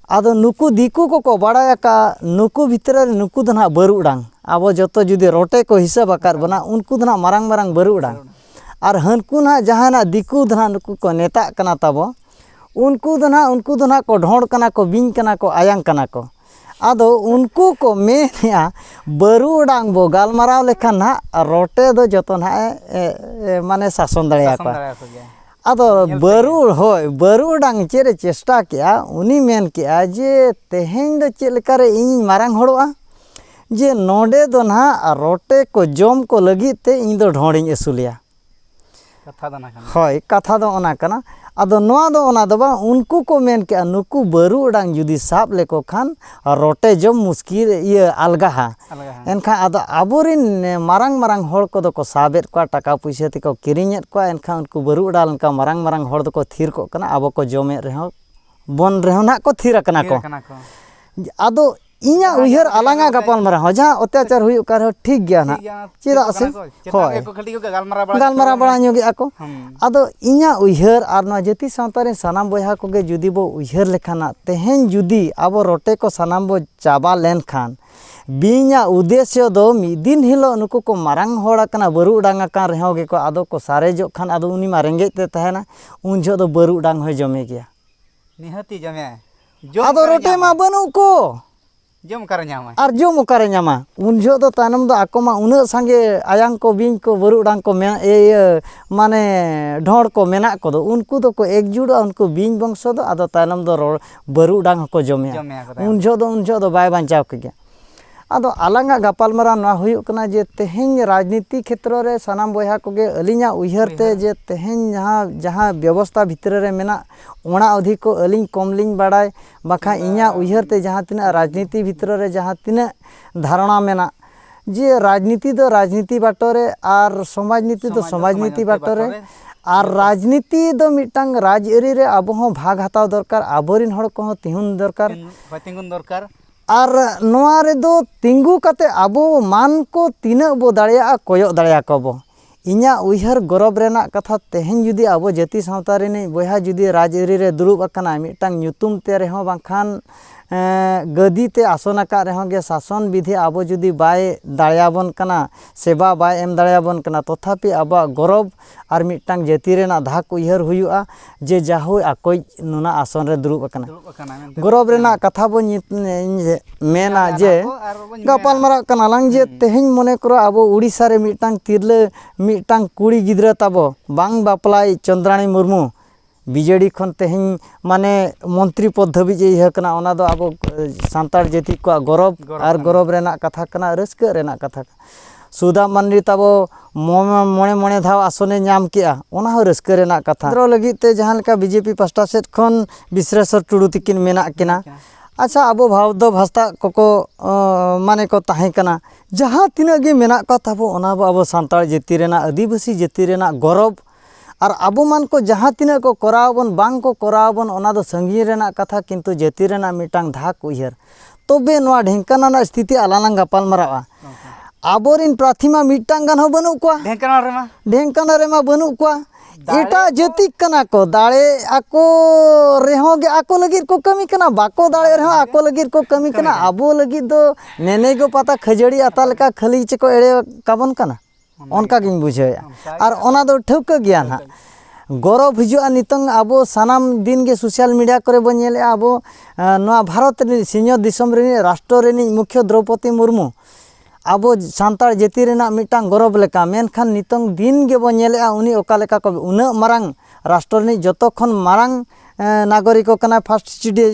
S1: ᱟᱫᱚ ᱱᱩᱠᱩ ᱫᱤᱠᱩ ᱠᱚᱠᱚ ᱵᱟᱲᱟᱭ ᱟᱠᱟᱫ ᱱᱩᱠᱩ ᱵᱷᱤᱛᱨᱤ ᱨᱮ ᱱᱩᱠᱩ ᱫᱚ ᱱᱟᱦᱟᱜ ᱵᱟᱹᱨᱩ ᱰᱟᱝ ᱟᱵᱚ ᱡᱚᱛᱚ ᱡᱩᱫᱤ ᱨᱚᱴᱮ ᱠᱚ ᱦᱤᱥᱟᱹᱵ ᱟᱠᱟᱫ ᱵᱚᱱᱟ ᱩᱱᱠᱩ ᱫᱚ ᱱᱟᱦᱟᱜ ᱢᱟᱨᱟᱝ ᱢᱟᱨᱟᱝ ᱵᱟᱹᱨᱩ ᱰᱟᱝ ᱟᱨ ᱦᱟᱹᱱᱠᱩ ᱱᱟᱦᱟᱜ ᱡᱟᱦᱟᱸᱭ ᱱᱟᱦᱟᱜ ᱫᱤᱠᱩ ᱫᱚ ᱱᱟᱦᱟᱜ ᱱᱩᱠᱩ ᱠᱚ ᱢᱮᱛᱟᱜ ᱠᱟᱱᱟ ᱛᱟᱵᱚ ᱩᱱᱠᱩ ᱫᱚ ᱱᱟᱦᱟᱜ ᱩᱱᱠᱩ ᱫᱚ ᱱᱟᱦᱟᱜ ᱠᱚ ᱰᱷᱚᱸᱰ ᱠᱟᱱᱟ ᱠᱚ ᱵᱤᱧ ᱠᱟᱱᱟ ᱠᱚ ᱟᱭᱟᱝ ᱠᱟᱱᱟ ᱠᱚ ᱟᱫᱚ ᱩᱱᱠᱩ ᱠᱚ ᱢᱮᱱᱮᱫᱼᱟ ᱵᱟᱹᱨᱩ ᱰᱟᱝ ᱵᱚ ᱜᱟᱞᱢᱟᱨᱟᱣ ᱞᱮᱠᱷᱟᱱ ᱱᱟᱦᱟᱜ ᱨᱚᱴᱮ ᱫᱚ ᱡᱚᱛᱚ ᱱᱟᱦᱟᱜ ᱮ ᱢᱟᱱᱮ ᱥᱟᱥᱚᱱ ᱫᱟᱲᱮᱭᱟᱠᱚᱣᱟ ᱟᱫᱚ ᱵᱟᱹᱨᱩ ᱦᱳᱭ ᱵᱟᱹᱨᱩᱰᱟᱝ ᱪᱮᱫ ᱮ ᱪᱮᱥᱴᱟ ᱠᱮᱜᱼᱟ ᱩᱱᱤ ᱢᱮᱱ ᱠᱮᱜᱼᱟ ᱡᱮ ᱛᱮᱦᱮᱧ ᱫᱚ ᱪᱮᱫ ᱞᱮᱠᱟᱨᱮ ᱤᱧᱤᱧ ᱢᱟᱨᱟᱝ ᱦᱚᱲᱚᱜᱼᱟ ᱡᱮ ᱱᱚᱰᱮ ᱫᱚ ᱱᱟᱦᱟᱜ ᱨᱚᱴᱮ ᱠᱚ ᱡᱚᱢ ᱠᱚ ᱞᱟᱹᱜᱤᱫ ᱛᱮ ᱤᱧ ᱫᱚ ᱰᱷᱚᱸᱲᱤᱧ ᱟᱹᱥᱩᱞᱮᱭᱟ ᱠᱟᱛᱷᱟ ᱫᱚ ᱚᱱᱟ ᱠᱟᱱᱟ ᱦᱳᱭ ᱠᱟᱛᱷᱟ ᱫᱚ ᱚᱱᱟ ᱠᱟᱱᱟ ᱟᱫᱚ ᱱᱚᱣᱟ ᱫᱚ ᱚᱱᱟ ᱫᱚ ᱵᱟᱝ ᱩᱱᱠᱩ ᱠᱚ ᱢᱮᱱ ᱠᱮᱜᱼᱟ ᱱᱩᱠᱩ ᱵᱟᱹᱨᱩᱰᱟᱝ ᱡᱩᱫᱤ ᱥᱟᱵ ᱞᱮᱠᱚ ᱠᱷᱟᱱ ᱟᱨ ᱨᱚᱴᱮ ᱡᱚᱢ ᱢᱩᱥᱠᱤᱞ ᱤᱭᱟᱹ ᱟᱞᱜᱟᱦᱟ ᱮᱱᱠᱷᱟᱱ ᱟᱫᱚ ᱟᱵᱚᱨᱮᱱ ᱢᱟᱨᱟᱝ ᱢᱟᱨᱟᱝ ᱦᱚᱲ ᱠᱚᱫᱚ ᱠᱚ ᱥᱟᱵᱮᱫ ᱠᱚᱣᱟ ᱴᱟᱠᱟ ᱯᱩᱭᱥᱟᱹ ᱛᱮᱠᱚ ᱠᱤᱨᱤᱧᱮᱫ ᱠᱚᱣᱟ ᱮᱱᱠᱷᱟᱱ ᱩᱱᱠᱩ ᱵᱟᱹᱨᱩ ᱚᱰᱟᱣ ᱞᱮᱱᱠᱷᱟᱱ ᱢᱟᱨᱟᱝ ᱢᱟᱨᱟᱝ ᱦᱚᱲ ᱫᱚᱠᱚ ᱛᱷᱤᱨ ᱠᱚᱜ ᱠᱟᱱᱟ ᱟᱵᱚ ᱠᱚ ᱡᱚᱢᱮᱫ ᱨᱮᱦᱚᱸ ᱵᱚᱱ ᱨᱮᱦᱚᱸ ᱱᱟᱦᱟᱜ ᱠᱚ ᱛᱷᱤᱨ ᱟᱠᱟᱱᱟ ᱠᱚ ᱟᱫᱚ ᱤᱧᱟᱹᱜ ᱩᱭᱦᱟᱹᱨ ᱟᱞᱟᱝᱟᱜ ᱜᱟᱯᱟᱞᱢᱟᱨᱟᱣ ᱦᱚᱸ ᱡᱟᱦᱟᱸ ᱚᱛᱛᱟᱪᱟᱨ ᱦᱩᱭᱩᱜ ᱠᱟᱱ ᱨᱮᱦᱚᱸ ᱴᱷᱤᱠ ᱜᱮᱭᱟ ᱱᱟᱦᱟᱜ ᱪᱮᱫᱟᱜ ᱥᱮ ᱦᱳᱭ ᱜᱟᱞᱢᱟᱨᱟᱣ ᱵᱟᱲᱟ ᱧᱚᱜᱮᱫ ᱟᱠᱚ ᱟᱫᱚ ᱤᱧᱟᱹᱜ ᱩᱭᱦᱟᱹᱨ ᱟᱨ ᱱᱚᱣᱟ ᱡᱟᱹᱛᱤ ᱥᱟᱶᱛᱟ ᱨᱮᱱ ᱥᱟᱱᱟᱢ ᱵᱚᱭᱦᱟ ᱠᱚᱜᱮ ᱡᱩᱫᱤ ᱵᱚ ᱩᱭᱦᱟᱹᱨ ᱞᱮᱠᱷᱟᱱ ᱦᱟᱸᱜ ᱛᱮᱦᱮᱧ ᱡᱩᱫᱤ ᱟᱵᱚ ᱨᱚᱴᱮ ᱠᱚ ᱥᱟᱱᱟᱢ ᱵᱚ ᱪᱟᱵᱟ ᱞᱮᱱᱠᱷᱟᱱ ᱵᱤᱧᱟᱜ ᱩᱫᱮᱥᱥᱚ ᱫᱚ ᱢᱤᱫ ᱫᱤᱱ ᱦᱤᱞᱳᱜ ᱱᱩᱠᱩ ᱠᱚ ᱢᱟᱨᱟᱝ ᱦᱚᱲ ᱟᱠᱟᱱᱟ ᱵᱟᱹᱨᱩ ᱰᱟᱝ ᱟᱠᱟᱱ ᱨᱮᱦᱚᱸ ᱜᱮᱠᱚ ᱟᱫᱚ ᱠᱚ ᱥᱟᱨᱮᱡᱚᱜ ᱠᱷᱟᱱ ᱟᱫᱚ ᱩᱱᱤ ᱢᱟ ᱨᱮᱸᱜᱮᱡ ᱛᱮ ᱛᱟᱦᱮᱱᱟ ᱩᱱ ᱡᱚᱦᱚᱜ ᱫᱚ ᱵᱟᱹᱨᱩ ᱰᱟᱝ ᱦᱚᱸᱭ ᱡᱚᱢᱮ ᱜᱮᱭᱟ ᱱᱤᱦᱟᱹᱛᱤ ᱡᱚᱢᱮᱭᱟᱭ ᱟᱫᱚ ᱨᱚᱴᱮ ᱢᱟ ᱵᱟᱹᱱᱩᱜ ᱠᱚ ᱡᱚᱢ ᱚᱠᱟᱨᱮ ᱧᱟᱢᱟᱭ ᱟᱨ ᱡᱚᱢ ᱚᱠᱟᱨᱮ ᱧᱟᱢᱟ ᱩᱱ ᱡᱚᱦᱚᱜ ᱫᱚ ᱛᱟᱭᱱᱚᱢ ᱫᱚ ᱟᱠᱚ ᱢᱟ ᱩᱱᱟᱹᱜ ᱥᱟᱸᱜᱮ ᱟᱭᱟᱝ ᱠᱚ ᱵᱤᱧ ᱠᱚ ᱵᱟᱹᱨᱩ ᱰᱟᱝ ᱠᱚ ᱢᱮᱱᱟᱜ ᱤᱭᱟᱹ ᱢᱟᱱᱮ ᱰᱷᱚᱸᱲ ᱠᱚ ᱢᱮᱱᱟᱜ ᱠᱚᱫᱚ ᱩᱱᱠᱩ ᱫᱚᱠᱚ ᱮᱠᱡᱩᱴᱚᱜᱼᱟ ᱩᱱᱠᱩ ᱵᱤᱧ ᱵᱚᱝᱥᱚ ᱫᱚ ᱟᱫᱚ ᱛᱟᱭᱱᱚᱢ ᱫᱚ ᱨᱚᱲ ᱵᱟᱹᱨᱩ ᱰᱟᱝ ᱦᱚᱸᱠᱚ ᱡᱚᱢᱮᱭᱟ ᱩᱱ ᱡᱚᱦᱚᱜ ᱫᱚ ᱩᱱ ᱡᱚᱦᱚᱜ ᱫᱚ ᱵᱟᱭ ᱵᱟᱧᱪᱟᱣ ᱠᱮ ᱜᱮᱭᱟ ᱟᱫᱚ ᱟᱞᱟᱝᱟᱜ ᱜᱟᱯᱟᱞᱢᱟᱨᱟᱣ ᱱᱚᱣᱟ ᱦᱩᱭᱩᱜ ᱠᱟᱱᱟ ᱡᱮ ᱛᱮᱦᱮᱧ ᱨᱟᱡᱽᱱᱤᱛᱤ ᱠᱷᱮᱛᱨᱚ ᱨᱮ ᱥᱟᱱᱟᱢ ᱵᱚᱭᱦᱟ ᱠᱚᱜᱮ ᱟᱹᱞᱤᱧᱟᱜ ᱩᱭᱦᱟᱹᱨ ᱛᱮ ᱡᱮ ᱛᱮᱦᱮᱧ ᱡᱟᱦᱟᱸ ᱡᱟᱦᱟᱸ ᱵᱮᱵᱚᱥᱛᱟ ᱵᱷᱤᱛᱨᱤ ᱨᱮ ᱢᱮᱱᱟᱜ ᱚᱱᱟ ᱚᱫᱷᱤᱠ ᱠᱚ ᱟᱹᱞᱤᱧ ᱠᱚᱢ ᱞᱤᱧ ᱵᱟᱲᱟᱭ ᱵᱟᱠᱷᱟᱱ ᱤᱧᱟᱹᱜ ᱩᱭᱦᱟᱹᱨ ᱛᱮ ᱡᱟᱦᱟᱸ ᱛᱤᱱᱟᱹᱜ ᱨᱟᱡᱽᱱᱤᱛᱤ ᱵᱷᱤᱛᱨᱤ ᱨᱮ ᱡᱟᱦᱟᱸ ᱛᱤᱱᱟᱹᱜ ᱫᱷᱟᱨᱚᱱᱟ ᱢᱮᱱᱟᱜ ᱡᱮ ᱨᱟᱡᱽᱱᱤᱛᱤ ᱫᱚ ᱨᱟᱡᱽᱱᱤᱛᱤ ᱵᱟᱴᱚ ᱨᱮ ᱟᱨ ᱥᱚᱢᱟᱡᱽ ᱱᱤᱛᱤ ᱫᱚ ᱥᱚᱢᱟᱡᱽ ᱱᱤᱛᱤ ᱵᱟᱴᱚ ᱨᱮ ᱟᱨ ᱨᱟᱡᱽᱱᱤᱛᱤ ᱫᱚ ᱢᱤᱫᱴᱟᱝ ᱨᱟᱡᱽᱟᱹᱨᱤ ᱨᱮ ᱟᱵᱚ ᱦᱚᱸ ᱵᱷᱟᱜᱽ ᱦᱟᱛᱟᱣ ᱫᱚᱨᱠᱟᱨ ᱟᱵᱚᱨᱮᱱ ᱦᱚᱲ ᱠᱚᱦᱚᱸ ᱛᱤᱸᱜᱩᱱ ᱫᱚᱨᱠᱟᱨ ᱦᱳᱭ ᱛᱤᱸᱜᱩᱱ ᱫᱚᱨᱠᱟᱨ ᱟᱨ ᱱᱚᱣᱟ ᱨᱮᱫᱚ ᱛᱤᱸᱜᱩ ᱠᱟᱛᱮᱫ ᱟᱵᱚ ᱢᱟᱱ ᱠᱚ ᱛᱤᱱᱟᱹᱜ ᱵᱚ ᱫᱟᱲᱮᱭᱟᱜᱼᱟ ᱠᱚᱭᱚᱜ ᱫᱟᱲᱮᱭᱟᱠᱚᱣᱟ ᱵᱚ ᱤᱧᱟᱜ ᱩᱭᱦᱟᱹᱨ ᱜᱚᱨᱚᱵᱽ ᱨᱮᱱᱟᱜ ᱠᱟᱛᱷᱟ ᱛᱮᱦᱮᱧ ᱡᱩᱫᱤ ᱟᱵᱚ ᱡᱟᱹᱛᱤ ᱥᱟᱶᱛᱟ ᱨᱤᱱᱤᱡ ᱵᱚᱭᱦᱟ ᱡᱩᱫᱤ ᱨᱟᱡᱽ ᱟᱹᱨᱤ ᱨᱮ ᱫᱩᱲᱩᱵ ᱟᱠᱟᱱᱟᱭ ᱢᱤᱫᱴᱟᱝ ᱧᱩᱛᱩᱢ ᱛᱮ ᱨᱮᱦᱚᱸ ᱵᱟᱝᱠᱷᱟᱱ ᱜᱟᱹᱫᱤ ᱛᱮ ᱟᱥᱚᱱ ᱟᱠᱟᱫ ᱨᱮᱦᱚᱸ ᱜᱮ ᱥᱟᱥᱚᱱ ᱵᱤᱫᱷᱤ ᱟᱵᱚ ᱡᱩᱫᱤ ᱵᱟᱭ ᱫᱟᱲᱮᱭᱟᱵᱚᱱ ᱠᱟᱱᱟ ᱥᱮᱵᱟ ᱵᱟᱭ ᱮᱢ ᱫᱟᱲᱮᱭᱟᱵᱚᱱ ᱠᱟᱱᱟ ᱛᱚᱛᱷᱟᱯᱤ ᱟᱵᱚᱣᱟᱜ ᱜᱚᱨᱚᱵᱽ ᱟᱨ ᱢᱤᱫᱴᱟᱝ ᱡᱟᱹᱛᱤ ᱨᱮᱱᱟᱜ ᱫᱷᱟᱠ ᱩᱭᱦᱟᱹᱨ ᱦᱩᱭᱩᱜᱼᱟ ᱡᱮ ᱡᱟᱦᱳᱭ ᱟᱠᱚᱭ ᱱᱚᱱᱟ ᱟᱥᱚᱱ ᱨᱮ ᱫᱩᱲᱩᱵ ᱟᱠᱟᱱᱟ ᱜᱚᱨᱚᱵ ᱨᱮᱱᱟᱜ ᱠᱟᱛᱷᱟ ᱵᱚ ᱢᱮᱱᱟ ᱡᱮ ᱜᱟᱯᱟᱞ ᱢᱟᱨᱟᱜ ᱠᱟᱱᱟ ᱞᱟᱝ ᱡᱮ ᱛᱮᱦᱮᱧ ᱢᱚᱱᱮ ᱠᱚᱨᱚ ᱟᱵᱚ ᱩᱲᱤᱥᱥᱟ ᱨᱮ ᱢᱤᱫᱴᱟᱝ ᱛᱤᱨᱞᱟᱹ ᱢᱤᱫᱴᱟᱝ ᱠᱩᱲᱤ ᱜᱤᱫᱽᱨᱟᱹ ᱛᱟᱵᱚ ᱵᱟᱝ ᱵᱟᱯᱞᱟᱭ ᱪᱚᱱᱫᱨᱟᱱᱤ ᱢᱩᱨᱢᱩ ᱵᱤᱡᱮᱰᱤ ᱠᱷᱚᱱ ᱛᱮᱦᱮᱧ ᱢᱟᱱᱮ ᱢᱚᱱᱛᱨᱤ ᱯᱚᱫᱽ ᱫᱷᱟᱹᱵᱤᱡ ᱤᱭᱟᱹ ᱠᱟᱱᱟ ᱚᱱᱟ ᱫᱚ ᱟᱵᱚ ᱥᱟᱱᱛᱟᱲ ᱡᱟᱹᱛᱤ ᱠᱚᱣᱟᱜ ᱜᱚᱨᱚᱵ ᱟᱨ ᱜᱚᱨᱚᱵ ᱨᱮᱱᱟᱜ ᱠᱟᱛᱷᱟ ᱠᱟᱱᱟ ᱨᱟᱹᱥᱠᱟᱹᱜ ᱨᱮᱱᱟᱜ ᱠᱟᱛᱷᱟ ᱠᱟᱱᱟ ᱥᱩᱫᱟ ᱢᱟᱱᱰᱤ ᱛᱟᱵᱚ ᱢᱚᱬᱮ ᱢᱚᱬᱮ ᱫᱷᱟᱣ ᱟᱥᱚᱱᱮ ᱧᱟᱢ ᱠᱮᱜᱼᱟ ᱚᱱᱟ ᱦᱚᱸ ᱨᱟᱹᱥᱠᱟᱹ ᱨᱮᱱᱟᱜ ᱠᱟᱛᱷᱟ ᱠᱮᱱᱫᱨᱚ ᱞᱟᱹᱜᱤᱫ ᱛᱮ ᱡᱟᱦᱟᱸ ᱞᱮᱠᱟ ᱵᱤᱡᱮᱯᱤ ᱯᱟᱥᱴᱟ ᱥᱮᱫ ᱠᱷᱚᱱ ᱵᱤᱥᱨᱮᱥᱚᱨ ᱴᱩᱰᱩ ᱛᱤᱠᱤᱱ ᱢᱮᱱᱟᱜ ᱠᱤᱱᱟ ᱟᱪᱪᱷᱟ ᱟᱵᱚ ᱵᱷᱟᱣᱫᱚ ᱵᱷᱟᱥᱛᱟ ᱠᱚᱠᱚ ᱢᱟᱱᱮ ᱠᱚ ᱛᱟᱦᱮᱸ ᱠᱟᱱᱟ ᱡᱟᱦᱟᱸ ᱛᱤᱱᱟᱹᱜ ᱜᱮ ᱢᱮᱱᱟᱜ ᱠᱚ ᱛᱟᱵᱚ ᱚᱱᱟ ᱟᱵᱚ ᱥᱟᱱᱛᱟᱲ ᱡᱟᱹᱛᱤ ᱨᱮᱱᱟᱜ ᱟᱹᱫᱤᱵᱟᱹᱥᱤ ᱡᱟᱹᱛᱤ ᱨᱮᱱᱟᱜ ᱜᱚᱨᱚᱵᱽ ᱟᱨ ᱟᱵᱚ ᱢᱟᱱ ᱠᱚ ᱡᱟᱦᱟᱸ ᱛᱤᱱᱟᱹᱜ ᱠᱚ ᱠᱚᱨᱟᱣ ᱟᱵᱚᱱ ᱵᱟᱝ ᱠᱚ ᱠᱚᱨᱟᱣ ᱟᱵᱚᱱ ᱚᱱᱟ ᱫᱚ ᱥᱟᱺᱜᱤᱧ ᱨᱮᱱᱟᱜ ᱠᱟᱛᱷᱟ ᱠᱤᱱᱛᱩ ᱡᱟᱹᱛᱤ ᱨᱮᱱᱟᱜ ᱢᱤᱫᱴᱟᱝ ᱫᱷᱟᱠ ᱩᱭᱦᱟᱹᱨ ᱛᱚᱵᱮ ᱱᱚᱣᱟ ᱰᱷᱮᱝᱠᱟᱱᱟᱞ ᱨᱮᱱᱟᱜ ᱥᱛᱷᱤᱛᱤ ᱟᱞᱟᱝ ᱞᱟᱝ ᱜᱟᱯᱟᱞ ᱢᱟᱨᱟᱣᱟ ᱟᱵᱚᱨᱤᱱ ᱯᱨᱟᱨᱛᱷᱤ ᱢᱟ ᱢᱤᱫᱴᱟᱝ ᱜᱟᱱ ᱦᱚᱸ ᱵᱟᱹᱱᱩᱜ ᱠᱚᱣᱟ ᱰᱷᱮᱝᱠᱟᱱᱟᱞ ᱨᱮᱢᱟ ᱰᱷᱮᱝᱠᱟᱱᱟᱞ ᱨᱮᱢᱟ ᱵᱟᱹᱱᱩᱜ ᱠᱚᱣᱟ ᱮᱴᱟᱜ ᱡᱟᱹᱛᱤ ᱠᱟᱱᱟ ᱠᱚ ᱫᱟᱲᱮ ᱟᱠᱚ ᱨᱮᱦᱚᱸ ᱜᱮ ᱟᱠᱚ ᱞᱟᱹᱜᱤᱫ ᱠᱚ ᱠᱟᱹᱢᱤ ᱠᱟᱱᱟ ᱵᱟᱠᱚ ᱫᱟᱲᱮ ᱨᱮᱦᱚᱸ ᱟᱠᱚ ᱞᱟᱹᱜᱤᱫ ᱠᱚ ᱠᱟᱹᱢᱤ ᱠᱟᱱᱟ ᱟᱵᱚ ᱞᱟᱹᱜᱤᱫ ᱫᱚ ᱱᱮᱱᱮᱜᱚ ᱯᱟᱛᱟ ᱠᱷᱟᱹᱡᱟᱹᱲᱤ ᱟᱛᱟ ᱞᱮᱠᱟ ᱠᱷᱟᱹᱞᱤ ᱪᱮᱠᱚ ᱮᱲᱮ ᱠᱟᱵᱚᱱ ᱠᱟᱱᱟ ᱚᱱᱠᱟ ᱜᱤᱧ ᱵᱩᱡᱷᱟᱹᱣᱮᱫᱼᱟ ᱟᱨ ᱚᱱᱟ ᱫᱚ ᱴᱷᱟᱹᱣᱠᱟᱹ ᱜᱮᱭᱟ ᱱᱟᱦᱟᱜ ᱜᱚᱨᱚᱵᱽ ᱦᱤᱡᱩᱜᱼᱟ ᱱᱤᱛᱚᱝ ᱟᱵᱚ ᱥᱟᱱᱟᱢ ᱫᱤᱱ ᱜᱮ ᱥᱳᱥᱟᱞ ᱢᱤᱰᱤᱭᱟ ᱠᱚᱨᱮ ᱵᱚᱱ ᱧᱮᱞᱮᱫᱼᱟ ᱟᱵᱚ ᱱᱚᱣᱟ ᱵᱷᱟᱨᱚᱛ ᱨᱤᱱᱤᱡ ᱥᱤᱧᱚᱛ ᱫᱤᱥᱚᱢ ᱨᱤᱱᱤᱡ ᱨᱟᱥᱴᱨᱚ ᱨᱤᱱᱤᱡ ᱢᱩᱠᱷᱭᱟᱹ ᱫᱨᱳᱣᱯᱚᱫᱤ ᱢᱩᱨᱢᱩ ᱟᱵᱚ ᱥᱟᱱᱛᱟᱲ ᱡᱟᱹᱛᱤ ᱨᱮᱱᱟᱜ ᱢᱤᱫᱴᱟᱝ ᱜᱚᱨᱚᱵᱽ ᱞᱮᱠᱟ ᱢᱮᱱᱠᱷᱟᱱ ᱱᱤᱛᱚᱝ ᱫᱤᱱ ᱜᱮᱵᱚᱱ ᱧᱮᱞᱮᱫᱼᱟ ᱩᱱᱤ ᱚᱠᱟ ᱞᱮᱠᱟ ᱠᱚ ᱩᱱᱟᱹᱜ ᱢᱟᱨᱟᱝ ᱨᱟᱥᱴᱨᱚ ᱨᱤᱱᱤᱡ ᱡᱚᱛᱚ ᱠᱷᱚᱱ ᱢᱟᱨᱟᱝ ᱱᱟᱜᱚᱨᱤᱠᱚ ᱠᱟᱱᱟᱭ ᱯᱷᱟᱥᱴ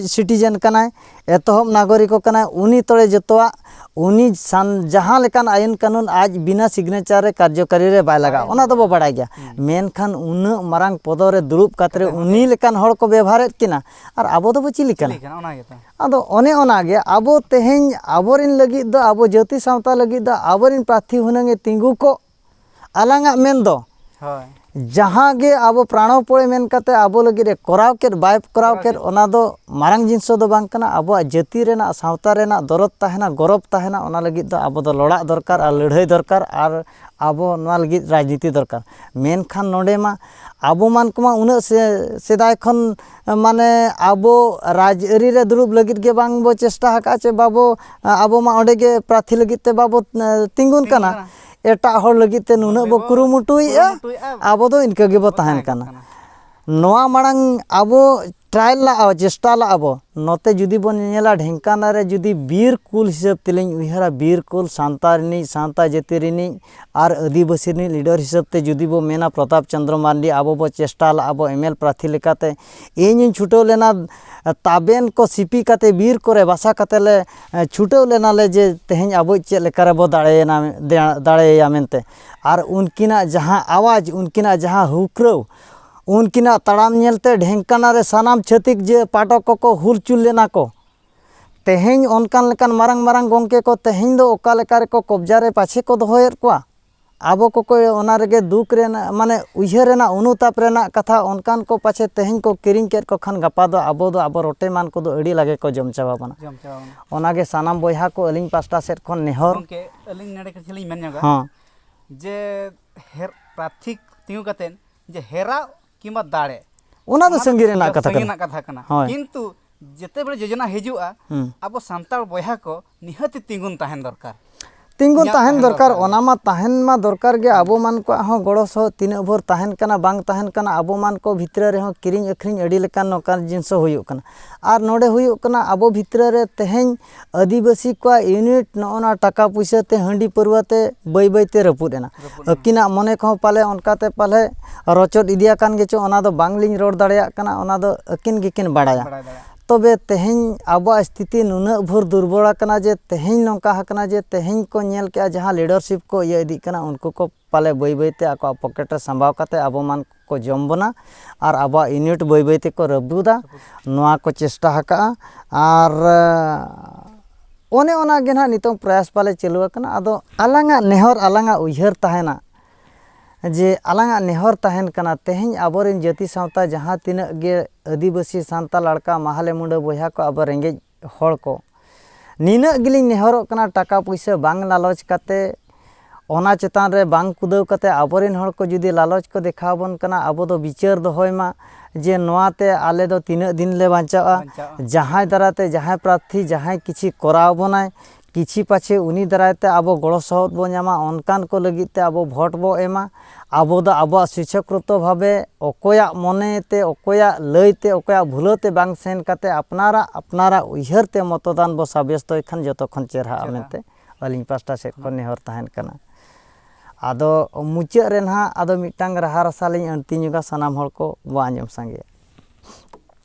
S1: ᱥᱤᱴᱤᱡᱮᱱ ᱠᱟᱱᱟᱭ ᱮᱛᱚᱦᱚᱵ ᱱᱟᱜᱚᱨᱤᱠᱚ ᱠᱟᱱᱟᱭ ᱩᱱᱤ ᱛᱚᱲᱮ ᱡᱚᱛᱚᱣᱟᱜ ᱩᱱᱤ ᱥᱟᱱ ᱡᱟᱦᱟᱸ ᱞᱮᱠᱟᱱ ᱟᱭᱤᱱ ᱠᱟᱹᱱᱩᱱ ᱟᱡ ᱵᱤᱱᱟ ᱥᱤᱜᱽᱱᱮᱪᱟᱨ ᱨᱮ ᱠᱟᱨᱡᱚᱠᱟᱨᱤ ᱨᱮ ᱵᱟᱭ ᱞᱟᱜᱟᱜᱼᱟ ᱚᱱᱟ ᱫᱚᱵᱚ ᱵᱟᱲᱟᱭ ᱜᱮᱭᱟ ᱢᱮᱱᱠᱷᱟᱱ ᱩᱱᱟᱹᱜ ᱢᱟᱨᱟᱝ ᱯᱚᱫᱚ ᱨᱮ ᱫᱩᱲᱩᱵ ᱠᱟᱛᱮ ᱩᱱᱤ ᱞᱮᱠᱟᱱ ᱦᱚᱲ ᱠᱚ ᱵᱮᱵᱷᱟᱨᱮᱫ ᱠᱤᱱᱟ ᱟᱨ ᱟᱵᱚ ᱫᱚᱵᱚ ᱪᱤᱞᱤ ᱠᱟᱱᱟ ᱟᱫᱚ ᱚᱱᱮ ᱚᱱᱟ ᱜᱮ ᱟᱵᱚ ᱛᱮᱦᱮᱧ ᱟᱵᱚᱨᱮᱱ ᱞᱟᱹᱜᱤᱫ ᱫᱚ ᱟᱵᱚ ᱡᱟᱹᱛᱤ ᱥᱟᱶᱛᱟ ᱞᱟᱹᱜᱤᱫ ᱫᱚ ᱟᱵᱚᱨᱮᱱ ᱯᱨᱟᱨᱛᱷᱤ ᱦᱩᱱᱟᱹᱝ ᱮ ᱛᱤᱸᱜᱩ ᱠᱚᱜ ᱟᱞᱟᱝᱟᱜ ᱢᱮᱱ ᱫᱚ ᱦᱳᱭ ᱡᱟᱦᱟᱸ ᱜᱮ ᱟᱵᱚ ᱯᱨᱟᱬᱚᱯᱚᱭ ᱢᱮᱱ ᱠᱟᱛᱮ ᱟᱵᱚ ᱞᱟᱹᱜᱤᱫ ᱮ ᱠᱚᱨᱟᱣ ᱠᱮᱫ ᱵᱟᱭ ᱠᱚᱨᱟᱣ ᱠᱮᱫ ᱚᱱᱟ ᱫᱚ ᱢᱟᱨᱟᱝ ᱡᱤᱱᱤᱥ ᱫᱚ ᱵᱟᱝ ᱠᱟᱱᱟ ᱟᱵᱚᱣᱟᱜ ᱡᱟᱹᱛᱤ ᱨᱮᱱᱟᱜ ᱥᱟᱶᱛᱟ ᱨᱮᱱᱟᱜ ᱫᱚᱨᱚᱫ ᱛᱟᱦᱮᱱᱟ ᱜᱚᱨᱚᱵᱽ ᱛᱟᱦᱮᱱᱟ ᱚᱱᱟ ᱞᱟᱹᱜᱤᱫ ᱫᱚ ᱟᱵᱚ ᱫᱚ ᱞᱚᱲᱟᱜ ᱫᱚᱨᱠᱟᱨ ᱟᱨ ᱞᱟᱹᱲᱦᱟᱹᱭ ᱫᱚᱨᱠᱟᱨ ᱟᱨ ᱟᱵᱚ ᱱᱚᱣᱟ ᱞᱟᱹᱜᱤᱫ ᱨᱟᱡᱽᱱᱤᱛᱤ ᱫᱚᱨᱠᱟᱨ ᱢᱮᱱᱠᱷᱟᱱ ᱱᱚᱰᱮ ᱢᱟ ᱟᱵᱚ ᱢᱟᱱ ᱠᱚᱢᱟ ᱩᱱᱟᱹᱜ ᱥᱮᱫᱟᱭ ᱠᱷᱚᱱ ᱢᱟᱱᱮ ᱟᱵᱚ ᱨᱟᱡᱽ ᱟᱹᱨᱤ ᱨᱮ ᱫᱩᱲᱩᱵ ᱞᱟᱹᱜᱤᱫ ᱜᱮ ᱵᱟᱝ ᱵᱚ ᱪᱮᱥᱴᱟ ᱟᱠᱟᱫᱼᱟ ᱪᱮ ᱵᱟᱵᱚ ᱟᱵᱚ ᱢᱟ ᱚᱸᱰᱮ ᱜᱮ ᱯᱨᱟᱨᱛᱷᱤ ᱞᱟᱹᱜᱤᱫ ᱛᱮ ᱵᱟᱵᱚ ᱛᱤᱸᱜᱩᱱ ᱠᱟᱱᱟ ᱮᱴᱟᱜ ᱦᱚᱲ ᱞᱟᱹᱜᱤᱫ ᱛᱮ ᱱᱩᱱᱟᱹᱜ ᱵᱚ ᱠᱩᱨᱩᱢᱩᱴᱩᱭᱮᱫᱼᱟ ᱟᱵᱚ ᱫᱚ ᱤᱱᱠᱟᱹ ᱜᱮᱵᱚ ᱛᱟᱦᱮᱱ ᱠᱟᱱᱟ ᱱᱚᱣᱟ ᱢᱟᱲᱟᱝ ᱟᱵᱚ ᱴᱨᱟᱭ ᱞᱟᱜᱼᱟ ᱪᱮᱥᱴᱟ ᱞᱟᱜᱼᱟ ᱵᱚ ᱱᱚᱛᱮ ᱡᱩᱫᱤ ᱵᱚᱱ ᱧᱮᱧᱮᱞᱟ ᱰᱷᱮᱝᱠᱟᱱᱟᱞ ᱨᱮ ᱡᱩᱫᱤ ᱵᱤᱨ ᱠᱩᱞ ᱦᱤᱥᱟᱹᱵ ᱛᱮᱞᱤᱧ ᱩᱭᱦᱟᱹᱨᱟ ᱵᱤᱨ ᱠᱩᱞ ᱥᱟᱱᱛᱟᱲ ᱨᱤᱱᱤᱡ ᱥᱟᱱᱛᱟᱲ ᱡᱟᱹᱛᱤ ᱨᱤᱱᱤᱡ ᱟᱨ ᱟᱹᱫᱤᱵᱟᱹᱥᱤ ᱨᱤᱱᱤᱡ ᱞᱤᱰᱟᱨ ᱦᱤᱥᱟᱹᱵ ᱛᱮ ᱡᱩᱫᱤ ᱵᱚ ᱢᱮᱱᱟ ᱯᱨᱚᱛᱟᱯ ᱪᱚᱱᱫᱨᱚ ᱢᱟᱨᱰᱤ ᱟᱵᱚ ᱵᱚ ᱪᱮᱥᱴᱟ ᱞᱟᱜᱼᱟ ᱵᱚ ᱮᱢᱮᱞ ᱯᱨᱟᱨᱛᱷᱤ ᱞᱮᱠᱟᱛᱮ ᱤᱧ ᱦᱚᱧ ᱪᱷᱩᱴᱟᱹᱣ ᱞᱮᱱᱟ ᱛᱟᱵᱮᱱ ᱠᱚ ᱥᱤᱯᱤ ᱠᱟᱛᱮ ᱵᱤᱨ ᱠᱚᱨᱮ ᱵᱟᱥᱟ ᱠᱟᱛᱮ ᱞᱮ ᱪᱷᱩᱴᱟᱹᱣ ᱞᱮᱱᱟ ᱞᱮ ᱡᱮ ᱛᱮᱦᱮᱧ ᱟᱵᱚᱭᱤᱡ ᱪᱮᱫ ᱞᱮᱠᱟ ᱨᱮᱵᱚ ᱫᱟᱲᱮᱭᱮᱱᱟ ᱫᱟᱲᱮᱭᱟᱭᱟ ᱢᱮᱱᱛᱮ ᱟᱨ ᱩᱱᱠᱤᱱᱟᱜ ᱡᱟᱦᱟᱸ ᱟᱣᱟᱡᱽ ᱩᱱᱠᱤᱱᱟᱜ ᱡᱟᱦᱟᱸ ᱦᱩᱠᱨᱟᱹᱣ ᱩᱱᱠᱤᱱᱟᱜ ᱛᱟᱲᱟᱢ ᱧᱮᱞᱛᱮ ᱰᱷᱮᱝᱠᱟᱱᱟ ᱨᱮ ᱥᱟᱱᱟᱢ ᱪᱷᱟᱹᱛᱤᱠ ᱡᱮ ᱯᱟᱴᱚᱠ ᱠᱚᱠᱚ ᱦᱩᱞᱪᱩᱞ ᱞᱮᱱᱟ ᱠᱚ ᱛᱮᱦᱮᱧ ᱚᱱᱠᱟᱱ ᱞᱮᱠᱟᱱ ᱢᱟᱨᱟᱝ ᱢᱟᱨᱟᱝ ᱜᱚᱢᱠᱮ ᱠᱚ ᱛᱮᱦᱮᱧ ᱫᱚ ᱚᱠᱟ ᱞᱮᱠᱟ ᱨᱮᱠᱚ ᱠᱚᱵᱽᱡᱟ ᱨᱮ ᱯᱟᱪᱷᱮ ᱠᱚ ᱫᱚᱦᱚᱭᱮᱫ ᱠᱚᱣᱟ ᱟᱵᱚ ᱠᱚᱠᱚ ᱚᱱᱟ ᱨᱮᱜᱮ ᱫᱩᱠ ᱨᱮᱱᱟᱜ ᱢᱟᱱᱮ ᱩᱭᱦᱟᱹᱨ ᱨᱮᱱᱟᱜ ᱚᱱᱩᱛᱟᱯ ᱨᱮᱱᱟᱜ ᱠᱟᱛᱷᱟ ᱚᱱᱠᱟᱱ ᱠᱚ ᱯᱟᱪᱷᱮ ᱛᱮᱦᱮᱧ ᱠᱚ ᱠᱤᱨᱤᱧ ᱠᱮᱫ ᱠᱚ ᱠᱷᱟᱱ ᱜᱟᱯᱟ ᱫᱚ ᱟᱵᱚ ᱫᱚ ᱟᱵᱚ ᱨᱚᱴᱮ ᱮᱢᱟᱱ ᱠᱚᱫᱚ ᱟᱹᱰᱤ ᱞᱟᱜᱮ ᱠᱚ ᱡᱚᱢ ᱪᱟᱵᱟ ᱵᱚᱱᱟ ᱚᱱᱟ ᱜᱮ ᱥᱟᱱᱟᱢ ᱵᱚᱭᱦᱟ ᱠᱚ ᱟᱹᱞᱤᱧ ᱯᱟᱥᱴᱟ ᱥᱮᱫ ᱠᱷᱚᱱ ᱱᱮᱦᱚᱨ ᱜᱚᱢᱠᱮ ᱟᱹᱞᱤᱧ ᱱᱚᱰᱮ ᱠᱤᱪᱷᱩ ᱞᱤᱧ ᱢᱮᱱ ᱧᱚᱜᱟ ᱦᱚᱸ ᱡᱮ ᱦᱮᱨ ᱯᱨᱟᱨᱛᱷᱤ ᱛᱤᱸᱜᱩ ᱠᱟᱛᱮᱫ ᱡᱮ ᱦᱮᱨᱟᱣ ᱠᱤᱢᱵᱟ ᱫᱟᱲᱮ ᱚᱱᱟ ᱫᱚ ᱥᱟᱺᱜᱤᱧ ᱨᱮᱱᱟᱜ ᱠᱟᱛᱷᱟ ᱠᱟᱱᱟ ᱨᱮᱱᱟᱜ ᱠᱟᱛᱷᱟ ᱠᱟᱱᱟ ᱠᱤᱱᱛᱩ ᱡᱮᱛᱮ ᱵᱮᱲᱮ ᱡᱳᱡᱚᱱᱟ ᱦᱤᱡᱩᱜᱼᱟ ᱟᱵᱚ ᱥᱟᱱᱛᱟᱲ ᱵᱚᱭᱦᱟ ᱠᱚ ᱱᱤᱦᱟᱹᱛᱤ ᱛᱤᱸᱜᱩᱱ ᱛᱟᱦᱮᱱ ᱫᱚᱨᱠᱟর ᱛᱤᱸᱜᱩ ᱛᱟᱦᱮᱱ ᱫᱚᱨᱠᱟᱨ ᱚᱱᱟ ᱢᱟ ᱛᱟᱦᱮᱱ ᱢᱟ ᱫᱚᱨᱠᱟᱨ ᱜᱮ ᱟᱵᱚ ᱢᱟᱱ ᱠᱚᱣᱟᱜ ᱦᱚᱸ ᱜᱚᱲᱚ ᱥᱚᱦᱚᱫ ᱛᱤᱱᱟᱹᱜ ᱵᱷᱳᱨ ᱛᱟᱦᱮᱱ ᱠᱟᱱᱟ ᱵᱟᱝ ᱛᱟᱦᱮᱱ ᱠᱟᱱᱟ ᱟᱵᱚ ᱢᱟᱱ ᱠᱚ ᱵᱷᱤᱛᱨᱤ ᱨᱮᱦᱚᱸ ᱠᱤᱨᱤᱧ ᱟᱹᱠᱷᱨᱤᱧ ᱟᱹᱰᱤ ᱞᱮᱠᱟᱱ ᱱᱚᱝᱠᱟᱱ ᱡᱤᱱᱤᱥ ᱦᱚᱸ ᱦᱩᱭᱩᱜ ᱠᱟᱱᱟ ᱟᱨ ᱱᱚᱰᱮ ᱦᱩᱭᱩᱜ ᱠᱟᱱᱟ ᱟᱵᱚ ᱵᱷᱤᱛᱨᱤ ᱨᱮ ᱛᱮᱦᱮᱧ ᱟᱹᱫᱤᱵᱟᱹᱥᱤ ᱠᱚᱣᱟᱜ ᱤᱭᱩᱱᱤᱴ ᱱᱚᱜᱼᱚ ᱱᱚᱣᱟ ᱴᱟᱠᱟ ᱯᱩᱭᱥᱟᱹ ᱛᱮ ᱦᱟᱺᱰᱤ ᱯᱟᱹᱨᱣᱟᱹ ᱛᱮ ᱵᱟᱹᱭ ᱵᱟᱹᱭ ᱛᱮ ᱨᱟᱹᱯᱩᱫ ᱮᱱᱟ ᱟᱹᱠᱤᱱᱟᱜ ᱢᱚᱱᱮ ᱠᱚᱦᱚᱸ ᱯᱟᱞᱮ ᱚᱱᱠᱟ ᱛᱮ ᱯᱟᱞᱮ ᱨᱚᱪᱚᱫ ᱤᱫᱤ ᱟᱠᱟᱱ ᱜᱮᱪᱚᱝ ᱚᱱᱟ ᱫᱚ ᱵᱟᱝ ᱞᱤᱧ ᱨᱚᱲ ᱫᱟᱲᱮᱭᱟᱜ ᱠᱟᱱᱟ ᱚᱱᱟ ᱫᱚ ᱟᱹᱠᱤᱱ ᱜᱮᱠᱤᱱ ᱵᱟᱲᱟᱭᱟ ᱛᱚᱵᱮ ᱛᱮᱦᱮᱧ ᱟᱵᱚᱣᱟᱜ ᱥᱛᱷᱤᱛᱤ ᱱᱩᱱᱟᱹᱜ ᱵᱷᱳᱨ ᱫᱩᱨᱵᱚᱞ ᱟᱠᱟᱱᱟ ᱡᱮ ᱛᱮᱦᱮᱧ ᱱᱚᱝᱠᱟ ᱟᱠᱟᱱᱟ ᱡᱮ ᱛᱮᱦᱮᱧ ᱠᱚ ᱧᱮᱞ ᱠᱮᱜᱼᱟ ᱡᱟᱦᱟᱸ ᱞᱤᱰᱟᱨᱥᱤᱯ ᱠᱚ ᱤᱭᱟᱹ ᱤᱫᱤᱜ ᱠᱟᱱᱟ ᱩᱱᱠᱩ ᱠᱚ ᱯᱟᱞᱮ ᱵᱟᱹᱭ ᱵᱟᱹᱭ ᱛᱮ ᱟᱠᱚᱣᱟᱜ ᱯᱚᱠᱮᱴ ᱨᱮ ᱥᱟᱢᱵᱟᱣ ᱠᱟᱛᱮᱫ ᱟᱵᱚ ᱢᱟᱱ ᱠᱚ ᱡᱚᱢ ᱵᱚᱱᱟ ᱟᱨ ᱟᱵᱚᱣᱟᱜ ᱤᱭᱩᱱᱤᱴ ᱵᱟᱹᱭ ᱵᱟᱹᱭ ᱛᱮᱠᱚ ᱨᱟᱹᱯᱩᱫᱟ ᱱᱚᱣᱟ ᱠᱚ ᱪᱮᱥᱴᱟ ᱟᱠᱟᱫᱼᱟ ᱟᱨ ᱚᱱᱮ ᱚᱱᱟ ᱜᱮ ᱱᱟᱦᱟᱜ ᱱᱤᱛᱚᱝ ᱯᱨᱚᱭᱟᱥ ᱯᱟᱞᱮ ᱪᱟᱹᱞᱩ ᱟᱠᱟᱱᱟ ᱟᱫᱚ ᱟᱞᱟᱝᱟᱜ ᱱᱮᱦᱚᱨ ᱟᱞᱟᱝᱟᱜ ᱩᱭᱦᱟᱹᱨ ᱛᱟᱦᱮᱱᱟ ᱡᱮ ᱟᱞᱟᱝᱟᱜ ᱱᱮᱦᱚᱨ ᱛᱟᱦᱮᱱ ᱠᱟᱱᱟ ᱛᱮᱦᱮᱧ ᱟᱵᱚ ᱨᱮᱱ ᱡᱟᱹᱛᱤ ᱥᱟᱶᱛᱟ ᱡᱟᱦᱟᱸ ᱛᱤᱱᱟᱹᱜ ᱜᱮ ᱟᱹᱫᱤᱵᱟᱹᱥᱤ ᱥᱟᱱᱛᱟᱲ ᱞᱟᱲᱠᱟ ᱢᱟᱦᱞᱮ ᱢᱩᱰᱟᱹ ᱵᱚᱭᱦᱟ ᱠᱚ ᱟᱵᱚ ᱨᱮᱸᱜᱮᱡ ᱦᱚᱲ ᱠᱚ ᱱᱤᱱᱟᱹᱜ ᱜᱮᱞᱤᱧ ᱱᱮᱦᱚᱨᱚᱜ ᱠᱟᱱᱟ ᱴᱟᱠᱟ ᱯᱩᱭᱥᱟᱹ ᱵᱟᱝ ᱞᱟᱞᱚᱪ ᱠᱟᱛᱮ ᱚᱱᱟ ᱪᱮᱛᱟᱱ ᱨᱮ ᱵᱟᱝ ᱠᱩᱫᱟᱹᱣ ᱠᱟᱛᱮ ᱟᱵᱚ ᱨᱮᱱ ᱦᱚᱲ ᱠᱚ ᱡᱩᱫᱤ ᱞᱟᱞᱚᱪ ᱠᱚ ᱫᱮᱠᱷᱟᱣ ᱵᱚᱱ ᱠᱟᱱᱟ ᱟᱵᱚ ᱫᱚ ᱵᱤᱪᱟᱹᱨ ᱫᱚᱦᱚᱭ ᱢᱟ ᱡᱮ ᱱᱚᱣᱟ ᱛᱮ ᱟᱞᱮ ᱫᱚ ᱛᱤᱱᱟᱹᱜ ᱫᱤᱱ ᱞᱮ ᱵᱟᱧᱪᱟᱜᱼᱟ ᱡᱟᱦᱟᱸᱭ ᱫᱟᱨᱟᱭ ᱛᱮ ᱡᱟᱦᱟᱸᱭ ᱯᱨᱟᱨᱛᱷᱤ ᱡᱟᱦᱟᱸᱭ ᱠᱤᱪᱷᱩ ᱠᱚᱨᱟᱣ ᱵᱚᱱᱟᱭ ᱠᱤᱪᱷᱤ ᱯᱟᱪᱷᱮ ᱩᱱᱤ ᱫᱟᱨᱟᱭ ᱛᱮ ᱟᱵᱚ ᱜᱚᱲᱚ ᱥᱚᱦᱚᱫ ᱵᱚ ᱧᱟᱢᱟ ᱚᱱᱠᱟᱱ ᱠᱚ ᱞᱟᱹᱜᱤᱫ ᱛᱮ ᱟᱵᱚ ᱵᱷᱳᱴ ᱵᱚ ᱮᱢᱟ ᱟᱵᱚ ᱫᱚ ᱟᱵᱚᱣᱟᱜ ᱥᱤᱪᱷᱚᱠᱨᱚᱛᱚ ᱵᱷᱟᱵᱮ ᱚᱠᱚᱭᱟᱜ ᱢᱚᱱᱮ ᱛᱮ ᱚᱠᱚᱭᱟᱜ ᱞᱟᱹᱭ ᱛᱮ ᱚᱠᱚᱭᱟᱜ ᱵᱷᱩᱞᱟᱹᱣ ᱛᱮ ᱵᱟᱝ ᱥᱮᱱ ᱠᱟᱛᱮ ᱟᱯᱱᱟᱨᱟᱜ ᱟᱯᱱᱟᱨᱟᱜ ᱩᱭᱦᱟᱹᱨ ᱛᱮ ᱢᱚᱛᱚᱫᱟᱱ ᱵᱚ ᱥᱟᱵᱮᱥᱛᱚᱭ ᱠᱷᱟᱱ ᱡᱚᱛᱚ ᱠᱷᱚᱱ ᱪᱮᱨᱦᱟᱜᱼᱟ ᱢᱮᱱᱛᱮ ᱟᱹᱞᱤᱧ ᱯᱟᱥᱴᱟ ᱥᱮᱫ ᱠᱷᱚᱱ ᱱᱮᱦᱚᱨ ᱛᱟᱦᱮᱱ ᱠᱟᱱᱟ ᱟᱫᱚ ᱢᱩᱪᱟᱹᱫ ᱨᱮ ᱱᱟᱦᱟᱜ ᱟᱫᱚ ᱢᱤᱫᱴᱟᱝ ᱨᱟᱦᱟ ᱨᱟᱥᱟ ᱞᱤᱧ ᱟᱹᱬᱛᱤ ᱧᱚᱜᱟ ᱥᱟᱱᱟᱢ ᱦᱚᱲ ᱠᱚ ᱵᱚ ᱟᱸᱡᱚᱢ ᱥᱟᱸᱜᱮᱭᱟ